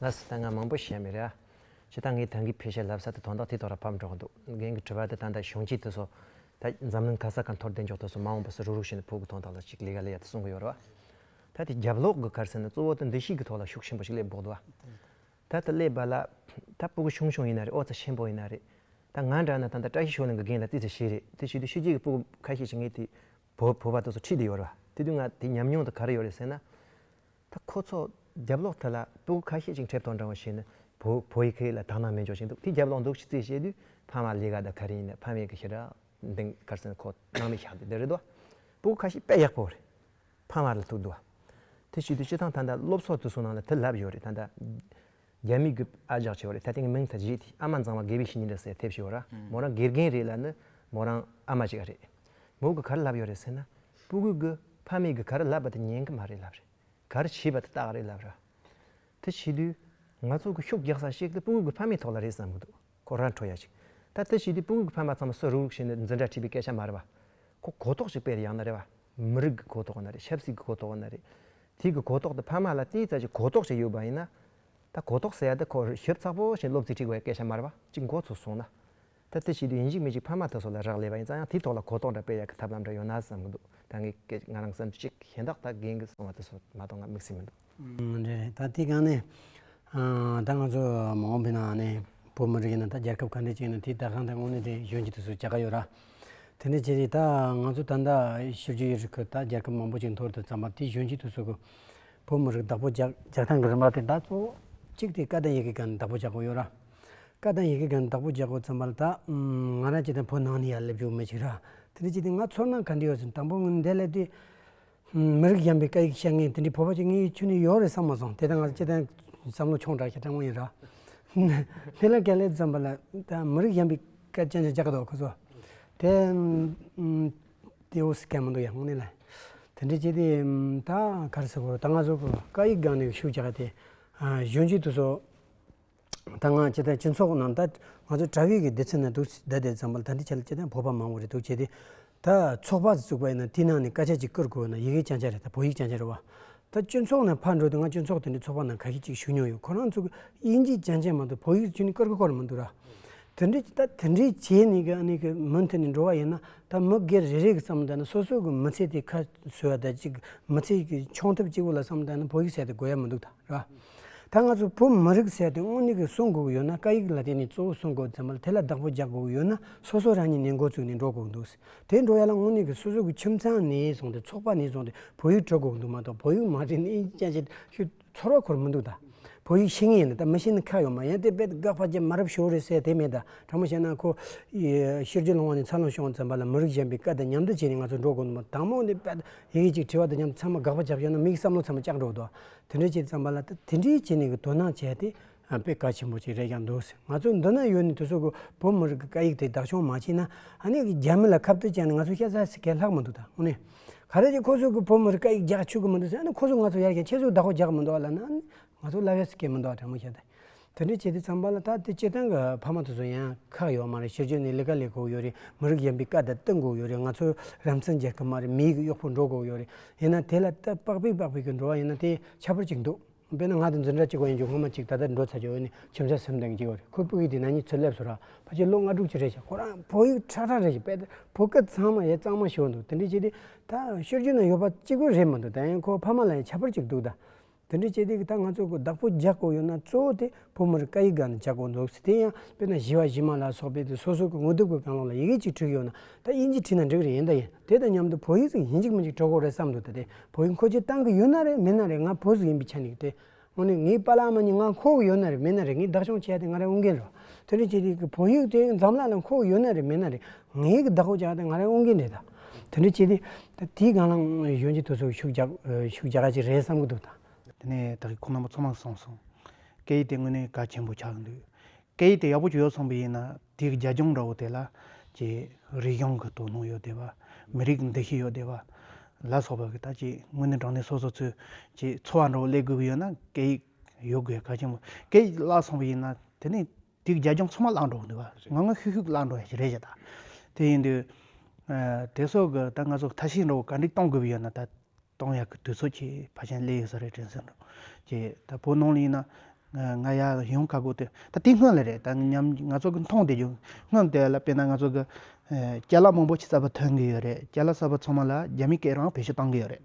ལ་སི་ད་ང་མང་པོ་བཤད་མི་རེད་ཨ། ད་ངས་དོན་གྱི་ཕེ་ཤ་ལབ་ས་དེ་དོན་དག་དེ་ཐོག་ར་ཕབ་འགྲོ་གི་འདུག་རྒན་གྱི་དྲི་བ་དེ་ད་ལྟ་གཞུང་གཅིག་དེ་སོ། ད་འཛམ་གླིང་ག་ས་ག་འཐོར་བདེ་འཇོག་ཐོག་སོ་མ་འོངས་པ་སོ་རུག་རུག་བྱས་ནས་ཕུག་གི་དོན་དག་ལ་ཅིག་ལི་ཡ་ལི་ཡ་དེ་གསུང་གི་ཡོད་རེད་བ། ད་དེ་རྒྱབ་ལོག་གི་གར་ས་ནས་གཙོ་བོ་ད་འདི་ཞིག་གི་ཐོག་ལ་ཤུགས་ཆེན་པོ་ཞིག་སླེབས་དགོས་འདུག་བ། ད་ད་སླེབས་པ་ལ་ད་ཕུག་གི་ཆུང་ཆུང་ཡིན་ན་རེད་ཨོ་རྩ་ཆེན་པོ་ཡིན་ན་རེད། ད་ང་འདྲ་ན་ད་ད་བཀྲ་ཤིས་ཤོག་ལེན་གི་རྒན་ལ་རྩིས་ཚེ་ཤེས་རེད་དེ་བྱེད་དུས་ཤུལ་རྗེས་ཀྱི་ཕུག་གི་ཁ་ཤས་ཤིག་ངས་དེ་བོད་པ་དེ་ཚོ་ཁྲིད་དེ་ཡོད་རེད་བ། དེ་དུས་ང་དེ་ཉམས་མྱོང་དུ་ག་རེ་ཡོད་རེད་ཟེར་ན། ད་ཁོ་ཚོ་རྒྱབ་ལོག་དེ་ལ་སྤུ་གུ་ཁ་ཤས་ཅིག་འཁྲེབས་དོགས་འདྲ་བོ་བྱས་ན་བོ་བོད་ཡིག་གི་ལ་དག་སྣང་མེད་འཇོག་བཞིན་འདུག་དེ་རྒྱབ་ལོག་འདུག་ཅི་ཙེ་བྱས་དུས་ཕ་མ་ལས་ཀ་དང་ག་རེ་ཡིན་ན་ཕ་མེས་ཀྱི་ཤི་ར་འདེང་དཀར་སེང་ཁོ་སྣང་མེད་བཞག་འདུག་དེ་རེད་དོ། སྤུ་གུ་ཁ་ཤས་དཔེ་ཡག་པོ་རེད་ཕ་མ་ལ་ཐུག་འདུག་བ། དེ་བྱས་དུས་སྤྱི་ཐང་ད་ལྟ་སློབ་གསོ་དུ་སོང་ནང་ལ་དེ་ལབ་ཡོད་རེད་ད་ལྟ། རྒྱ་མི་རྒྱུད་ཨ་ཇག་ཆེ་བ་རེད་ད་ཐེངས་མིང་ཐ་ཇི་དེ་ཨ་མ་མཛངས་བ་དགེ་བའི་བཤེས་གཉེན་རེད་ཟེར་ཐེབས་ཤི་བ་ར་མོ་རང་དགེ་རྒན་རེད་ལ་ནི་མོ་རང་ཨ་མ་ཅིག་ཨ་རེད་མོ་གི་གར་ལབ་ཡོད་རེད་ཟེར་ན་སྤུ་གུ་གི་ཕ་མེས་གི་གར་ལབ་པ་དེ་ཉན་གི་མ་རེད་ལབ་རེད་གར་བྱེད་པ་དེ་རྟགས་རེད་ལབ་ར་དེ་བྱེད་དུས་ང་ཚོ་གི་ཤུགས་རྒྱག་ས་ཞིག་དེ་སྤུ་གུ་གི་ཕ་མེས་ཐོག་ལ་རེད་བསམ་གི་འདུག་ཁོ་ར་འཕྲོ་ཡ་ཅིག་ད་དེ་བྱེད་དུས་སྤུ་གུ་གི་ཕ་མ་ཚང་མ་སུ་རུག་རུག་བྱེད་ནི་འཛིན་གྲ་ཁྲིད་པའི་སྐད་ཆ་མ་རེད་བ་ཁོ་གོ་རྟོགས་ཅིག་སྤེལ་ཡང་ན་རེད་བ་མི་རིགས་ཀྱི་གོ་རྟོགས་ན་རེ་ཆབ་སྲིད་ཀྱི་གོ་རྟོགས་ན་རེ། དེ་གི་གོ་རྟོགས་དེ་ཕ་མ་ལ་དེའི་རྩ་ཆེ་གོ་རྟོགས་ཤིག་ཡོད་པ་ཡིན་ན། ད་གོ་རྟོགས་ཟེར་ཡ་དེ་ཁོར་ཞིབ་ཚགས་པོ་བཞིན་སློབ་ཚིག་ཁྲིགས་པའི་སྐད་ཆ་མར་བ་གཅིག་མགོ་ཚུགས་སོང་ན། ད་དེ་བྱེད་དུས་ཡིན་གཅིག་མིན་གཅིག་ཕ་མ་ད་སོ་ལ་རག་ལས་པ་ཡིན་ཙང་ཡང་དེའི་ཐོག་ལ་གོ་རྟོགས་འདྲ་སྤེལ་ཡ་གི་ཐབས་ལམ་འདྲ་ཡོད་ན་བསམ་གྱི་འདུག་ད་ངའི་སྐད་ང་རང་བསམ་རྒྱུ་གཅིག་གཞན་དག་ད་རྒན་གྱི་གསུང་བ་དེ་སོ་མ་གཏོགས་ང་དམིགས་བསལ་མི་འདུག། རེད་རེད་ད་དེ་གང་ནས་ད་ང་ཚོ་མ་འོངས་པའི་ནང་ནས་བོད་མི་རིགས་ཡིན་ན་ད་རྒྱལ་ཁབ་ག་འདྲས་ཅིག་ཡིན་ན་དེ་ད་གང་ད་དངོས་གནས་དེ་གཞོན་སྐྱེས་དེ་ཚོས་བྱ་དགའ་ཡོད་ར། དེ་འདྲས་བྱས་ཏེ་ད་ང་ཚོ་ད་ད་ཤི་རྒྱུ་ཡི་རིགས་ཁུ་ད་རྒྱལ་ཁབ་མང་པོ་ཅིག་མཐོར་དུ་བརྩམས་པ་དེ་གཞོན་སྐྱེས་དེ་ཚོས་ཀུ་བོད་མི་རིགས་བདག་པོ་རྒྱག་རྒྱག་སྟངས་ཀྱི་རིམ་པ་དེ་ད་གཙོ་བོ་གཅིག་དེ་བཀའ་དང་ཡི་གེ་ག་ནས་བདག་པོ་རྒྱག་དགོས་ཡོད་ར། བཀའ་དང་ཡི་གེ་ག་ནས་བདག་པོ་རྒྱག་དགོས་བརྩམས་པ་ལ་ད་ང་རང་ཅིག་དང་བོད་ནང་ནས་ཡར་སླེབས་བཅུག་མེད་ཅིག་ར། དེ་འདྲས་བྱས་ཏེ་ང་ཚོར་ནང་ག་འདྲས་ཡོད་ཟེར་ན་དང་པོ་འདས་ལས་དུས་མི་རིགས་གཞན་པའི་སྐད་ཡིག་བཤད་མཁན་དེ་འདྲའི་བོད་པ་གཅིག་གཉིས་ཡོད་ཆོས་ནི་ཡོད་རེད་བསམ་མ་སོང་དེ་ལྟར་ང་ཚོ་སྤྱི་བསྟན་བསམ་བློ་ཆུང་དྲགས་ཀྱི་སྤྲང་བོ་ཡིན་ར། དེ་ལ་གལ་ལེ་བརྩམས་པ་ལ་མི་རིགས་གཞན་པའི་སྐད་སྤྱན་ཆ་རྒྱག་གི་འདུག་ཁོ་ཚོ། དེ་དེ་འོ་སི་ཁན་མི་འདུག་ཡ་ངོ་ནས་ལ། དེ་འདྲའི་སྤྱི་དེ་ད་ག་རེ་ཟེར་དགོས་ད་ང་ཚོ་སྐད་ཡིག་སྒང་ནས་ཤུགས་རྒྱག་དེ་གཞོན་སྐྱེས་དེ་ཚོ་ད་ང་སྤྱི་ལྟར་སྤྱི་ཚོགས་ནང་ད་ང་ཚོ་དྲ་བའི་གི་སྡེ་ཚན་ནང་འདུག་ཟེར་ཟླ་འདིར་ཙམ་པ་ལ་ད་འདི་བྱས་ལ་སྤྱི་ལྟར་བོད་པ་མང་བོ་རེ་འདུག་བྱས་ཏེ། ད་ཚོགས་པ་བཙུགས་པ་ཡིན་ན་དེ་ནང་ནས་དཀའ་སྤྱད་ཅིག་བཀུར་དགོས་ན་ཡི་གེ་ཅང་ཅང་རེད་ད་བོད་ཡིག་ཅང་ཅང་རེད་བ། ད་སྤྱི་ཚོགས་ནང་ཕར་འགྲོ་དུས་ང་སྤྱི་ཚོགས་དེ་འདྲའི་ཚོགས་པ་ནང་ག་ཤེད་ཅིག་ཞུགས་མྱོང་ཡོད་ཁོ་རང་ཚོ་གི་དབྱིན་ཇི་ཅང་ཅང་མ་གཏོགས་བོད་ཡིག་ཅི་ནས་བཀར་གི་གོ་རེ་མི་འདུག་ར། དེ་འདྲའི་ད་དེ་འདྲའི་བྱས་ནས་གི་ནི་གི་མུ་མཐུད་ནས་འགྲོ་བ་ཡིན་ན་ད་མི་སྒེར་རེ་རེ་གི་བསམ་ད་ན་སོ་སོ་གི་མི་ཚེ་དེ་ཁ་གསོས་བ་ད་ཅིག་མི་ཚེ་གི་མཆོང་ཐབས་ཅིག་པོ་ལ་བསམ་ད་ན་བོད་ཡིག་བྱས་ཏེ་དགོས་ཡ་མི་འདུག་ད། ད་ང་ཚོ་བོད་མི་རིགས་ཟེར་དུས་དངོས་གནས་ཀྱི་གསུང་དགོས་ཀྱི་ཡོད་ན་བཀའ་ཡིག་ལ་བརྟེན་ནས་གཙོ་བོ་གསུང་དགོས་ཙམ་མ་དེ་ལ་བདག་པོ་རྒྱག་དགོས་ཀྱི་ཡོད་ན་སོ་སོ་རང་ཉིད་ནས་འགོ་བཙུགས་ནས་འགྲོ་དགོས་ཀྱི་འདུག་དེ་འགྲོ་ཡ་ལ་དངོས་གནས་ཀྱི་སོ་སོ་གྱི་ཁྱིམ་ཚང་ནས་བཟུང་སྟེ་ཚོགས་པ་ནས་བཟུང་སྟེ་བོད་ཡིག་སྤྲོད་དགོས་ཀྱི་འདུག་མ་གཏོགས་བོད་ཡིག་མ་བྲིས་ནས་ཨིན་ཇི་ཅི་ཞུ་ཚོར་བ་ཁོར་མི་འདུག་ད། བོད་ཡིག་ཤེས་ངེས་ཡིན་ན་ད་མི་ཤེས་ན་ཁག་ཡོད་མ་ཡིན་དེ་དཔེ་དགག་ཕ་རྒྱ་མ་རབས་ཤོར་རེད་ཟེར་དེ་མེད་ད་དྲང་མོ་བཤད་ན་ཁོ། ཤེར་རྒྱུད་ལོང་བ་ནས་འཚར་ལོངས་བྱུང་བ་ཙམ་པ་ལ་མི་རིགས་གཞན་པའི་བཀའ་དང་མཉམ་འདུ་བྱས་ནས་ང་ཚོ་འགྲོ་དགོས་ཀྱི་འདུག་མ་དང་མོ་ནས་དཔེ་དག་ཡི་གེ་གཅིག་བྲིས་པ་དང་མཉམ་དུ་ཚང་མ་དགག་པ་བརྒྱབ་ཤོར་ན་མིག་བསམ་བློ་ཚང་མ་བཅག་འགྲོ་གི་འདུག་དེ་འདྲ་བྱས་བརྩམས་པ་ལ་དེ་འདྲའི་བྱས་ནས་དོ་སྣང་བྱས་ཏེ་དཔེ་དཀའ་ཆེན་པོ་ཅིག་རེད་ཀྱང་འདུག་ང་ཚོ་འདི་ན་ཡོད་ནས་དེ་ཚོ་གི་བོད་མི་རིགས་ཀྱི་སྐད་ཡིག་དེ་བདག་སྐྱོང་མ་བྱས་ན་ཨ་ནེ་རྒྱ་མི་ལ་ཁ་བཏོད་བྱས་ནས་ང་ཚོ་སྐྱ་སར་ཟེར་མཁན་ལྷག་མི་འདུག་ད་དངོས་གནས། ག་རེ་ཀྱང་ཁོ་ཚོ་གི་བོད་མི་རིགས་སྐད་ཡིག་རྒྱག་ཆོག་གི་མི་འདུག་ཟེར་ཨ་ནེ་ཁོ་ཚོ་ང་ཚོ་ཡར་རྒྱས་ཁྱེད་ཚོ་བདག་པོ་རྒྱག་མི་འདོད་ལ་ན་ཨ་ནེ་ང་ཚོ་ལབ་ཡ་ཟེར་མཁན་མི་འདུག་ད་དྲན་མོ་བྱས་ཏེ། དེ་འདྲ་བྱས་ཏེ་བརྩམས་པ་ལ་ད་དེ་སྤྱིར་བཏང་གི་ཕ་མ་དེ་ཚོ་ཡང་ཁག་ཡོད་མ་རེད་ཤེས་རྒྱུ་ནི་ལི་ཀ་ལས་དགོས་ཡོད་རེད་མི་རིགས་གཞན་པའི་བཀའ་དང་བསྟུན་དགོས་ཡོད་རེད་ང་ཚོ་རང་བཙན་རྒྱལ་ཁབ་མ་རེད་མི་ཡིག་གི་གཡོག་པོ་འགྲོ་དགོས་ཡོད་རེད་ཡིན་ན་དེ་ལ་སྟབས་དཔག་པས་དཔག་པའི་གི་འགྲོ་བ་ཡིན་ན་དེ་ཆ་པོར་གཅིག་འདུག་དཔེར་ན་ང་དང་འཛིན་གྲྭ་གཅིག་པ་ཡིན་ཆོག་སྔོན་མ་གཅིག་ད་ལྟ་འགྲོ་ཚར་ཆོག་འོན་ནི་ཁྱིམ་བཟའ་སེམས་ལྡན་གཅིག་པ་རེད་ཁོའི་སྤུ་གཡུག་དེ་ན་ཉིད་ཚོད་སླེབས་སོ་ར་ཕ་ཁྱེད་ལོ་ལྔ་དྲུག་ཅུ་རེད་བྱས་ཁོ་རང་བོད་ཡིག་ཁྲག་ཁྲག་རེད་བྱས་དཔེ་ལྟར་བོད་སྐད་ཚང་མ་ཡང་གཙང་མ་ཤོད་འདུག་དེ་འདྲ་བྱས་ཏེ་ད་ཤོད་རྒྱུ་ན་ཡོད་པ་གཅིག་པུ་རེད་མི་འདུག་ད་ཡང་ཁོའི་ཕ་མ་ལ་ཡང་ཆ་པོར་གཅིག་འདུག་ད། དེ་འདྲའི་སྤྱི་སྟེགས་ད་ང་ཚོས་བདག་པོ་རྒྱག་དགོས་ཡོད་ན་གཙོ་བོ་དེ་བུ་མོར་སྐད་ཡིག་འགའ་ནི་རྒྱག་དགོས་འདུག་དེ་ཡང་དཔེར་ན་བཞི་བ་བཞི་མ་ལ་སོགས་པའི་དེ་སོ་སོ་གི་དངོས་དེབ་ཀྱི་གང་རུང་ལ་ཡི་གེ་གཅིག་བྲིས་ཡོད་ན་ད་དབྱིན་ཇི་བྲིས་ན་འགྲིག་རེ་ཡིན་ད་ཡིན་དེ་དང་མཉམ་དུ་བོད་ཡིག་ཟིག་ཡིན་གཅིག་མིན་གཅིག་གྲོགས་གོ་རེ་བསམ་འདུག་ད་དེ་བོད་ཡིག་མཁོ་ཆེ་གཏང་གི་ཡོད་ན་རེ་མིན་ན་རེ་ང་བོད་ཟུར་ཡིན་པའི་ཆ་ནས་དེ་སྔོན་ནས་ངའི་པ་ལགས་མ་གཉིས་ང་མཁོ་གི་ཡོད་ན་རེ་མིན་ན་རེ་ངས་བདག་སྐྱོང་བྱས་ཏེ་ང་རང་དབུ་འགན་རེད་དེ་འདྲའི་སྤྱི་སྟེགས་ཀྱི་བོད་ཡིག་དེ་འཛམ་གླག་ལ་མཁོ་གི་ཡོད་ན་རེ་མིན་ན་རེ་ངའི་གི་བདག་པོ་བྱས་ཏེ་ང་རང་དབུ་འགན་རེད་ད། དེ་འདྲ་བྱས་ཏེ་དེའི་སྒང་ལ་གཞོན་སྐྱེས་དེ་ཚོ་ཤུགས་རྒྱག་ར་ཅིག་རེད་བསམ་གྱི་འདུག་ད། དེ་ནས་ད་གི་ཁོང་རྣམ་པ་ཚོ་མང་སོང་སོང། སྐད་ཡིག་དེ་དངོས་གནས་གལ་ཆེན་པོ་ཆགས་ཀྱི་འདུག་སྐད་ཡིག་དེ་ཡག་པོ་ཞིག་ཡོད་སོང་བས་ཡིན་ན་དེའི་རྒྱ་ལྗོངས་འདྲ་བོ་དེ་ལ་ཀྱི་རིག་གཞུང་གི་དོ་སྣང་ཡོད་བསྡད་པ། མི་རིགས་ཀྱི་འདུ་ཤེས་ཡོད་བསྡད་པ། ལ་སོགས་པ་གི་ད་ཀྱི་དངོས་གནས་དྲང་གནས་སོ་སོ་ཚོས་ཀྱི་འཚོ་བ་འདྲ་བོ་སླེབས་དགོས་ཀྱི་ཡོད་ན་སྐད་ཡིག་ཡོད་དགོས་གལ་ཆེན་པོ་སྐད་ཡིག་བརླག་སོང་བས་ཡིན་ན་དེ་ནས་དེ་རྒྱ་ཁྱོང་ཚང་མ་བརླག་འགྲོ་གི་འདུག་བ་ང་ངོ་ཤུག་ཤུག་བརླག་འགྲོ་ཡ་ཞིག་རེད་བྱས་ད། དེ་ཡིན་དུས། དེ་སོགས་ཀྱི་ད་ང་ཚོ་མཐའ་ཤིང་རོ་ག་འགྲིག་གཏོང་དགོས་པ་ཡོད་ན་ད། གཏོང་ཡ་གི་དུས་ཚོད་ཀྱི་བ་ཆེན་སླེ་ཡོད་ས་རེད་དྲན་གསོན་འགྲོ། ཀྱེ་ད་བོད་ནང་ལ་ཡིན་ན། ང་ཡ་ཡོང་ག་དགོས་དུས་ད་དེ་སྔོན་ལ་རེད་ད་ཉམ་ང་ཚོ་གི་མཐོང་བསྡད་རྒྱུ་སྔོན་དེ་ལ་དཔེར་ན་ང་ཚོ་གི། སྐྱ་ལག་མང་པོ་ཆི་ཙབ་པ་ཐོན་གི་ཡོད་རེད་སྐྱ་ལག་ཙབ་པ་ཚང་མ་ལ་རྒྱ་མི་སྐད་རང་བེད་སྤྱོད་གཏང་གི་ཡོད་རེད།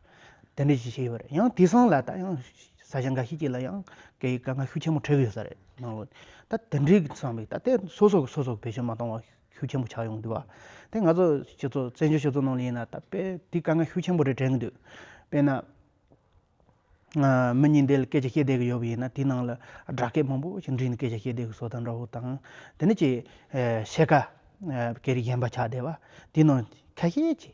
དེ་འདྲས་ཞིག་བྱས་ཡོད་པ་རེད་ཡང་དེ་སང་ལ་ད་ཡང་ས་ཆ་འགའ་ཤས་ཀྱི་ལ་ཡང་དེ་དགའ་ང་ཤུགས་ཆེན་པོ་འཕྲད་ཀྱི་ཡོད་ས་རེད་ནང་ལོ་ད་དེ་འདྲས་ཀྱི་སང་བས་ད་དེ་སོ་སོ་གི་སོ་སོ་གི་བེད་སྤྱོད་མ་གཏོང་བ་ཤུགས་ཆེན་པོ་ཆགས་ཡོང་གི་འདུག་བ་དེ་ང་ཚོ་སྤྱི་ཚོགས་བཙན་བྱོལ་སྤྱི་ཚོགས་ནང་ལ་ཡིན་ན་ད་དཔེ་དེ་དགའ་ང་ཤུགས་ཆེན་པོ་རེ་དྲན་གྱི་འདུག་དཔེ་ན། མི་གཉིས་འདས་ལ་སྐད་ཆ་བཤད་བསྡད་ཀྱི་ཡོད་པ་ཡིན་ན་དེ་ནང་ལ་སྦྲག་སྐད་མང་པོ་ཞིག་འབྲི་ནས་སྐད་ཆ་བཤད་བསྡད་ཀྱི་སོ་ད་འདྲ་བོ་དང་དེ་འདྲ་ཅིག་བཤད་ཀ་སྐད་རིགས་གཞན་པ་ཆགས་བསྡད་པ་དེ་ནང་ཁ་ཤས་ཀྱི།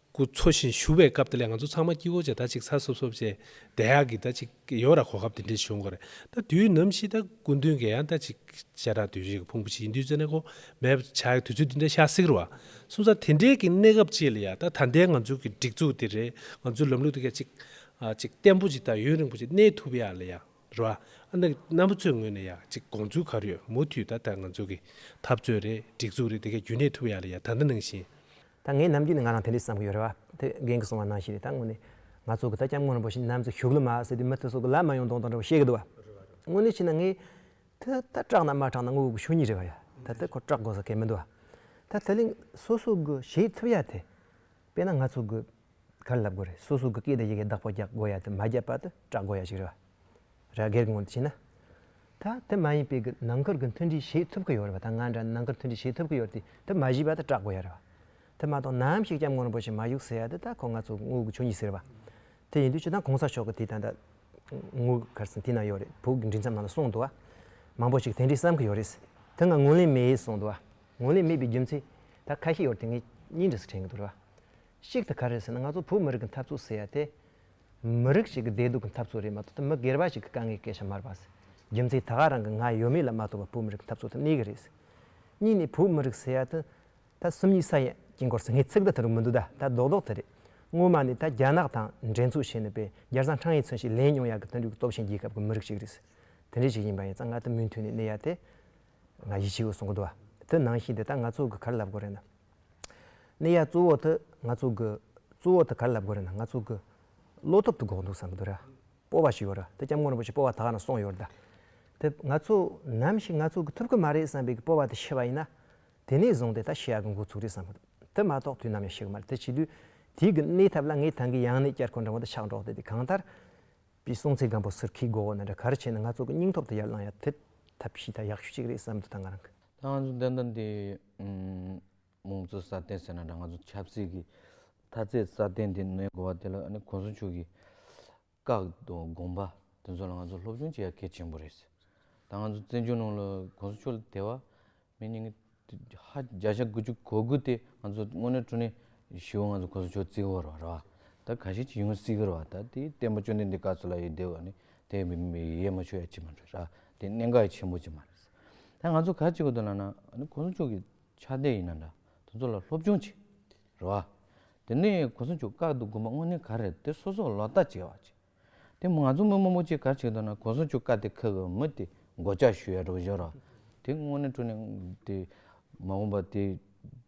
སྐུ་འཚོ་བཞིན་བཞུགས་པའི་སྐབས་དེ་ལས་ང་ཚོ་ཚང་མ་སྐྱིད་བོ་བྱས་ད་ཅིག་ཚ་སོབ་སོབ་བྱས་བདེ་ཡག་གི་ད་ཅིག་ཡོད་ར་གོ་སྐབས་དེ་འདྲས་བྱུང་གོ་རེད་ད་དུས་ནམ་ཞིག་ད་སྐུ་མདུན་གྱི་ཡང་ད་ཅིག་ཤ་ཁྲག་དུས་རིང་གི་ཕུང་པོ་ཞིག་ཡིན་དུས་ཚོད་ནས་གོ་མེད་པ་ཆགས་ཡོད་དུས་ཚོད་འདི་འདྲས་ཤ་སིག་ར་བ་སོང་ཙང་དེ་འདྲས་ཀྱི་གནས་སྐབས་ཅིག་ལ་ཡང་ད་ད་ལྟའི་ང་ཚོ་གི་སྒྲིག་འཛུགས་དེ་རེད་ང་ཚོའི་ལམ་ལུགས་དེ་ག་ཅིག་ཨ་ཅིག་བརྟན་པོ་ཅིག་ད་ཡུན་རིང་པོ་ཅིག་གནས་ཐུབ་ཡག་ལ་ཡང་ར་བ་ཨ་ན་གི་རྣམ་པ་ཚོའི་ངོས་ནས་ཡག་ཅིག་དགོངས་ཚུལ་ག་རེ་ཡོད་མུ་མཐུད་ད་ད་ང་ཚོ་གི་འཐབ་རྩོད་རེད་སྒྲིག་འཛུགས་རེད་དེ་ག་རྒྱུན་གནས་ཐུབ་ཡག་ལ་ཡང་ད་ད་ནང་བཞིན། ད་ངས་ནམ་རྒྱུན་ནས་ང་རང་དེ་འདྲས་བསམ་གྱི་ཡོད་རེད་བ། དེ་རྒན་གྱི་གསུང་བ་ནང་བཞིན་རེད་ད་དངོས་གནས། ང་ཚོ་གི་ད་སྐྱབས་མགོན་རིན་པོ་ཆེ་ནམ་ཚོད་བཞུགས་ལ་མ་ཟེར་དུས་མི་དེ་ཚོ་གི་ལབ་མ་ཡོང་དོང་དང་འདྲ་བ་བཤད་གི་འདུག་བ། དངོས་གནས་བྱས་ན་ངས། དེ་ད་སྐྲག་ན་མ་སྐྲག་ན་དངོས་པོ་གི་ཆོས་ཉིད་རེད་བ་ཡ། ད་དེ་ཁོ་སྐྲག་དགོས་ས་གལ་མི་འདུག་བ། ད་དེ་ལས་སོ་སོ་གི་བྱེད་ཐུབ་ཡ་དེ། དཔེར་ན་ང་ཚོ་གི། ག་རེ་ལབ་དགོས་རེད་སོ་སོ་གི་སྐད་དང་ཡི་གེ་བདག་པོ་རྒྱག་དགོས་ཡ་དེ་མ་བརྒྱབ་པ་དེ་སྐྲག་དགོས་ཡ་ཞིག་རེད་བ། ར་སྒེར་གྱི་ངོས་ནས་བྱས་ན། ད་དེ་མ་ཡིན་པའི་ནང་མཁར་གྱི་མཐུན་སྒྲིལ་བྱེད་ཐུབ་ཀྱི་ཡོད་རེད་པ་ད་ང་འདྲ་ནི་ནང་མཁར་མཐུན་སྒྲིལ་བྱེད་ཐུབ་ཀྱི་ཡོད་དེ་དེ་མ་བྱས་པ་ད་སྐྲག་དགོས་ཡ་རེད་པ། དེ་མ་གཏོགས་ནམ་ཞིག་སྐྱབས་མགོན་རིན་པོ་ཆེ་མ་བཞུགས་ཟེར་ཡ་དེ་ད་ཁོ་ང་ཚོ་དངུལ་གྱི་ཆོས་ཉིད་ཟེར་བ། དེ་ཡིན་དུས་ཇི་ལྟར་གོང་ས་མཆོག་གི་དེ་ད་ད་དངུལ་གར་སེང་དེ་ན་ཡོད་རེད་བོད་ཀྱི་མགྲིན་ཚབ་ནང་ལ་གསུངས་འདུག་བ། མང་པོ་ཞིག་དེ་འདྲའི་བསམ་གྱི་ཡོད་རེད། དེ་ང་དངུལ་ལེན་མེད་ཡེད་གསུངས་འདུག་བ། དངུལ་ལེན་མེད་པའི་རྒྱུ་མཚན་ད་ཁ་ཤས་ཡོད་རེད་དེ་ངས་གཉིས་འདྲི་སུ་དྲན་གྱི་འདུག་རེད་བ། གཅིག་དེ་ག་རེད་ཟེར་ན་ང་ཚོ་བོད་མི་རིགས་ཀྱི་འཐབ་རྩོད་ཟེར་ཡ་དེ། མི་རིགས་ཤིག་གི་བདེ་སྡུག་གི་འཐབ་རྩོད་རེད་མ་གཏོགས་ད་མི་སྒེར་པ་ཞིག་གི་དཀའ་ངལ་སྐད་ཆ་མར་པ། རྒྱུ་མཚན་ད་ག་རང་གི་ང་ཡོད་མེད་ལ་མ་གཏོགས་པ་བོད་མི་རིགས་ཀྱི་འཐབ་རྩོད་དང་གནས་གི་རེད། གཉིས་ནས་བོད་མི་རིགས་ཟེར་ཡ་དེ་ད་སུམ་གཉིས་ས་ཡ་ཀྱི་མགོར་ཟེར་ངེས་ཚིག་དེ་དེ་རུ་མི་འདུག་ད་ད་རྡོག་རྡོག་དེ་རེད། སྔོན་མ་ནས་ད་རྒྱ་ནག་དང་འགྲན་རྩོད་བྱས་ནས་པས་རྒྱར་བཟང་ཁྲང་ཡིག་ཚུན་ཞིག་ལེན་མྱོང་ཡ་གི་དུད་འགྲོའི་སྟོབས་ཆེན་རྒྱལ་ཁབ་གི་མི་རིགས་ཤིག་རེད། དེ་འདྲས་ཞིག་ཡིན་པ་ཡིན་ཙང་ང་ད་མུན་མཐུད་ནས་གནས་ཡ་དེ། ང་ཡིད་ཆེས་ཡོད་སོང་གི་འདུག་ད་ནང་བཞིན་དེ་ད་ང་ཚོ་གི་གར་ལབ་དགོས་རེད་ན། ནི་ཡ། གཙུག་འོག་ཏུ་ང་གཙུག་གི། གཙུག་འོག་ཏུ་གར་ལབ་དགོས་རེད་ན་ང་གཙུག་གི། བློ་ཐོབ་ཏུ་འགོག་འདུག་བསམ་གི་ར། སྤོ་བ་ཞིག་ཡོད་ར་དེ་སྐྱབས་མགོན་རིན་པོ་ཆེ་སྤོ་བ་དག་ན་སོང་ཡོད་ར་ད། དེ་ང་གཙུག་ནམ་ཞིག་ང་གཙུག་གི་ཐུབ་གི་མ་རེད་བསམ་པའི་གི་སྤོ་བ་དེ་ཤི་བ་ཡིན་ན། དེ་ནས་བཟུང་སྟེ་ད་ཤི་ཡག་གི་འགོ་ཚུགས་རེད་བསམ་གི་འདུག་དེ་མ་གཏོགས་དུས་ནམ་ཡང་ཤི་གི་མ་རེད་དེ་བྱེད་དུས། དུས་ཀྱི་གནས་ཐབས་ལ་ངས་ད་གི་ཡང་ནས་བསྐྱར་ཁོང་རང་དབང་དུ་ཕྱག་འགྲོ་སྟེ་དེ་གང་ལྟར། པའི་སྲོང་བཙན་སྒམ་པོ་ཟུར་ཁའི་སྒོ་འོག་ན་འདྲ་གར་བྱས་ན་ང་གཙུག་གི་སྙིང་ཐོབ་ཏུ་ཡར་བླངས་ཡ་དེ། ཐབས་ཤེས་ད་ཡག་ཤོས་ཅིག་རེད་བསམ་གི་འདུག་ད་ང་རང་གི། ད་ང་ཚོ་འདི་འདྲ་འདི། དམངས་གཙོ་སྲ་བརྟན་ཟེར་ན་འདྲ་ང་ཚོ་ཆབ་སྲིད་ཀྱི་མཐའ་ཚད་སྲ་བརྟན་དེ་གནས་དགོས་པ་དེ་ལ་གོང་ས་མཆོག་གིས་བཀག་དང་དགོངས་པ་དེ་ཚོ་ལ་ང་ཚོ་སློབ་སྦྱོང་བྱེད་ཡ་གལ་ཆེན་པོ་རེད། ད་ང་ཚོ་བཙན་བྱོལ་ནང་ལ་གོང་ས་མཆོག་ལ་དེ་བ་མི་ཉིས་ཧ་བརྒྱ་ཆ་དགུ་བཅུ་གོ་དགུ་དེ་ང་ཚོ་དངོས་གནས་དྲུང་ནས་ཞི་བ་ང་ཚོ་གོང་ས་མཆོག་བརྩི་བར་བ་ར་བ་ད་ག་ཤེད་ཅིག་ཡོང་སྲིད་གི་ར་བ་ད་དེ་བསྟན་པ་བཅོ་ལྡན་འདི་ག་ཚོད་ལ་ཡོད་དེ་བ་ནི་དེ་མི་ཡས་མ་ཆོད་ཡ་ཅི་མ་རེད་ར་དེ་གནད་འགག་ཡ་ཆེན་པོ་ཅིག་མ་རེད། ད་ང་ཚོ་ག་ཅིག་གོ་དོན་ལ་ན་ཨ་ནི་གོང་ས་མཆོག་གི་ཕྱག་རྟེན་ཡིན་ན་འདྲ་དེ་ཚོ་ལ་སློབ་སྦྱོང་བྱེད་རེད་བ། དེ་ནས་གོང་ས་མཆོག་བཀག་འདུག་དགོན་པ་དངོས་གནས་ག་རེད་དེ་སོ་སོ་ལོག་ལྟ་བྱེད་བ་ཅིག་དེ་ང་ཚོ་མི་དམངས་མོ་ཅིག་ག་ཅིག་གོ་དོན་ལ་གོང་ས་མཆོག་བཀག་དེ་ཁག་གི་མི་དེ་མགོ་ལྕག་ཞུ་ཡ་འགྲོ་བཞོར་བ་དེ་དངོས་གནས་དྲུ་ནས་དེ་མ་འོངས་པ་དེ།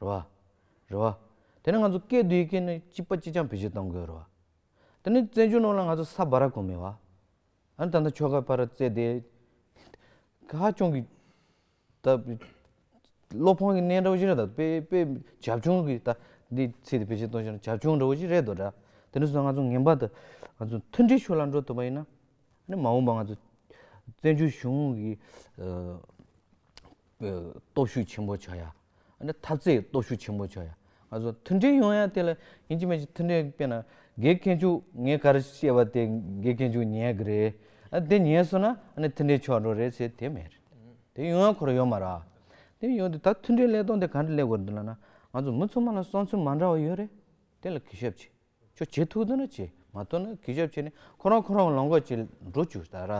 རེད་བ། རེད་བ། དེ་ནི་ང་ཚོ་སྐད་དུ་ཡི་གེ་ནི་གཅིག་པ་གཅིག་རྐྱང་བེད་སྤྱོད་གཏང་དགོས་རེད་བ། དེ་ནི་བཙན་བྱོལ་ནང་ལ་ང་ཚོ་ས་བ་ར་གོ་མེད་བ། ཨ་ད་ད་ཁྱོ་ག་བ་ར་བཙལ་དེ། ཧ་ཅང་གི་ད་བློ་ཕངས་ཀྱི་གནས་འདྲ་བོ་ཞིག་རེད་ད་དཔེ་དཔེ་བྱབ་ཆུང་གི་ད་འདི་ཚིག་དེ་བེད་སྤྱོད་གཏོང་ཤེས་ན་བྱབ་ཆུང་འདྲ་བོ་ཞིག་རེད་དོ་དྲ། དེ་ནས་བཟུང་ང་ཚོ་ངན་པ་ད་ང་ཚོ་མཐུན་སྒྲིལ་ཕྱོགས་ལ་འགྲོ་ཐུབ་པ་ཡིན་ན། ནི་མ་འོངས་པ་ང་ཚོ་བཙན་བྱོལ་གཞུང་གི་སྟོབས་ཤུགས་ཆེན་པོ་ཆགས་ཡ། ཨ་ནི་ཐབས་རྩེའི་སྟོབས་ཤུགས་ཆེན་པོ་བྱོ་ཡ། ང་ཚོ་མཐུན་སྒྲིལ་ཡོང་ཡ་དེ་ལ་ཡིན་གྱི་མེད་ཀྱི་མཐུན་སྒྲིལ་དཔེ་ན་དགེ་རྒན་མཆུག་ངས་ག་རེ་བཤད་པ་དེ་དགེ་རྒན་མཆུག་ཉན་གི་རེད་ཨ་དེ་ཉན་སོང་ན་ཨ་ནི་མཐུན་སྒྲིལ་ཆོག་འགྲོ་རེད་ཟེར་དེ་མེད་རེད་དེ་ཡོང་ཡ་ཁོ་ར་ཡོད་མ་རག་དེ་ཡོད་དེ་ད་མཐུན་སྒྲིལ་ཀླད་སྟོང་དེ་ག་འདྲ་ཀླད་གོ་འདི་ལ་ན་ང་ཚོ་མི་ཚོ་མ་ལ་བསམ་ཚུལ་མ་འདྲ་བ་ཡོད་རེད་དེ་ལ་གི་ཞབས་བྱེད་ཆོག་བྱེད་ཐུག་འདོད་ན་བྱེད་མ་ཐུག་ན་གི་ཞབས་བྱེད་ནས་ཁོ་རང་ཁོ་རང་ལོངས་སྐོར་བྱེད་འགྲོ་ཆུ་ད་ར།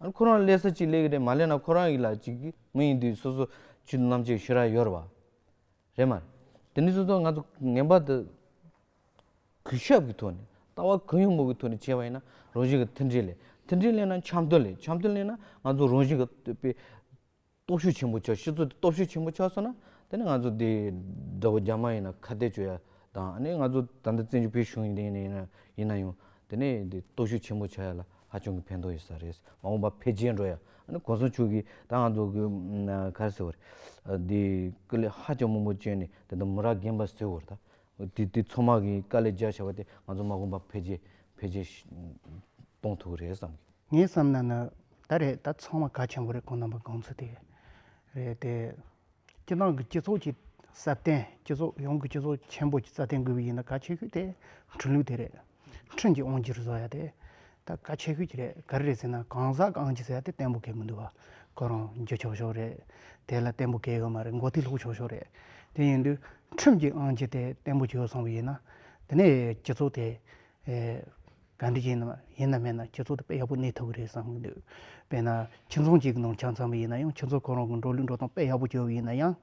ཨ་ཁོ་རང་ཀླད་ས་གཅིག་ཀླད་གི་རེད་མ་ཀླད་ན་ཁོ་རང་ཡིག་ལ་གཅིག་གི་མི་ཡིན་དུས་སོ་སོ་ཆུ་ནམ་ཆེ་ཤོས་ར་ཡོར་བ་རེད་མ་དེ་ནི་སོ་སོ་ང་ཚོ་ངན་པ་དུ་གུས་ཞབས་གི་ཐོག་ནས་ལྟ་བ་གུ་ཡངས་མོ་གི་ཐོག་ནས་བྱས་པ་ཡིན་ན་རང་བཞིན་གི་མཐུན་སྒྲིལ་ལས་མཐུན་སྒྲིལ་ལས་ན་འཆམ་མཐུན་ལས་འཆམ་མཐུན་ལས་ན་ང་ཚོ་རང་བཞིན་གི་སྟོབས་ཤུགས་ཆེན་པོ་ཆགས་ཤི་ཚུལ་དེ་སྟོབས་ཤུགས་ཆེན་པོ་ཆགས་སོང་ན་དེ་ནི་ང་ཚོ་དེ་དགྲ་བོ་རྒྱ་དམར་ཡིན་ན་ཁ་གཏད་གཅོད་ཡ་དང་ཨ་ནི་ང་ཚོ་ད་ལྟ་བཙན་བྱོལ་བོད་གཞུང་ཡིན་ཡིན་ཡིན་ཡིན་ན་ཡང་དེ་ནི་དེ་སྟོབས་ཤུགས་ཆེན་པོ་ཆགས་ཡ་ལ་ཧ་ཅང་གི་ཕན་ཐོགས་ཡོད་ས་རེད་མ་འོངས་པ་འཕེལ་རྒྱས་འགྲོ་ཡ་ཨ་ནི་གོང་ས་མཆོག་གིས་ད་ང་ཚོ་གི་ཁ་ར་ཟེར་བ་རེད་དེ་སྐུ་ལས་ཧ་ཅང་མང་པོ་བསྐྱོན་ནས་དེ་ད་མུ་ར་རྒན་པ་ཟེར་བ་རེད་ད་དེ་དེ་ཚོགས་དམག་གི་དཀའ་ལས་རྒྱག་བྱ་བ་དེ་ང་ཚོ་དམག་དཔུང་འཕེལ་རྒྱས་འཕེལ་རྒྱས་གཏོང་ཐུབ་རེད་བསམ་གི། ངས་བསམ་ན་ནི་ད་རེད་ད་ཚོགས་དམག་གལ་ཆེན་པོ་རེད་ཁོང་རྣམ་པ་དགོངས་ཚུལ་དེ་རེད་དེ། སྤྱི་བཏང་གི་སྤྱི་ཚོགས་ཀྱི་སྲ་བརྟན་སྤྱི་ཚོགས་ཡོངས་ཀྱི་སྤྱི་ཚོགས་ཆེན་པོ་སྲ་བརྟན་དགོས་པ་ཡིན་ན་གལ་ཆེ་ཤོས་དེ་འཕྲུལ་ལུགས་དེ་རེད། ཁྲོན་གྱིས་ཨོང་གྱིར་བཟོ་ཡ་དེ། ད་ག་ཆོས་གོས་ཀྱི་རེད་ག་རེ་རེད་ཟེར་ན་གང་ཟག་གི་ཨང་ཅིག་ཟེར་ཡ་དེ་བརྟན་པོ་གས་མི་འདུག་བ། ཁོ་རང་རྒྱུ་ཆོག་ཆོག་རེད། དེ་ལ་བརྟན་པོ་གས་ཡོད་མ་རེད་མགོ་ཐིག་ལྷུག་ཆོག་ཆོག་རེད། དེ་ཡིན་དུས་ཁྲོན་གྱིས་ཨང་ཅིག་དེ་བརྟན་པོ་གས་ཡོད་སོང་བ་ཡིན་ན། དེ་ནས་སྤྱི་ཚོགས་དེ། ག་འདྲི་ཡིན་ནམ་ཡིན་ནམ་མེད་ན་སྤྱི་ཚོགས་དེ་དཔེ་ཡག་པོ་གནས་ཐུབ་ཀྱི་རེད་བསམ་གྱི་འདུག། དཔེར་ན་ཁྱིམ་ཚང་གཅིག་གི་ནང་ཆ་མཚམས་པ་ཡིན་ན་ཡང་ཁྱིམ་ཚང་ཁོ་རང་གི་འགྲོ་ལུགས་འགྲོ་སྟངས་དཔེ་ཡག་པོ་སྐྱོ་བ་ཡིན་ན་ཡང།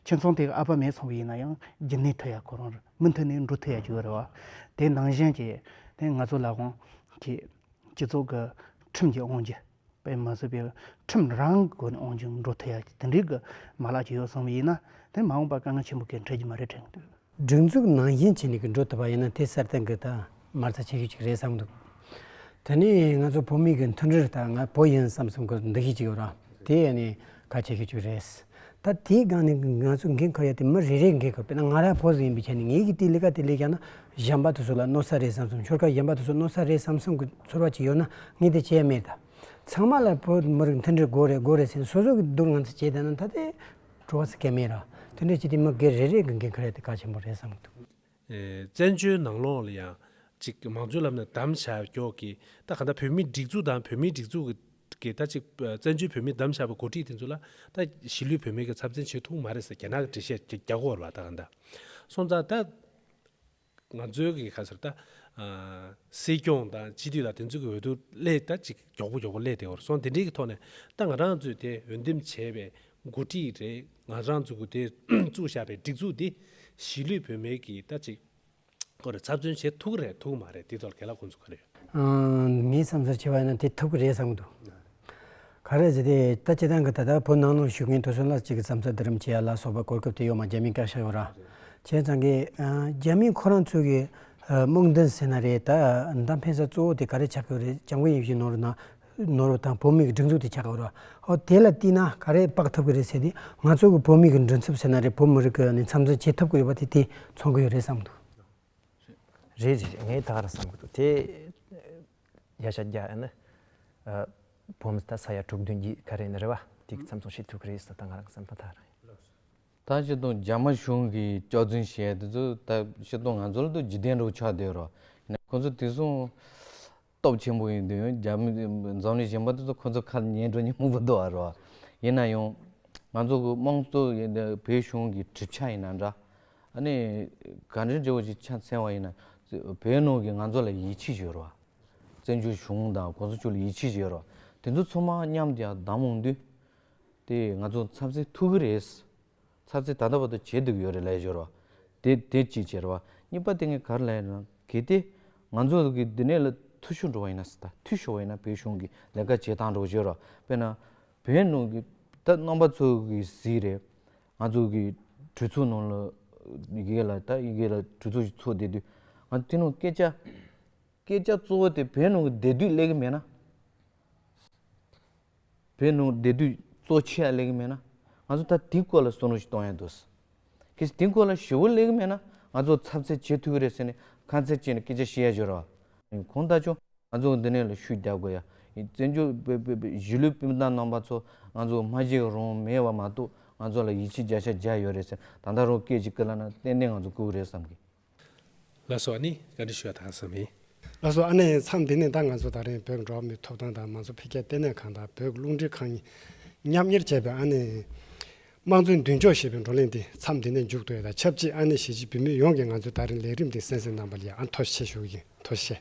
ཁྱིམ་ཚང་དེ་ག་ཨ་ཕ་མེད་སོང་བ་ཡིན་ན་ཡང་རྒྱུ་ནས་ཐོས་ཡ་ཁོ་རང་རེད། མུ་མཐུད་ནས་འགྲོ་ཐུབ་ཡག་གི་ཡོད་རེད་བ། དེའི་ནང་བཞིན་གྱི་དེ་ང་ཚོ་ལ་དབང་གི་སྤྱི་ཚོགས་ཀྱི་ཁྲིམས་ཀྱི་དབང་གི་པའི་མ་བཟོས་པའི་ཁྲིམས་རང་གི་སྒོ་ནས་དབང་གི་འགྲོ་ཐུབ་ཡག་གི་དེ་འདྲའི་གི་མ་ལག་གི་ཡོད་བསམ་པ་ཡིན་ན་དེ་མ་འོངས་པ་དཀའ་ངལ་ཆེན་པོ་གི་འཕྲད་ཀྱི་མ་རེད་དྲན་གི་འདུག། སྒྲིག་འཛུགས་ནང་བཞིན་བྱས་ནས་གི་འགྲོ་ཐུབ་པ་ཡིན་ན་དེ་གསར་གཏན་གི་དང། མར་ཚ་བྱེད་རྒྱུ་ཅིག་རེད་བསམ་འདུག་དེ་ནི་ང་ཚོ་བོད་མི་གི་མཐུན་སྒྲིལ་དང་ང་བོད་ཡིན་བསམ་བསམ་གི་འདུ་ཤེས་ཅིག་ཡོད་རང་དེ་ཡས་ནས་ག་བྱེད་རྒྱུ་ཅིག་རེད། ད་དེའི་སྒང་ནས་ང་ཚོ་འགན་ཁུར་ཡ་དེ་མི་རེ་རེས་འགན་ཁུར་དཔེར་ན་ང་རང་བོད་ཟེར་ཡིན་པའི་ཆ་ནས་ངེད་ཀྱིས་དེ་ལས་ཀ་དེ་ལས་ཀྱང་ན་གཞན་པ་དེ་ཚོ་ལ་གནོད་ས་རེད་བསམ་བསམ་ཆོལ་ཁ་གཞན་པ་དེ་ཚོ་གནོད་ས་རེད་བསམ་བསམ་གི་ཚོར་བ་ཅིག་ཡོད་ན་ངས་དེ་བྱས་མེད་ད། ཚང་མ་ལ་བོད་མི་རིགས་མཐུན་སྒྲིལ་དགོས་རེད་དགོས་རེད་ཟེར་ནས་སོ་སོ་གི་སྡུག་ང་ཚོ་བྱས་བསྡད་ན་ད་དེ་བྲོ་བ་ཟེར་སྐད་མེད་རང་དེ་འདྲ་བྱས་དེ་མི་སྒེར་རེ་རེས་ཀྱི་འགན་ཁུར་ཡ་དེ་ག་ཆེན་པོ་རེད་བསམ་གི་འདུག། བཙན་བྱོལ་ནང་ལོགས་ལ་ཡང་ཅིག་མང་གཙོའི་ལམ་ནས་དམ་བཅའ་རྒྱོག་གི་ད་ག་ད་བོད་མི་སྒྲིག་འཛུགས་དང་བོད་མིའི་སྒྲིག་འཛུགས་ཀྱི་ད་ཅིག་བཙན་བྱོལ་བོད་མི་དམ་བཅའ་བ་གོ་སྒྲིག་དེ་ཚོ་ལ་ད་གཞིས་ལུས་བོད་མི་གི་ཚབ་མཚན་བྱེད་ཐུག་མ་རེད་ཟེར་རྒྱ་ནག་གི་འགྲེལ་བཤད་རྒྱ་རྒྱ་གོ་ལ་ད་ག་ད་སོང་ཙང་ད་ང་ཚོའི་གི་ག་ཚོད་ད་སྲིད་སྐྱོང་དང་སྤྱི་འཐུས་ལ་དེ་ཚོ་གི་འོས་བསྡུ་སླད་ད་ཅིག་རྒྱོག་པོ་རྒྱོག་པོ་སླད་དེ་གོ་ར་སོང་དེ་འདྲེའི་གི་ཐོག་ནས་ད་ང་རང་ཚོས་དེ་འོས་འདེམས་བྱས་པའི་མགོ་ཁྲིད་རེད་ང་རང་བཙུགས་དགོས་དེ་བཙུགས་བཞག་པའི་སྒྲིག་འཛུགས་འདི་གཞིས་ལུས་བོད་མའི་གི་ལྟ་ཅིག་ཁོ་རེ་ཚབ་མཚོན་བྱེད་ཐུག་རེད་ཐུག་མ་རེད་དེ་ཐོག་གལ་ལ་གོ་འཛུགས་ག་རེ་ཡོད། མིའི་བསམ་ཚུལ་ཆེ་བ་ཡིན་ན་དེ་ཐུག་གི་རེད་བསམ་གི་འདུག་ག་རེ་བྱས་ཏེ་ད་ཁྱེད་རང་གི་ད་ལྟ་བོད་ནང་ནང་བཞུགས་མཁན་དུ་སོན་ལ་ཅིག་གི་བསམ་ཚུལ་བསྡུ་རིམ་བྱེད་ཡ་ལ་སོགས་པའི་གོ་སྐབས་དེ་ཡོད་མ་རྒྱ་མིས་བཀག་བཞག་ཡོད་ར་བྱས་ཙང་གི་རྒྱ་མིས་ཁོ་རང་ཚོས་གི་དམག་འདུན་ཟེར་ན་རེད་ད་ད་འཕེན་ས་གཙོ་བོ་དེ་ག་རེ་ཆགས་ཀྱི་ཡོད་རེད་ལྕང་བུ་ཡིན་བཞིན་ནོར་ན་ནོར་བུ་དང་བུ་མོ་ཡི་སྒྲིག་འཛུགས་དེ་ཆགས་ཀྱི་ཡོད་རེད། ཧོ་དེ་ལ་བལྟས་ན་ག་རེ་དཔག་ཐུབ་ཀྱི་རེད་ཟེར་ཏེ། ང་ཚོ་གི་བུ་མོ་ཡི་མགྲིན་ཚབ་ཟེར་ན་རེད་བུ་མོ་རིགས་ཀྱི་ནི་འཚམས་འཚོལ་བྱེད་ཐུབ་ཀྱི་ཡོད་པ་དེ་དེ་མཚོན་གྱི་ཡོད་རེད་བསམ་འདུག། རེད་རེད་རེད་ངས་ད་ག་རང་བསམ་གྱི་འདུག་དེ། ཡ་ཤ་རྒྱ་ནི། བུ་མོ་ད་ས་ཡ་དྲུག་བདུན་གྱིས་ག་རེ་ནི་རེད་བ་དེ་གི་འཚམས་འཚོལ་བྱེད་ཐུབ་ཀྱི་རེད་ཟེར་ད་ང་རང་བསམ་ན་ད་རང། ད་ཕྱི་དང་རྒྱ་དམར་གཞུང་གི་སྐྱག་རྫུན་བཤད་དེ་ཚོ་ད་ཕྱི་དང་ང་ཚོ་ལ་དུ་ཇི་བདེན་རུ་ཆགས་སྡོད་རོགས་གནས་ཁོང་ཚོ་དེ་སོང། སྟོབས་ཆེན་པོ་ཡིན་དུས་ཡང་རྒྱ་མི་འཛམ་གླིང་གཞན་པ་དེ་ཚོ་ཁོ་ཚོ་ཁ་ལ་ཉན་སྤྲོ་ཉན་མོ་པོ་འདུག་ཨ་རོ། ཡིན་ན་ཡང། ང་ཚོ་གི་དམངས་གཙོ་བོད་གཞུང་གི་གྲིབ་ཆ་ཡིན་ན་འདྲ། ཨ་ནི། ག་འདྲའི་འབྲས་བུ་ཞིག་ཆ་མཚན་བ་ཡིན་ན། བོད་ནང་གི་ང་ཚོ་ལ་ཡིད་ཆེས་བྱོས་རོགས། བཙན་བྱོལ་གཞུང་དང་གོང་ས་མཆོག་ལ་ཡིད་ཆེས་བྱོས་རོགས། དེ་ཚོ་ཚོ་མ་མཉམ་དུ་ཡང་བདམས་འོང་དུས། དེ་ང་ཚོ་ཚབ་ཚེ་ཐུག་གི་རེད། ཚར་ཚེ་ད་ལྟ་བར་དུ་བྱེད་སྡུག་ཡོད་རེད་ལས་ཞོར་བ། དེ་དེ་གཅིག་ཅེར་བ། གཉིས་པ་དེ་ངས་གར་ལས་ན་གལ་ཏེ། ང་ཚོ་གིས་འདི་ནས་ལ་ཐུ་ཤོར་འགྲོ་བ་ཡིན་ན་ད་ཐུ་ཤོར་བ་ཡིན་ན་བོད་གཞུང་གིས་ལས་ཀ་བྱེད་དང་འགྲོ་ཞོར་བ། དཔེར་ན། བོད་ནང་གི་ད་རྣམ་པ་ཚོ་གིས་གཟིགས་རེད། ང་ཚོ་གིས་གྲོས་ཚོགས་ནང་ལ་ཡི་གེ་ལ་ད་ཡི་གེ་ལ་གྲོས་ཚོགས་ཤིག་ཚོགས་བསྡད་དུས། ང་ཚོ་དེ་ནང་སྐད་ཆ། སྐད་ཆ་གཙོ་བོ་དེ་བོད་ནང་གི་བདེ་སྡུག་གླེང་གི་མེད་ན། བོད་ནང་བདེ་སྡུག་གཙོ་ཆེ་ཡག་གླེང་གི་མེད་ན། ང་ཚོ་ད་དེའི་སྐོར་ལ་བསོད་ནོར་ཞིག་གཏོང་ཡག་འདུག། གལ་སྲིད་དེའི་སྐོར་ལ་ཞི་བོ་གླེང་གི་མེད་ན་ང་ཚོ་ཚབ་ཚད་བྱེད་ཐུག་གི་རེད་ཟེར་ནས་ཁ་མཚེར་བཅད་ནས་སྐད་ཆ་བཤད་ཡག་བྱོས་ར་བ། གང་ལྟར་ཆོག་ང་ཚོ་འདི་ནས་ལ་ཤུགས་རྒྱག་དགོས་ཡག་ཡིན་བཙན་བྱོལ་བོད་པའི་གཞིས་ལུས་སྤུན་ཟླ་ནང་པ་ཚོ་ང་ཚོ་སྨྲ་ཤེས་རང་མེད་བ་མ་གཏོགས་ང་ཚོ་ལ་ཡིད་ཆེས་བརྒྱ་ཆ་བརྒྱ་ཡོད་རེད་ཟེར་ན་ད་ལྟ་རང་སྐད་ཅིག་བསྐུར་ལ་ན་ཏན་ཏན་ང་ཚོ་བསྐུར་གི་རེད་བསམ་གི། ལ་སོགས་ནི་བཀའ་འདྲི་ཤོད་དང་བསམ་ཡིན། ལ་སོགས་ཨ་ནེ་ཡིན་མཚམས་འདི་ནས་ད་ང་ཚོ་ད་རེང་བོད་འགྲོ་བ་མིའི་ཐོབ་ཐང་དང་མང་གཙོ་འཕེལ་རྒྱས་ལྟེ་གནས་ཁང་དང་བོད་རླུང་འཕྲིན་ཁང་མཉམ་གཉེར་བྱས་པའི་ཨ་ནེ། དམངས་གཙོའི་མདུན་ལྕོག་ཞེས་པའི་བགྲོ་གླེང་འདི་མཚམས་འདི་ནས་མཇུག་བསྡོད་དང་ཆབས་ཅིག་ཨ་ནེ་གཞིས་བྱེས་བུད་མེད་ཡོངས་ཀྱིས་ང་ཚོའི་ད་རེང་ལས་རིམ་འདི་གསན་གཟིགས་གནང་པ་ལ་ཡང་ཨ་མཐོ་ཆེ་ཞུ་ཡིན་མཐོ་ཆེ།